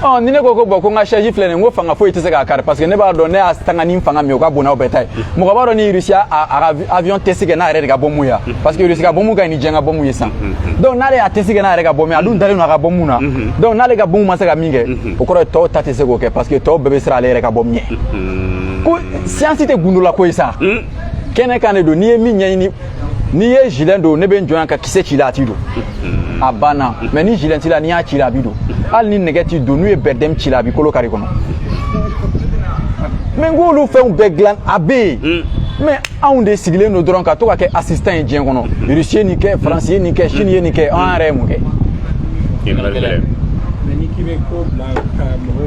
ɔ ni ne ko ko bon ko n ka sɛji filɛ nin ye n ko fanga foyi tɛ se k'a kari parce que ne b'a dɔn ne y'a tanga ni fanga min ye o ka bon n'aw bɛɛ ta ye mɔgɔ b'a dɔn ni rusi y'a ka avion tɛsi kɛ n'a yɛrɛ de ka bɔmu ye parce que rusi ka bɔmu ka ɲi ni diɲɛ ka bɔmu ye sisan donc n'ale y'a tɛsi kɛ n'a yɛrɛ ka bɔmu ye a dun dalen don a ka bɔmu na donc n'ale ka bɔmu ma se ka min kɛ o kɔrɔ ye tɔw ta tɛ se k'o kɛ parce que tɔw bɛɛ bɛ siran ale yɛrɛ ka bɔmu ɲɛ ko siyansi tɛ gundolako ye sa kɛnɛ kan de don n'i ye min ɲɛɲini n'i ye zilɛn don ne bɛ n jɔ yan ka kisɛ ci la a t'i don a banna mɛ ni zilɛn t'i la n'i y'a ci la a b'i don hali ni nɛgɛ t'i don n'u ye bɛrɛdɛmu ci la a b'i kolo kari kɔnɔ mɛ n k'olu fɛnw bɛɛ dilan a bɛ yen hmm. mɛ anw de sigilen don dɔrɔn ka to ka kɛ asistan ye diɲɛ kɔnɔ rusi ye nin kɛ faransi ye nin kɛ sini ye nin kɛ an yɛrɛ ye mun kɛ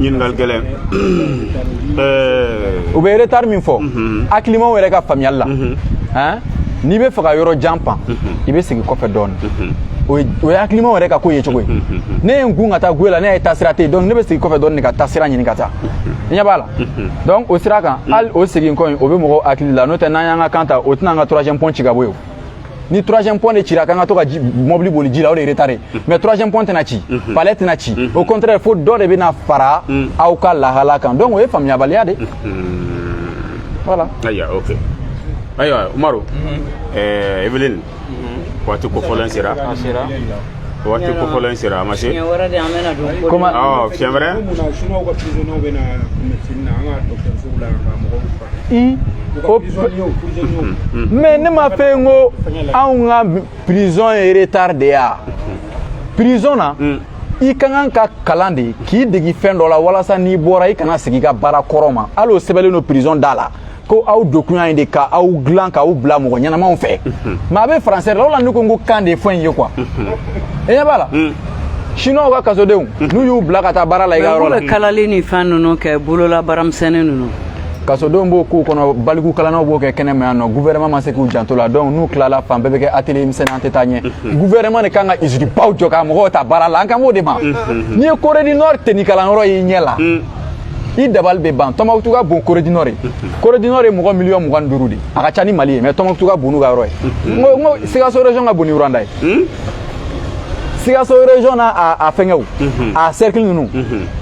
ɲininkali gɛlɛn euh, u bɛ retard min fɔ mhm. hakilimaw yɛrɛ ka faamuyali la mhm. hein? n'i bɛ fɛ ka yɔrɔ jan pan mhm. i bɛ segin kɔfɛ dɔɔni o ye hakilimaw yɛrɛ ka ko ye cogo ye ne ye n kun ka taa guwe la ne y'a ye taasira tɛ yen donc ne bɛ segin kɔfɛ dɔɔni de ka taasira ɲini ka taa i ɲɛ b'a la donc o sira kan hali o segin kɔ in o bɛ mɔgɔw hakili la n'o tɛ n'an y'an ka kan ta o tɛna an ka troisième pont ci ka bɔ yen o ni troisième pont de cira k'an ka to ka mɔbili boli ji la o de retard ye mhm. mais troisième pont tɛna ci mhm. palais tɛna ci mhm. au contraire fo dɔ de bɛna fara aw ka lahala kan donc o ye faamuyabaliya de voilà ayiwa ok ayiwa umaru eh, evelyn waati kofɔlen sera waati kofɔlen sera a ma se fiɲɛ wɛrɛ i ko mais ne m'a fɔ n ko anw ka prison ye retard de ya prison na i ka kan ka kalan de k'i degi fɛn dɔ la walasa n'i bɔra i kana segin i ka baara kɔrɔ ma hali o sɛbɛnlen don prison da la ko aw donkun yan ye de ka aw dilan k'aw bila mɔgɔ ɲɛnamaw fɛ mɛ a bɛ faransɛ de la o la ne ko n ko kan de ye fɛn in ye quoi i ɲɛ b'a la chinois ka kasodenw n'u y'u bila ka taa baara la i ka yɔrɔ la kalali ni fɛn ninnu kɛ bolola baaramisɛnnin ninnu kasodenw b'o k'u kɔnɔ baliku kalannaw b'o kɛ kɛnɛma yan nɔ gouvernement ma se k'u janto la donc n'u tilala fan bɛɛ bɛ kɛ atelier misɛnnin an tɛ taa ɲɛ gouvernement de kan ka usine baw jɔ ka mɔgɔw ta baara la an kan b'o de ma n'i ye corée du nord tenni kalanyɔrɔ y'i ɲɛ la i dabali bɛ ban tombouctou ka bon corée du nord ye corée du nord ye mɔgɔ miliyɔn mugan ni duuru de a ka ca ni mali ye mais tombouctou ka bon n'u ka yɔrɔ ye n ko n ko sikaso région ka bon ni rwanda ye sikaso région n'a a fɛngɛw a cercle ninnu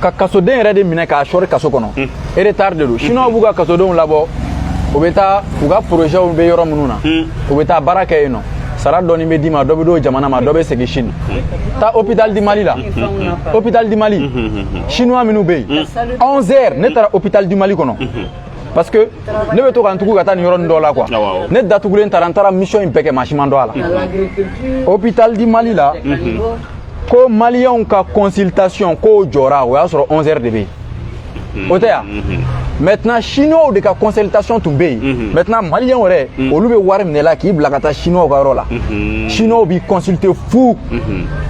ka kasoden yɛrɛ de minɛ k'a sɔri kaso kɔnɔ hmm. retard de don chine b'u ka kasodenw labɔ u bɛ taa u ka porozɛw bɛ yɔrɔ minnu na hmm. u bɛ taa baara kɛ yen nɔ sara dɔɔni bɛ d'i ma dɔ bɛ d'o jamana ma dɔ bɛ segin chine hmm. taa hôpital di mali la hôpital di mali chinois minnu bɛ yen 11 heures ne taara hôpital di mali kɔnɔ parce que ne bɛ to ka n tugu ka taa nin yɔrɔnin dɔ la quoi ne datugulen taara n taara mission in bɛɛ kɛ maa si ma n dɔn a la hôpital di mali la ko maliyɛnw ka consultation k'o jɔra o y'a sɔrɔ 11 heures de bɛ yen o tɛ yan maintenant chinois de ka consultation tun bɛ yen maintenant maliyɛnw yɛrɛ olu bɛ wari minɛ la k'i bila ka taa chinois ka yɔrɔ la chinois b'i consulter fu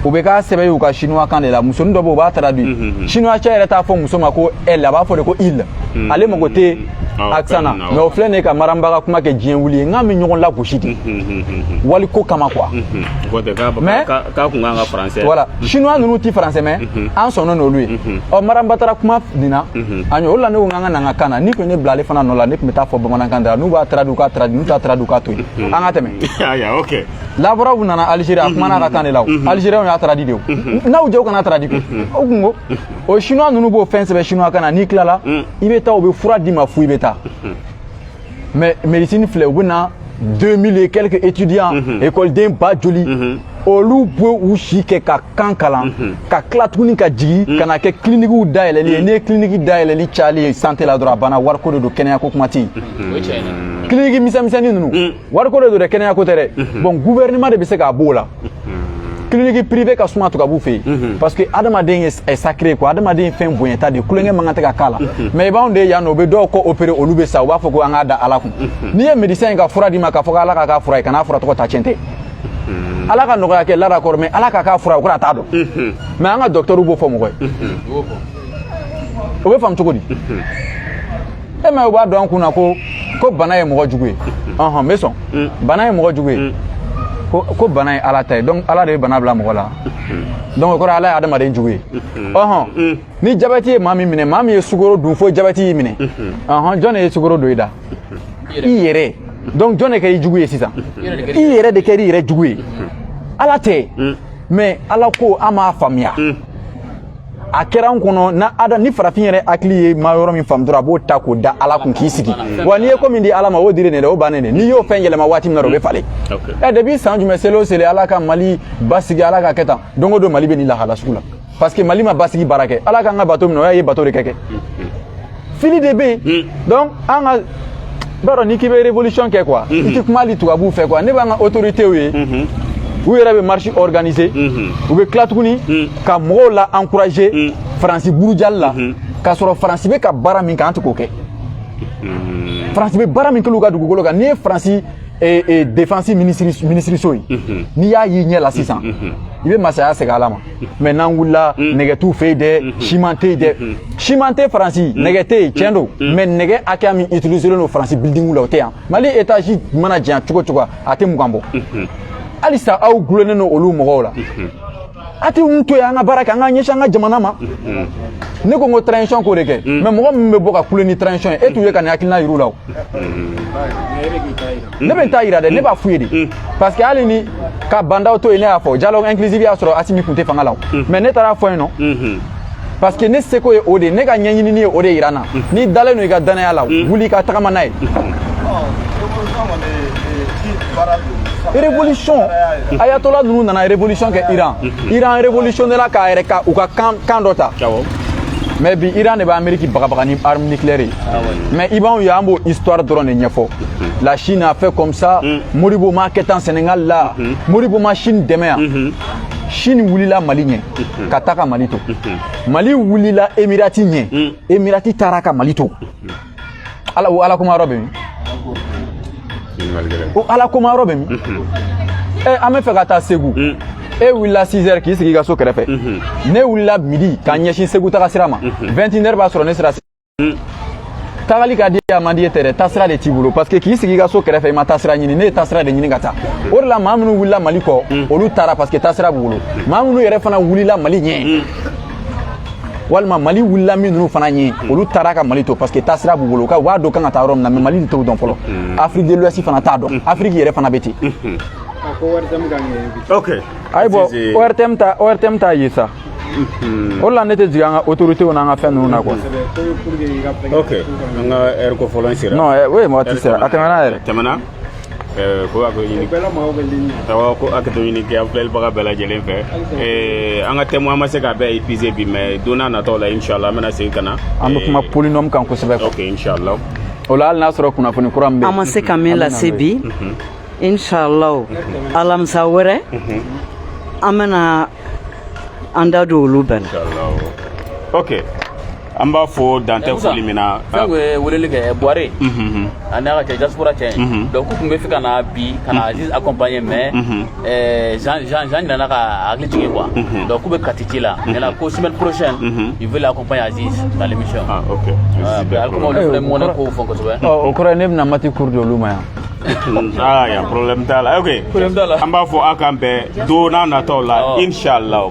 u bɛ k'a sɛbɛn u ka chinois kan de la musonin dɔ bɛ yen u b'a traduit chinois cɛ yɛrɛ t'a fɔ muso ma ko elle a b'a fɔ de ko il ale mago tɛ accent na mais o filɛ nin ka maramba ka kuma kɛ diɲɛ wuli ye n k'an bɛ ɲɔgɔn lagosi de wali ko kama quoi mais k'a kun kan ka français voilà chinois ninnu ti français mɛn an sɔnna n'olu ye ɔ maramba taara kuma nin na an o la ne ko n k'an ka na n ka kan na n'u tun ye ne bila ale fana nɔ la ne tun bɛ taa fɔ bamanankan de la n'u b'a traduit u k'a traduit n'u t'a traduit u k'a to yen an ka tɛmɛ lavrov nana algérie a kumana a ka kan de la o algériens y'a traduit de o n'aw jɛw kana traduit o kunko o chinois ninnu b'o fɛn sɛbɛn chinois kan na n'i tilala mm. i bɛ taa u bɛ fura d'i ma fu i bɛ taa mm-hmm. mais médecine filɛ u bɛ na 2000 et quelques étudiants mm-hmm. écoleden ba joli mm-hmm. olu bɛ u si kɛ ka kan kalan ka tila tuguni ka jigin mm. ka na kɛ kilinikiw dayɛlɛli ye n'i ye kiliniki dayɛlɛli cayali ye sante la dɔrɔn a banna wariko de don kɛnɛyako kuma tɛ yen kiliniki misɛnmisɛnnin ninnu wariko de don dɛ kɛnɛya ko tɛ dɛ mhm. bon gouvernement de bɛ se k'a b'o la mhm. clinique privé ka suma tubabu fɛ yen mhm. parce que adamaden ye sacré quoi adamaden ye fɛn bonyata de tulonkɛ man kan tɛ ka k'a la mais i b'anw de ye yan nɔ u bɛ dɔw kɔ opérer olu bɛ sa u b'a fɔ ko an k'a da ala kun n'i ye médecin ye ka fura d'i ma k'a fɔ ko ala k'a k'a fura ye kana fura tɔgɔ ta tiɲɛ tɛ ala ka nɔgɔya kɛ laada kɔrɔ mais ala k'a k'a fura ye o kɔrɔ a t'a dɔn mais an ka docteur b'o fɔ mɔgɔ ye o bɛ faamu cogo di e m'a ye u b'a don an kun na ko ko bana ye mɔgɔ jugu ye ɔhɔn n bɛ sɔn mm. bana ye mɔgɔ jugu ye mm. ko ko bana ye ala ta ye donc ala de bɛ bana bila mɔgɔ la mm. donc o kɔrɔ ala ye adamaden jugu ye ɔhɔn ni jabɛti ye maa min minɛ maa min ye sukoro dun fo jabɛti y'i minɛ ɔhɔn jɔn de ye sukoro don i da i yɛrɛ donc jɔn de kɛra i jugu ye sisan i yɛrɛ de kɛra i yɛrɛ jugu ye ala tɛ mais ala ko an m'a faamuya a kɛra an kɔnɔ na ada ni farafin yɛrɛ hakili ye ma yɔrɔ min faamu dɔrɔn a b'o ta k'o da ala kun k'i sigi wa n'i ye ko min di ala ma o dilen don dɛ o bannen de n'i y'o fɛn yɛlɛma waati min na o bɛ falen ɛ depuis san jumɛn seli o seli ala ka mali basigi ala k'a kɛ tan don o don mali bɛ nin lahala sugu la parce que mali ma basigi baara kɛ ala k'an ka bato mina o y'a ye bato de kɛ kɛ fili de bɛ yen donc an ka b'a rɔ n'i k'i bɛ révolution kɛ quoi i tɛ kuma hali tubabuw fɛ quoi ne b'an ka autorités ye u yɛrɛ bɛ marche organiser u bɛ tila tuguni ka mɔgɔw la encourager faransi burujali la k'a sɔrɔ faransi bɛ ka baara min kɛ an tɛ k'o kɛ faransi bɛ baara min kɛ u ka dugukolo kan n'i ye faransi défense minisiriso ye n'i y'a y'i ɲɛ la sisan i bɛ masaya segin ala ma mais n'an wulila mm. nɛgɛ t'u fɛ yen dɛ mm-hmm. siman tɛ yen dɛ mm-hmm. siman tɛ faransi mm-hmm. nɛgɛ tɛ yen tiɲɛ don mais nɛgɛ hakɛya min utiliselen don faransi bilidingu la o tɛ yan mali etazi mana janya cogo o cogo a tɛ mugan bɔ halisa aw dulonnen don olu mɔgɔw la a t'u to yen an ka baara kɛ an ka ɲɛsin an ka jamana ma ne ko n ko transition k'o de kɛ mais mɔgɔ min bɛ bɔ ka kule ni transition ye e t'u ye ka nin hakilina yir'u la o ne bɛ n ta yira dɛ ne b'a f'u ye de mm. parce que hali ni ka ba ndaw to yen ne y'a fɔ dialogue inclusive y'a sɔrɔ asimi kun tɛ fanga la mm. mais ne taar'a fɔ yen nɔ mm-hmm. parce que ne seko ye o de ye ne ka ɲɛɲinini ye o de yira n na mm. n'i dalen don i ka dannaya la wuli i ka tagama n'a ye mm-hmm. révolution ayatola ninnu nana révolution kɛ iran mm-hmm. iran révolutionnela k'a yɛrɛ ka u ka kan dɔ ta mais bi iran de bɛ ameriki bagabaga ni arme nucléaire ye mais i b'anw ye an b'o histoire dɔrɔn de ɲɛfɔ la Chine a fait comme ça mm. Modibo m'a kɛ tan Sénégal la mm-hmm. Modibo ma Chine dɛmɛ yan mm-hmm. Chine wulila Mali ɲɛ mm-hmm. ka taa ka Mali to Mali wulila Emirati ɲɛ mm. Emirati taara ka Mali to o ala kumayɔrɔ bɛ min o ala kumayɔrɔ bɛ min ɛ eh, an bɛ fɛ ka taa Segu mm. e wulila 6 heures k'i sigi i ka so kɛrɛfɛ ne wulila midi ka ɲɛsin Segu taga sira ma 21 heures b'a sɔrɔ ne sera tagali ka di a man di ye tɛ dɛ taasira de t'i bolo parce que k'i sigi i ka so kɛrɛfɛ i ma taasira ɲini ne ye taasira de ɲini ka taa o de la maa minnu wulila mali kɔ mm. olu taara parce que taasira b'u bolo maa minnu yɛrɛ fana wulila mali ɲɛ mm. walima mali wulila min ninnu fana ɲɛ mm. olu taara ka mali to parce que taasira b'u bolo u b'a dɔn u ka kan ka taa yɔrɔ min na mais mali de t'o dɔn fɔlɔ afrique de l'ouest fana t'a dɔn afiriki yɛrɛ fana bɛ ten ayi bon ortm t'a ortm t'a ye sa o la ne tɛ jigin an ka autorités n'an ka fɛn ninnu na quoi. ok an ka heure kofɔlen sera. non eh, oui waati sera a tɛmɛna yɛrɛ. tɛmɛna eh, ko a ko ɲini awɔ ko hakɛto ɲini kɛ an filɛlibaga bɛɛ lajɛlen fɛ eh, an ka thème an ma se k'a bɛɛ épuiser bi mais don na nataw la inchallah an bɛna segin ka na. an bɛ kuma polynôme kan kosɛbɛ. ok inchallah. o la hali n'a sɔrɔ kunnafoni kura min bɛ yen. an ma se ka min lase bi. Mhm. inshallah alamisa wɛrɛ an bɛna an da don olu bɛɛ la ok an b'a fɔ dan tɛ foli min na fɛnkɛ ye weleli kɛ buware a n'a ka cɛ diaspora cɛ donc u tun b'a fɛ ka na bi ka na aziz accompagner mais jean jean jean nana ka hakili jigin quoi donc k'u bɛ kati ci la maintenant ko semaine prochaine ils veulent accompagner aziz dans l'émission ah ok ali kuma olu fana mɔnɛ kow fɔ kosɛbɛ o kɔrɔ ye ne bɛna mati cours di olu ma yan aa yan problème t'a la ok an b'a fɔ a k'an bɛn don na nataw la inchallahu